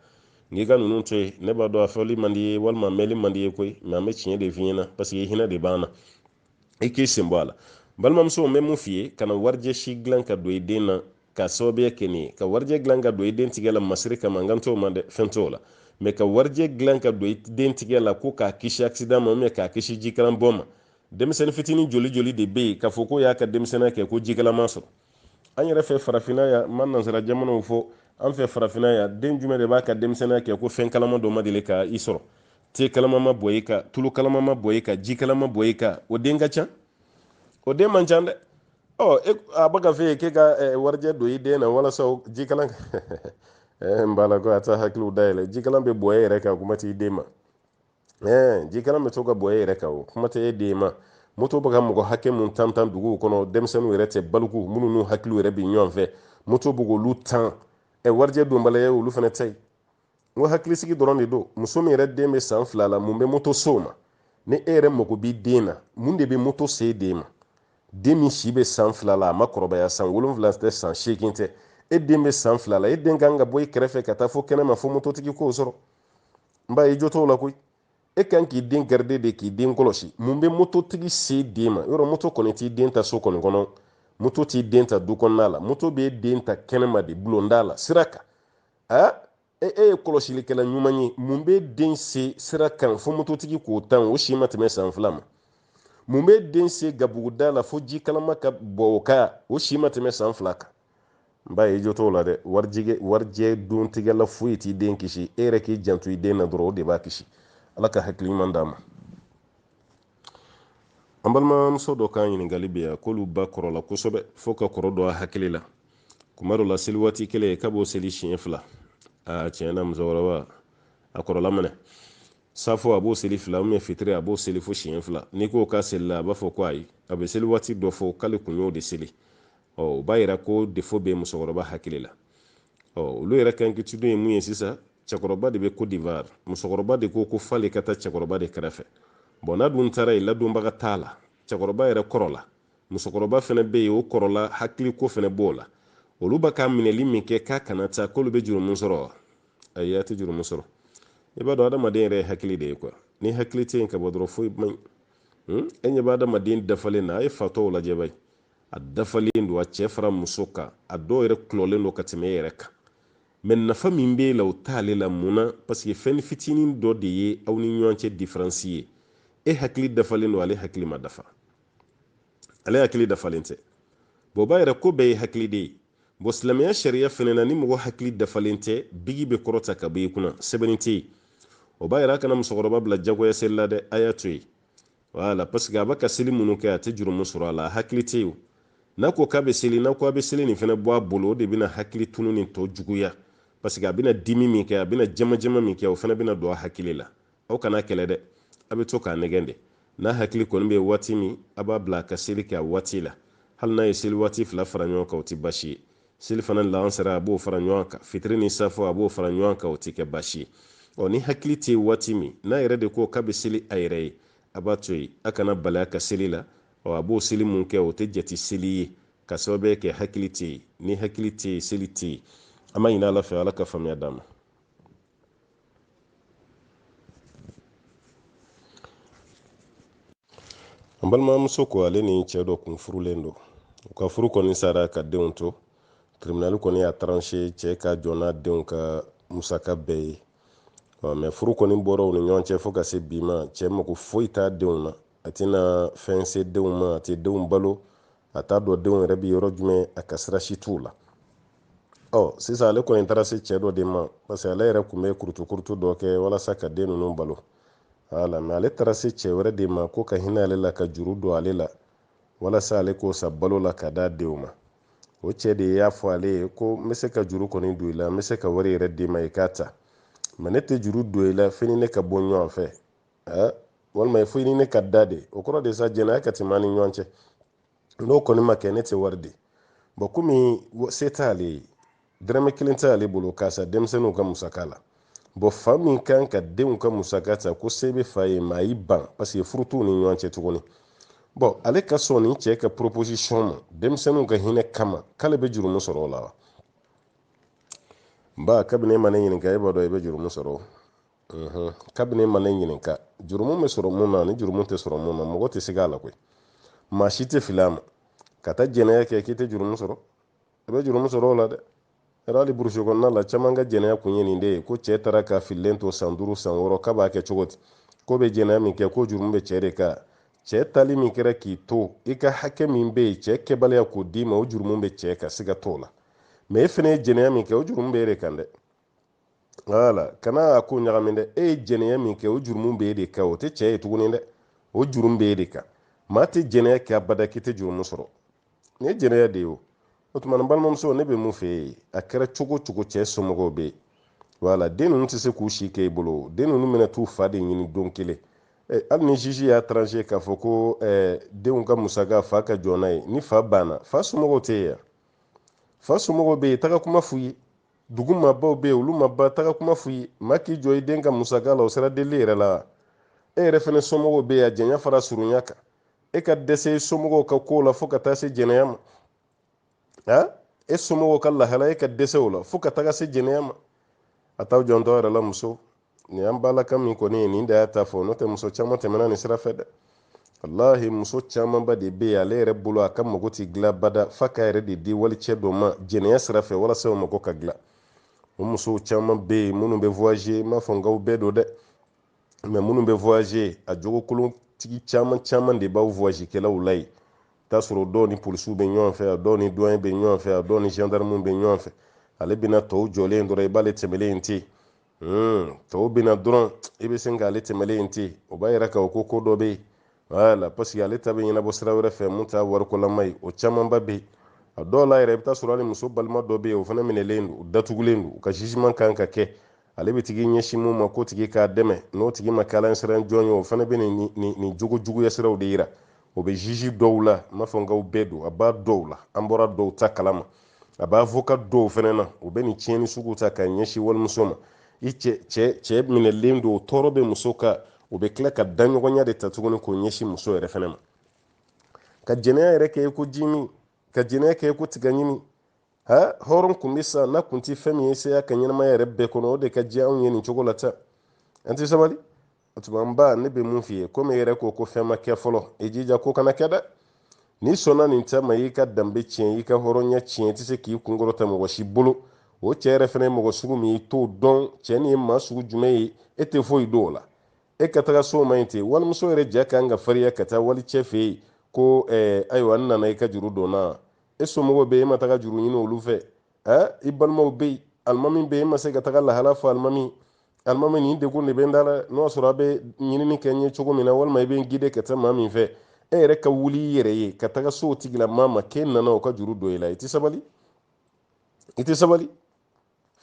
A: n'i ka ninnu to yen ne b'a dɔn a fɔli man d'i ye walima mɛli man d'i ye koyi mɛ an bɛ tiɲɛ de f'i ɲɛna paseke hinɛ de b'an na i k'i sen bɔ a la balimamuso n bɛ mun f'i ye kana warijɛ si dilan ka don i den na ka sababuya kɛ nin ye ka warijɛ dilan ka don i den tigɛ la masiri kama n kan t'o ma dɛ fɛn t'o la mɛ ka warijɛ dilan ka don i den tigɛ la ko k'a kisi accident ma k'a kisi jikalan bɔ ma denmisɛnnin fitinin joli joli de bɛ yen k'a fɔ k'o y'a ka denmisɛnninya kɛ ko jikalan m'a sɔrɔ an yɛrɛ fɛ farafinna yan n ma nansara jamanaw fɔ an fɛ farafinna yan den jumɛn de b'a ka denmisɛnninya kɛ ko fɛn kalama dɔ ma deli ka i sɔrɔ te kalama ma bɔ i kan tulu kalama ma bɔ i kan ji kalama bɔ i kan o den ka ca o den man ca dɛ ɔ e, a bɛ k'a f'e ye k'e ka eh, warijɛ don i den na walasa ji kalan eh, n b'a la ko a t'a hakiliw dayɛlɛ ji kalan bɛ bɔ e yɛrɛ kan kuma t'i den ma eh, jikalan bɛ to ka bɔ e yɛrɛ kan o kuma tɛ e den ma moto bɛ ka mɔgɔ hakɛ mun tan tan duguw kɔnɔ denmisɛnninw yɛrɛ tɛ baliku minnu n'u hakiliw yɛrɛ bɛ ɲɔgɔn fɛ moto bɛ k'olu tan ɛ warijɛ donbaliya ye olu fana ta ye n ko hakilisigi dɔrɔn de don muso min yɛrɛ den bɛ san fila la mun bɛ moto s'o ma ni e yɛrɛ mago b'i den na mun de bɛ moto se den ma den min si bɛ san fila la a ma kɔrɔbaya san wolonwula tɛ san seegin tɛ e den bɛ san fila la e den kan ka bɔ i kɛrɛfɛ ka taa fo kɛnɛma fo mototigi k'o sɔrɔ n b'a ye jo t'o la koyi e ka kan k'i den garide de k'i den kɔlɔsi mun bɛ mototigi se den ma yɔrɔ moto kɔni t'i den ta so kɔni kɔnɔ moto t'i den ta du kɔnɔna la moto b'e den ta kɛnɛma de bulonda la sira kan a e e ye kɔlɔsilikɛla ɲuman ye mun b'e den se sira kan fo mototigi k'o tan o si ma tɛmɛ san fila ma mun b'e den se gabuguda la fo ji kalama ka bɔn o kan o si ma tɛmɛ san fila kan n b'a ye jo t'o la dɛ warijɛ warijɛ don tɛgɛ la foyi t'i den kisi e yɛrɛ k'i janto i den na dɔrɔn o de b'a kisi ala ka hakili ɲuman d'a ma an balimamuso dɔ ka ɲininkali bɛ yan k'olu ba kɔrɔla kosɛbɛ fo ka kɔrɔ don a hakili la kuma dɔ la seli waati kelen k'a b'o seli siɲɛ fila aa tiɲɛ na musokɔrɔba a kɔrɔla minɛ safo a b'o seli fila ubiyɛn fitiri a b'o seli fo siɲɛ fila n'i ko k'a selila a b'a fɔ ko ayi a bɛ seli waati dɔ fɔ k'ale kun y'o de seli ɔ o b'a yira ko defo bɛ musokɔrɔba hakili la ɔ olu yɛrɛ ka inquiétude ye mun ye sisan cɛkɔrɔba de bɛ kodiwari musokɔrɔba de ko ko f'ale ka taa cɛkɔrɔba de kɛrɛfɛ bɔn n'a dun taara yen ladonbaga t'a la cɛkɔrɔba yɛrɛ kɔrɔla musokɔrɔba fana bɛ yen o kɔrɔla hakili ko fana b'o la olu b'a ka minɛli min kɛ k'a kana taa k'olu bɛ jurumu sɔrɔ wa ayi a tɛ jurumu sɔrɔ i b'a dɔn adamaden yɛrɛ ye hakili de ye kuwa ni hakili tɛ yen ka bɔ dɔrɔn foyi man ɲi hmm? e ɲɛ bɛ adamaden dafalen na a ye fatɔw lajɛ bani a dafalen don a cɛ fara muso kan a dɔw yɛrɛ kulɔlen don ka tɛmɛ e yɛrɛ kan mɛ nafa min b'e la o t'ale la mun na paseke fɛn fitinin dɔ de ye aw ni ɲɔgɔn cɛ diferansi ye e hakili dafalen don ale hakili ma dafa ale hakili dafalen tɛ bɔn b'a yira ko bɛɛ ye hakili de ye bɔn silamɛya sariya fɛnɛ na ni mɔgɔ hakili dafalen tɛ biki bɛ kɔrɔta ka bɔ i kunna sɛbɛnni tɛ yen o b'a yira a kana musokɔrɔba bila jagoya seli la dɛ a y'a to yen wala parce que a bɛ ka seli minnu kɛ a tɛ jurumu sɔrɔ a la a hakili tɛ yen n'a ko k'a bɛ seli n'a ko a bɛ seli nin fana bɔ a bolo o de bɛna hakili tununi tɔ juguya parce que a bɛna dimi min kɛ a bɛna jamajama min kɛ o fana bɛna don a hakili la aw kan'a kɛlɛ dɛ a bɛ to k'a nɛgɛn de n'a hakili kɔni bɛ waati min a b'a bila a ka seli kɛ a waati la hali n'a ye seli waati fila fara ɲɔgɔn kan o tɛ baasi ye selifana lansara a b'o fara ɲɔgɔn kan fitiri ni safo a b'o fara ɲɔgɔn kan o tɛ kɛ baasi ye ɔ ni hakili tɛ waati min n'a yɛrɛ de ko k'a bɛ seli a yɛrɛ ye a b'a to yen a kan'a bali a ka seli la ɔ a b'o seli min kɛ o tɛ jate seli ye ka sababuya kɛ hakili tɛ yen ni hakili tɛ yen seli tɛ yen an b'a ɲini ala fɛ ala ka faamuya d'a ma an balimamuso ko ale ni cɛ dɔ kun furulen don u ka furu kɔni sara ka denw to tribinali kɔni y'a taranse cɛ ka jɔ n'a denw ka musaka bɛɛ ye mɛ furu kɔni bɔra u ni ɲɔgɔn cɛ fo ka se bi ma cɛ mago foyi t'a denw na a tɛna fɛn se denw ma a tɛ denw balo a t'a dɔn denw yɛrɛ bɛ yɔrɔ jumɛn a ka sira si t'u la ɔ sisan ale kɔni taara se cɛ dɔ de ma parce que ale yɛrɛ tun bɛ kurutukurutu dɔ kɛ walasa ka den ninnu balo wala mɛ ale taara se cɛ wɛrɛ de ma k'o ka hinɛ ale la ka juru don ale la walasa ale k'o sa balo la ka d'a denw ma o cɛ de y'a fɔ ale ye ko n bɛ se ka juru kɔni don i la n bɛ se ka wari yɛrɛ d'i ma i k'a ta mɛ ne tɛ juru don i la f'i ni ne ka bɔ ɲɔgɔn fɛ eh, walima fo i ni ne ka da de o kɔrɔ de sa jɛnɛya ka tɛmɛ an ni ɲɔgɔn cɛ n'o kɔni ma kɛ ne tɛ wari di bɔn komi se t'ale ye dɔrɔmɛ kelen t'ale bolo k'a sa denmisɛnninw ka musaka la bɔn fa min kan ka denw ka musaka ta k'o se bɛ fa ye mɛ a y'i ban paseke furu t'u ni ɲɔgɔn cɛ tuguni bɔn ale ka sɔn nin cɛ ka proposition ma denmisɛnninw ka hinɛ kama k'ale bɛ jurumu sɔrɔ o la wa n ba kabini e ma ne ɲininka e b'a dɔn i bɛ jurumu sɔrɔ mhm. kabini e ma ne ɲininka jurumu bɛ sɔrɔ mun na ni jurumu tɛ sɔrɔ mun na mɔgɔ tɛ siga a la koyi maa si tɛ fili a ma ka taa jɛnɛya kɛ k'i tɛ jurumu sɔrɔ i bɛ jurumu sɔrɔ o la dɛ yɛrɛ hali burusi kɔnɔna la caman ka jɛnɛya kun ye nin de ye ko cɛ taara k'a fililen to san duuru san wɔɔrɔ k'a b'a kɛ cogo di k'o bɛ jɛnɛya min kɛ ko jurumu bɛ cɛ de kan cɛ taali min kɛra k'i to i ka hakɛ min bɛ yen cɛ kɛbaliya k'o d'i ma o jurumu bɛ cɛ kan siga t'o la mɛ e fana ye jɛnɛya min kɛ o jurumu bɛ e de kan dɛ wala kana a ko ɲagami dɛ e ye jɛnɛya min kɛ o jurumu bɛ e de kan o tɛ cɛ ye tuguni dɛ o jurumu bɛ e de kan maa tɛ jɛnɛya kɛ abada k'i tɛ jurumu sɔrɔ nin ye jɛnɛya de ye o o tuma na balimamuso ne bɛ mun f'e ye a kɛra cogo cogo cɛ somɔgɔw bɛ yen wala den ninnu tɛ se k'u si kɛ i bolo den ninnu bɛna t'u fa de ɲini don kelen eh, hali ni juge y'a tranché k'a fɔ ko eh, denw ka musaka fa ka jɔ n'a ye ni fa banna fa somɔgɔw tɛ yen fa somɔgɔw bɛ yen taga kuma f'u ye dugu maabaw bɛ yen olu ma ban taga kuma f'u ye maa k'i jɔ i den ka musaka la o sera deli yɛrɛ la e yɛrɛ fana somɔgɔw bɛ yen a janya fara surunya kan e ka dɛsɛ i somɔgɔw ka ko la fo ka taa se jɛnɛya ma a e somɔgɔw ka lahala e ka dɛsɛ o la fo ka taga se jɛnɛya ma a t'aw janto aw yɛrɛ la muso nin y'an balima min kɔni ye nin de y'a ta fɔ n'o tɛ muso caman tɛmɛna nin sira fɛ dɛ walahi muso camanba de bɛ yen ale yɛrɛ bolo a ka mago tɛ dilan bada f'a k'a yɛrɛ de di walicɛ dɔ ma jɛnɛya sira fɛ walasa o mago ka dilan o musow caman bɛ yen minnu bɛ voyager n m'a fɔ n k'aw bɛɛ don dɛ mɛ minnu bɛ voyager a jogokolontigi caman caman de b'aw voyagekɛlaw la yen t'a sɔrɔ dɔw ni polisiw bɛ ɲɔgɔn fɛ a dɔw ni duwaɲɛ bɛ ɲɔgɔn fɛ a dɔw ni gendarmew bɛ ɲɔgɔn fɛ ale bɛna tɔw jɔlen dɔrɔn i b'ale tɛmɛlen ye ten hmm, tɔw bɛna dɔrɔn i bɛ sin k'ale tɛmɛlen in ten o b'a yira k'a ko ko dɔ bɛ yen wala paseke ale ta bɛ ɲɛnabɔ sira wɛrɛ fɛ mun t'a warikolama ye o camanba bɛ yen a dɔw la yɛrɛ i bɛ taa sɔrɔ hali muso balima dɔ bɛ yen o fana minɛlen don u datugulen don u ka jugement kan ka kɛ ale bɛ tigi ɲɛsin mun ma ko tigi k'a dɛmɛ n'o tigi ma k'ala siran jɔn ye o fana bɛ nin nin nin jogo juguya siraw de yira o bɛ juge dɔw la n m'a fɔ n k'aw bɛɛ don a b'a dɔw la an bɔra dɔw ta kalama a b'avocat dɔw fana na u bɛ nin tiɲɛni sugu ta ka ɲɛsin walimuso ma i cɛ cɛ cɛ minɛlen don o tɔɔrɔ bɛ muso kan u bɛ tila ka daɲɔgɔnya de ta tuguni k'o ɲɛsin muso yɛrɛ fana ma ka jɛnɛya yɛrɛ kɛ ko ji min ka jɛnɛya kɛ ko tiga ɲimi ha hɔrɔn kun bɛ sa n'a kun tɛ fɛn min ye saya ka ɲɛnamaya yɛrɛ bɛɛ kɔnɔ o de ka di anw ye nin cogo la tan an tɛ sabali o tuma n ba ne bɛ mun f'i ye komi e yɛrɛ ko ko fɛn ma kɛ fɔlɔ i jija ko kana kɛ dɛ n'i sɔnna nin cɛ ma i ka danbe tiɲɛ i ka hɔrɔnya tiɲɛ i tɛ se k'i kun kɔrɔta mɔgɔ si bolo o cɛ yɛrɛ fana ye mɔgɔ sugu min i t'o dɔn cɛ nin ye maa sugu jumɛn ye e tɛ foyi dɔn o la e ka taga s'o ma nin ten walimuso yɛrɛ ja kan ka fariya ka taa wali cɛ fɛ yen ko eh, ayiwa n nana i ka juru don n na e somɔgɔw bɛ yen e ma taga juru ɲini olu fɛ ɛ i balimaw bɛ yen alimami bɛ yen e ma se ka taga lahala fɔ alimami alimami nin degun de bɛ n da la n'o y'a sɔrɔ a bɛ ɲinini kɛ n ye cogo min na walima i bɛ n gide ka taa maa min fɛ e yɛrɛ ka wuli i yɛrɛ ye ka taga se o tigilamaa ma k'e nana o ka juru don i la i tɛ sabali i tɛ sabali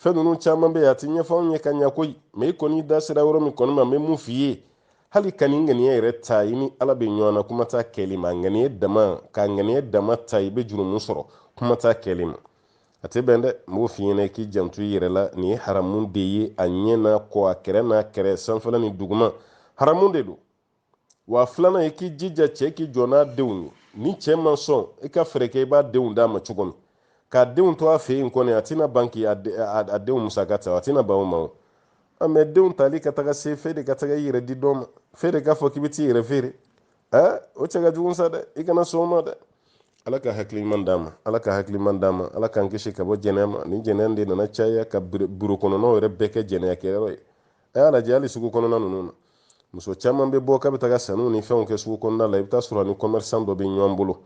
A: fɛn ninnu caman bɛ yen a tɛ ɲɛfɔ anw ye ka ɲɛ koyi mɛ i kɔni da sera yɔrɔ min kɔni ma n bɛ mun f'i ye hali ka nin ŋaniya yɛrɛ ta i ni ala bɛ ɲɔgɔn na kuma t'a kɛli ma ŋaniya dama ka ŋaniya dama ta i bɛ jurumu sɔrɔ kuma t'a kɛli ma a tɛ bɛn dɛ n b'o f'i ɲɛna i k'i janto i yɛrɛ la nin ye haramu de ye a ɲɛ n'a kɔ a kɛrɛ n'a kɛrɛ sanfɛla ni duguma haramu de don wa filanan i k'i jija cɛ k'i jɔ n'a denw ye ni cɛ ma sɔn i ka fɛɛrɛ kɛ i b'a denw d'a ma cogo min k'a denw to a fɛ yen kɔni a tɛna ban k'i a denw musaka ta a tɛna ban o ma o mɛ denw tali ka taga se fɛ de ka taga i yɛrɛ di dɔ ma fɛ de k'a fɔ k'i bɛ t'i yɛrɛ feere aa o cɛ ka jugu sa dɛ i kana sɔn o ma dɛ ala ka hakili ɲuman d'a ma ala ka hakili ɲuman d'a ma ala k'an kisi ka bɔ jɛnɛya ma nin jɛnɛya de nana caya ka biro kɔnɔnaw yɛrɛ bɛɛ kɛ jɛnɛya kɛyɔrɔ ye a y'a lajɛ hali sugu kɔnɔna ninnu na muso caman bɛ bɔ k'a bɛ taga sanniw ni fɛnw kɛ sugu kɔnɔna la i bɛ taa sɔrɔ a ni kɔmɛrisan dɔ bɛ ɲɔgɔn bolo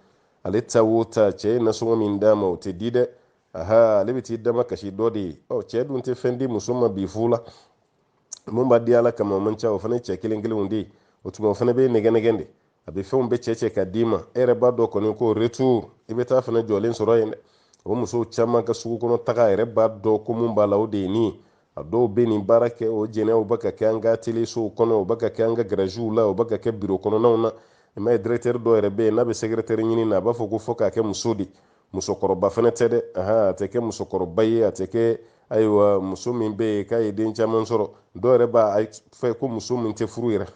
A: ale taa wo taa cɛ ye nasɔngɔ min d'a ma o tɛ di dɛ aha ale bɛ t'i damakasi dɔ de ye ɔ cɛ dun tɛ fɛn di muso ma bi fu la mun b'a di ala kama o man ca o fana ye cɛ kelen kelenw de ye o tuma o fana bɛ nɛgɛ nɛgɛ de a bɛ fɛnw bɛɛ cɛ cɛ ka d'i ma e yɛrɛ b'a dɔn kɔni ko retour i bɛ taa fana jɔlen sɔrɔ yen dɛ o musow caman ka sugu kɔnɔ taga yɛrɛ b'a dɔn ko mun b'a la o de ye nin ye a dɔw bɛ nin baara kɛ o jɛnɛ o bɛ ka kɛ an ka telesow kɔnɔ o bɛ ka kɛ an ka garaziw la o bɛ ka kɛ biro kɔnɔnaw na i m'a ye dɛrɛtɛri dɔ yɛrɛ bɛ yen n'a bɛ sɛgɛrɛtɛri ɲini na a b'a fɔ ko fɔ k'a kɛ muso de musokɔrɔba fana tɛ dɛ a tɛ kɛ musokɔrɔba ye a tɛ kɛ ayiwa muso min bɛ yen k'a ye den caman sɔrɔ dɔw yɛrɛ b'a fɛ ko muso min tɛ furu yɛrɛ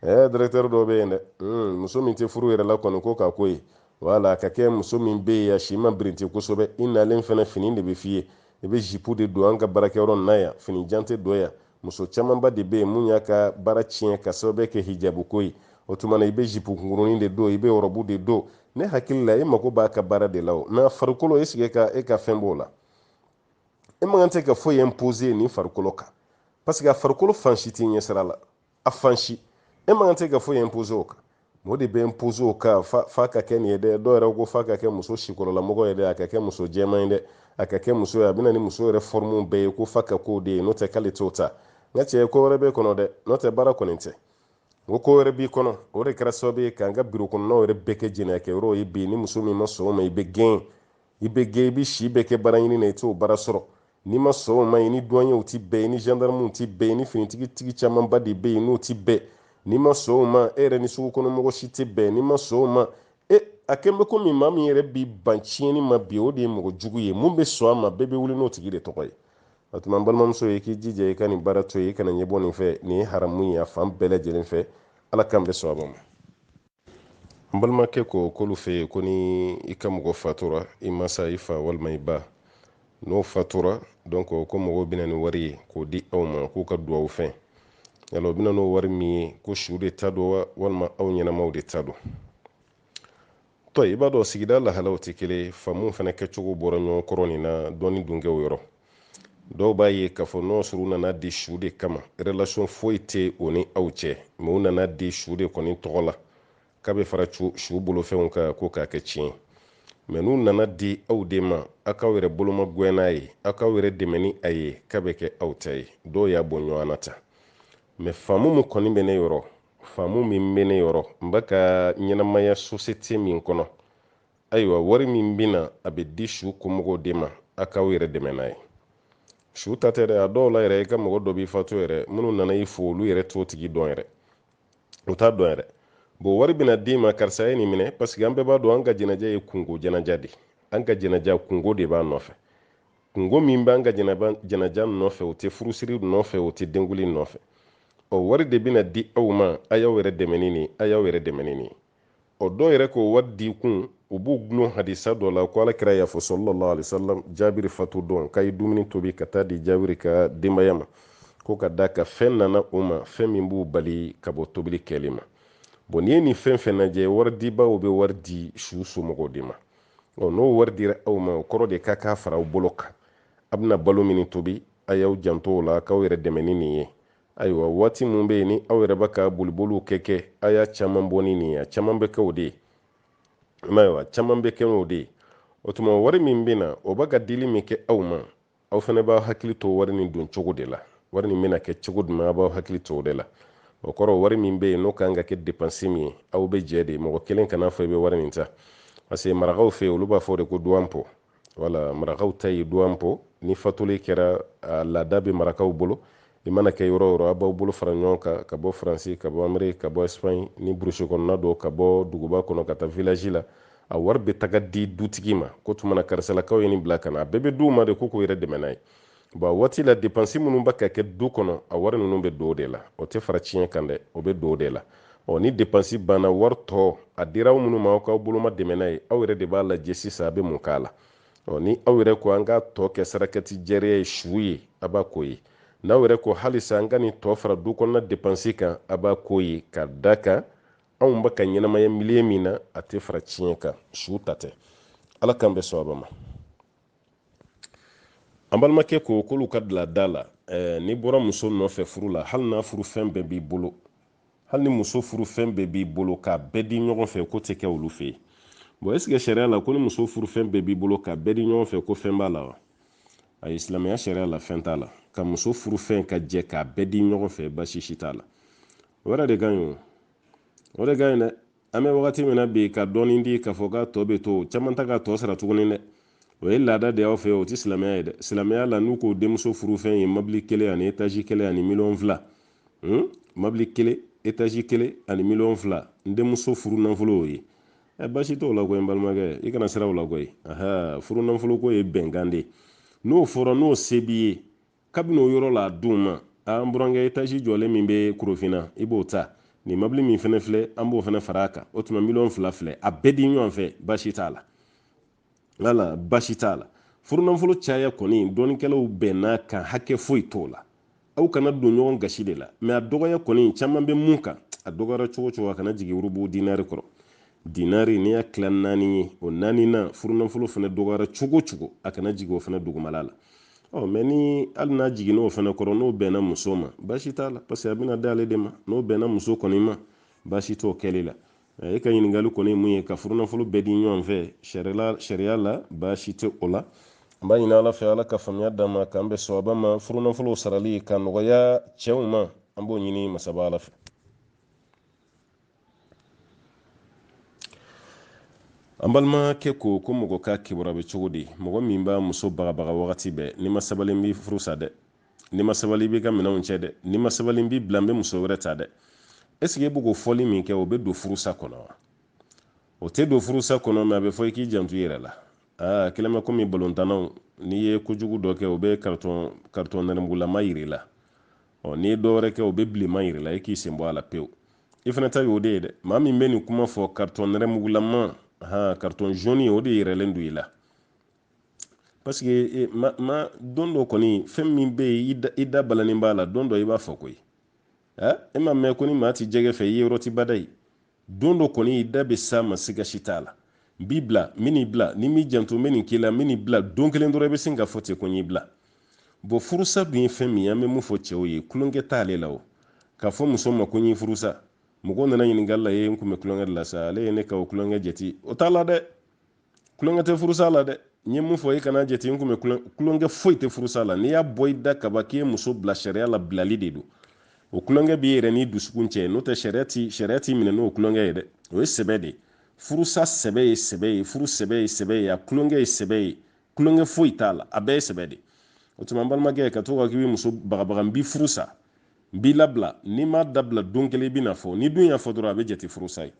A: ɛɛ dɛrɛtɛri dɔ bɛ yen dɛ hmm, muso min tɛ furu yɛrɛ la kɔni ko k'a k'o ye wala a ka kɛ muso min bɛ yen a si ma birinti kosɛbɛ i nalen fana fini de bɛ f'i ye i bɛ zipu de don an ka baarakɛyɔrɔ nin na yan fini jan tɛ don yan muso camanba de bɛ yen mun y'a ka baara tiɲɛ ka sababu kɛ hijabu ko ye o tuma na i bɛ zipu kunkurunin de don i bɛ ɔrɔbu de don ne hakili la e mago b'a ka baara de la o mɛ farikolo est-ce que e ka fɛn b'o la e man kan tɛ ka foyi impose nin farikolo kan parce que a farikolo fan si t'i ɲɛsira la a fan si e man kan tɛ ka foyi impose o kan o de bɛ impose o kan f'a ka kɛ nin ye dɛ dɔw yɛrɛ ko f'a ka kɛ muso sikɔrɔlamɔgɔ ye dɛ a ka kɛ muso jɛman ye dɛ a ka kɛ muso ye a bɛ na ni muso yɛrɛ fɔrmuw bɛɛ ye ko f'a ka k'o de ye n'o tɛ k'ale t'o ta n ka cɛ ko wɛrɛ b'e kɔnɔ dɛ n'o tɛ baara kɔni tɛ n ko ko wɛrɛ b'i kɔnɔ o de kɛra sababu ye k'an ka biro kɔnɔnaw yɛrɛ bɛɛ kɛ jɛnɛyakɛyɔrɔw ye bi ni muso min ma sɔn o ma i bɛ gɛn i bɛ gɛn i bɛ si bɛɛ kɛ baara ɲini na i t'o baara sɔrɔ n'i ma sɔn o ma i ni duwanyew ti bɛn i ni gendarmew ti bɛn i ni finitigi tigi camanba de bɛ yen n'o ti bɛn n'i ma sɔn o ma e yɛrɛ ni sugu kɔnɔ mɔgɔ si tɛ bɛn n'i ma sɔn o ma e a kɛn bɛ komi maa min yɛrɛ b'i ban tiɲɛni ma bi o de ye mɔgɔ jugu ye mun bɛ sɔn a ma bɛɛ bɛ wuli n'o tigi de tɔgɔ ye o tuma n balimamuso i k'i jija i ka nin baara to yen i kana ɲɛbɔ nin fɛ nin ye haramu ye a fan bɛɛ lajɛlen fɛ ala k'an bɛɛ sɔn a ma n balimakɛ ko k'olu fɛ yen ko ni i ka mɔgɔ fatura i masa i fa walima i ba n'o fatura donc ko mɔgɔw bɛ na ni wari ye k'o di aw ma k'u ka duwawu fɛn yala o bɛ na n'o wari min ye ko su de ta don wa walima aw ɲɛnamaw de ta don tɔ i b'a dɔn sigida lahalaw tɛ kelen faamu fana kɛcogo bɔra ɲɔgɔn kɔrɔ nin na dɔɔni dunkɛw yɔrɔ dɔw b'a ye k'a fɔ n'o sɔrɔ u nana di su de kama relation foyi tɛ o ni aw cɛ mɛ u nana di su de kɔni tɔgɔ la k'a bɛ fara su bolofɛnw kan ko k'a kɛ tiɲɛ ye mɛ n'u nana di aw de ma aw k'aw yɛrɛ bolomagɛn n'a ye aw k'aw yɛrɛ dɛmɛ ni a ye k'a bɛ kɛ aw ta ye dɔw y'a bɔ ɲɔgɔn na tan mɛ faamu min kɔni bɛ ne yɔrɔ faamu min bɛ ne yɔrɔ n bɛ ka ɲɛnamaya sosiyete min kɔnɔ ayiwa wari min bɛ na a bɛ di su kɔmɔgɔw de ma aw k'aw yɛrɛ dɛmɛ n'a ye su ta tɛ dɛ a dɔw la yɛrɛ i ka mɔgɔ dɔ bɛ fatu yɛrɛ minnu nana i fo olu yɛrɛ t'o tigi dɔn yɛrɛ u t'a dɔn yɛrɛ bon wari bɛna d'i ma karisa ye nin minɛ paseke an bɛɛ b'a dɔn an ka jɛnɛja ye kunko jɛnɛja de an ka jɛnɛja kunko de b'a nɔfɛ kunko min b'an ka jɛnɛja nɔfɛ o tɛ furusiri nɔfɛ o tɛ denkunli nɔfɛ ɔ wari de bɛna di aw ma a y'aw yɛrɛ dɛmɛ ni nin a y'aw yɛrɛ dɛmɛ ni nin o dɔw yɛrɛ k'o wari di kun u b'u gulon hadisa dɔ la ko alakira y'a fɔ sallallahu alaihi wasallam jabiri fatu don k'a ye dumuni tobi ka taa di jabiri ka denbaya ma ko ka d'a kan fɛn nana u ma fɛn min b'u bali ka bɔ tobili kɛli ma bon n'i ye nin fɛn fɛn lajɛ wari dibaw bɛ wari di su somɔgɔw de ma ɔ n'o wari dira aw ma o kɔrɔ de ka k'a fara aw bolo kan a bɛna balo min tobi a y'aw janto o la k'aw yɛrɛ dɛmɛ ni nin ye ayiwa waati min bɛ yen ni aw yɛrɛ bɛ ka boliboliw kɛ kɛ a y'a caman bɔ ni nin ye a caman bɛ kɛ o de ye ayiwa caman bɛ kɛ o de ye o tuma wari min bɛ na o bɛ ka dili min kɛ aw ma aw fana b'aw hakili to wari nin don cogo de la wari nin bɛna kɛ cogo jumɛn aw b'aw hakili to o de la o kɔrɔ wari min bɛ yen n'o kan ka kɛ depansi min ye aw bɛ jɛ de mɔgɔ kelen kan'a fɔ i bɛ wari nin ta parce que marakaw fɛ yen olu b'a fɔ o de ko duwanpo wala marakaw ta ye duwanpo ni fatuli kɛra a laada bɛ marakaw bolo i mana kɛ yɔrɔ o yɔrɔ a b'aw bolo fara ɲɔgɔn kan ka bɔ faransi ka bɔ ameriki ka bɔ espagne ni burusi kɔnɔna don ka bɔ duguba kɔnɔ ka taa vilaji la a wari bɛ taga di dutigi ma ko tuma na karisalakaw ye nin bila ka na a bɛɛ bɛ di u ma de ko k'u yɛrɛ dɛmɛ n'a ye bon a waati la depansi minnu bɛ ka kɛ du kɔnɔ a wari ninnu bɛ don o de la o tɛ fara tiɲɛ kan dɛ o bɛ don o de la ɔ ni depansi banna wari tɔ a dira aw minnu ma aw k'aw boloma dɛmɛ n'a ye aw yɛrɛ de b'a lajɛ sisan a bɛ mun k'a la ɔ ni aw yɛrɛ ko an k'a tɔ kɛ sarakati jariya ye su ye a b'a k'o ye n'aw yɛrɛ ko halisa an ka nin tɔ fara du kɔnɔna depansi kan a b'a k'o ye ka d'a kan anw bɛ ka ɲɛnamaya miliye min na a tɛ fara tiɲɛ kan su ta tɛ ala k'an bɛɛ sɔn a ma an balimakɛ ko k'olu ka bi laada la eh, n'i bɔra muso nɔfɛ furu la hali n'a furu fɛn bɛɛ b'i bolo hali ni muso furu fɛn bɛɛ b'i bolo k'a bɛɛ di ɲɔgɔn fɛ k'o tɛ kɛ olu fɛ yen bon est-ce que sariya la ko ni muso furu fɛn bɛɛ b'i bolo k'a bɛɛ di ɲɔgɔn fɛ ko fɛn b'a la wa ayi silamɛya sariya la fɛn t'a la ka muso furu fɛn lajɛ k'a bɛɛ di ɲɔgɔn fɛ basi si t'a la o yɛrɛ de ka ɲi o o de ka ɲi dɛ an bɛ wagati min na bi ka dɔɔni di k'a fɔ k'a tɔ bɛ to caman tɛ k'a tɔ sara tuguni dɛ o ye laada de y'aw fɛ o tɛ silamɛya ye dɛ silamɛya la n'u ko denmuso furu fɛn ye mabili kelen ani etazi kelen ani miliyɔn fila hmm? mabili kelen etazi kelen ani miliyɔn fila n denmuso furu nafolo y'o ye ɛ basi t'o la koyi n balimakɛ i kana siran o la koyi furu nafolo ko ye bɛnkan de ye n'o fɔra n'o se b'i ye kabini o yɔrɔ la a d'u ma a n burankɛ etazi jɔlen min bɛ korofina i b'o ta nin mabili min fana filɛ an b'o fana fara a kan o tuma miliyɔn fila filɛ a bɛɛ di ɲɔgɔn fɛ baasi t'a la wala baasi t'a la furunafolo caya kɔni dɔnnikɛlaw bɛnn'a kan hakɛ foyi t'o la aw kana don ɲɔgɔn gasi de la mɛ a dɔgɔya kɔni caman bɛ min kan a dɔgɔyara cogo o cogo a kana jigin urubu dinari kɔrɔ dinari n'i y'a tila naani ye o naani na furunafolo fana dɔgɔyara cogo cogo a kana jigin o fana dugumala la ɔ mɛ ni hali n'a jiginna o fana kɔrɔ n'o bɛnna muso ma baasi t'a la parce que a bɛna d'ale de ma n'o bɛnna muso kɔni ma baasi t'o kɛli la e ka ɲininkali kɔni ye mun ye ka furunafolo bɛɛ di ɲɔgɔn fɛ sariya la baasi tɛ o la an b'a ɲini ala fɛ ala ka faamuya d'an ma k'an bɛn sawaba ma furunafolo sarali ka nɔgɔya cɛw ma an b'o ɲini masaba ala fɛ an balimakɛ ko ko mɔgɔ ka kibaruya bɛ cogo di mɔgɔ min b'a muso bagabaga wagati bɛɛ n'i ma sabali n b'i furusa dɛ n'i ma sabali n b'i ka minɛnw cɛ dɛ n'i ma sabali n b'i bila n bɛ muso wɛrɛ ta dɛ est-ce que e bɛ k'o fɔli min kɛ o bɛ don furusa kɔnɔ wa o tɛ don furusa kɔnɔ mɛ a bɛ fɔ i k'i janto i yɛrɛ la aa kɛlen bɛ komi balontannaw n'i ye kojugu dɔ kɛ o bɛ karitɔn nɛrɛmugulama yir'i la ɔ n'i ye dɔ wɛrɛ kɛ o bɛ bilenman yir'i la i k'i sen bɔ a la pewu i fana ta y'o de ye dɛ maa min bɛ nin kuma fɔ karitɔn nɛrɛmugulama han karitɔn jaune o de yiralen don i la parce que e, ma, ma don dɔ kɔni fɛn min bɛ yen i da balannen b'a la don dɔ i b'a fɔ koyi ɛ e ma mɛn ko ni maa tɛ jɛgɛ fɛ i yeyɔrɔ ti bada ye don dɔ kɔni i da bɛ s'a ma siga si t'a la n b'i bila n bɛn'i bila n'i m'i janto n bɛ nin k'i la n bɛn'i bila don kelen dɔrɔn i bɛ sin ka fɔ ten ko n y'i bila bon furusa dun ye fɛn min ye an bɛ mun fɔ cɛw ye tulonkɛ t'ale la o k'a fɔ muso ma ko n y'i furusa mɔgɔw nana ɲininkali la ye n kun bɛ tulonkɛ de la sa ale ye ne ka o tulonkɛ jate o t'a la dɛ tulonkɛ tɛ furusa la dɛ n ye mun fɔ i kana jate n kun bɛ tulonkɛ foyi tɛ furusa la n'i y'a bɔ i da kaban k'i ye muso bila sariya la bilali de don o tulonkɛ b'i yɛrɛ n'i dusukun cɛ n'o tɛ sariya ti sariya t'i minɛ n'o tulonkɛ ye dɛ o ye sɛbɛ de ye furusa sɛbɛ ye sɛbɛ ye furu sɛbɛ ye sɛbɛ ye a tulonkɛ ye sɛbɛ ye tulonkɛ foyi t'a la a bɛɛ ye sɛbɛ de o tuma n balimakɛ ka to ka k'i bɛ muso bagabaga n b'i furusa n b'i labila n'i m'a dabila don kelen i bɛn'a fɔ n'i dun y'a fɔ dɔrɔn a bɛ jate furusa ye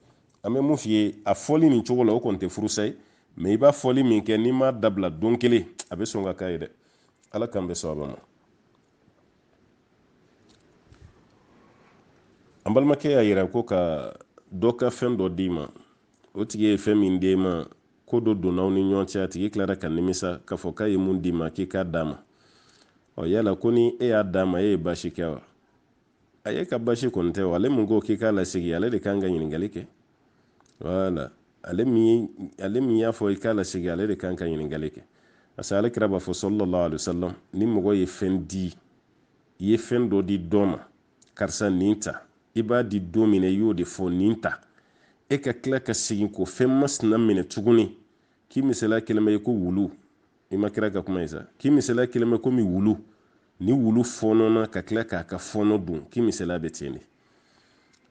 A: an bɛ mun f'i ye a fɔli nin cogo la o kɔni tɛ furusa ye mɛ i b'a fɔli min kɛ n'i m'a dabila don kelen a bɛ sɔn ka k'a ye dɛ ala k'an bɛn sawaba ma an balimakɛ y'a yira ko ka dɔ ka fɛn dɔ d'i ma o tigi ye fɛn min d'e ma ko dɔ donna aw ni ɲɔgɔn cɛ a tigi tilara ka nimisa k'a fɔ k'a ye mun d'i ma k'i k'a d'a ma ɔ yala ko ni e y'a d'a ma e ye baasi kɛ wa ayi e ka baasi kɔni tɛ wa ale min ko k'i k'a lasegin ale de kan ka ɲininkali kɛ wala ale min y'a fɔ i k'a lasegin ale de kan ka ɲininkali kɛ parce que ale kira b'a fɔ sallallahu alaihi wasallam ni mɔgɔ ye fɛn di i ye fɛn dɔ di dɔ ma karisa nin ta i b'a di don min na i y'o de fɔ nin ta e ka tila ka segin k'o fɛn masina minɛ tuguni k'i misaliya kelen bɛ ko wulu i ma kira ka kuma ye sa k'i misaliya kelen bɛ komi wulu ni wulu fɔɔnɔna ka tila k'a ka fɔɔnɔ dun k'i misaliya bɛ ten de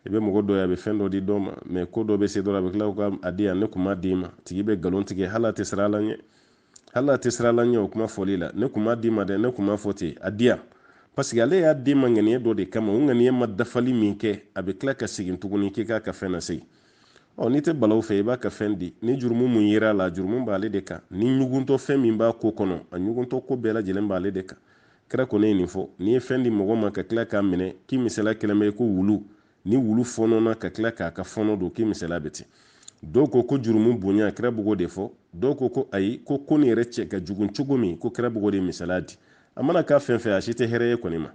A: i bɛ mɔgɔ dɔ ye a bɛ fɛn dɔ di dɔ ma mɛ ko dɔ bɛ se dɔrɔn a bɛ tila k'a di yan ne kun m'a d'i ma tigi bɛ nkalon tigɛ hali a tɛ siran ala ɲɛ hali a tɛ siran ala ɲɛ o kuma fɔli la ne kun m'a d'i ma dɛ ne kun m'a fɔ ten a di yan paseke ale y'a d'i ma ŋaniya dɔ de kama o ŋaniya ma dafali min kɛ a bɛ tila ka segin tuguni k'i k'a ka fɛn nasegin ɔ n'i tɛ balaw fɛ i b'a ka fɛn di ni jurumu min yera a la jurumu b'ale de kan ni ɲuguntɔ fɛn min b'a ko kɔnɔ a ɲuguntɔ ko bɛɛ lajɛlen b'ale de kan kira kɔni ye nin fɔ n'i ye fɛn di mɔgɔ ma ka tila k'a minɛ k'i misaliya kelen bɛ ko wulu ni wulu fɔnɔna ka tila k'a ka fɔnɔ dun k'i misaliya bɛ ten dɔw ko ko jurumu bonya kira b'o de fɔ dɔw ko ko ayi ko ko nin yɛrɛ cɛ ka jugun cogo min ko kira b'o de misaliya di a mana kɛ fɛn fɛn a si tɛ hɛrɛ ye kɔni ma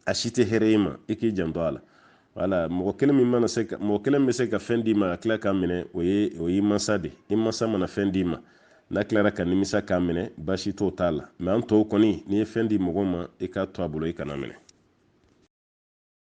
A: a si tɛ hɛrɛ ye ma i k'i janto a la wala mɔgɔ kelen min mana se ka mɔgɔ kelen bɛ se ka fɛn d'i ma a tila k'a minɛ o ye o y'i mansa de i mansa mana fɛn d'i ma n'a tilara ka nimisa k'a minɛ baasi t'o ta la mɛ an tɔw kɔni n'i ye fɛn di mɔgɔ ma i k'a to a bolo i kan'a minɛ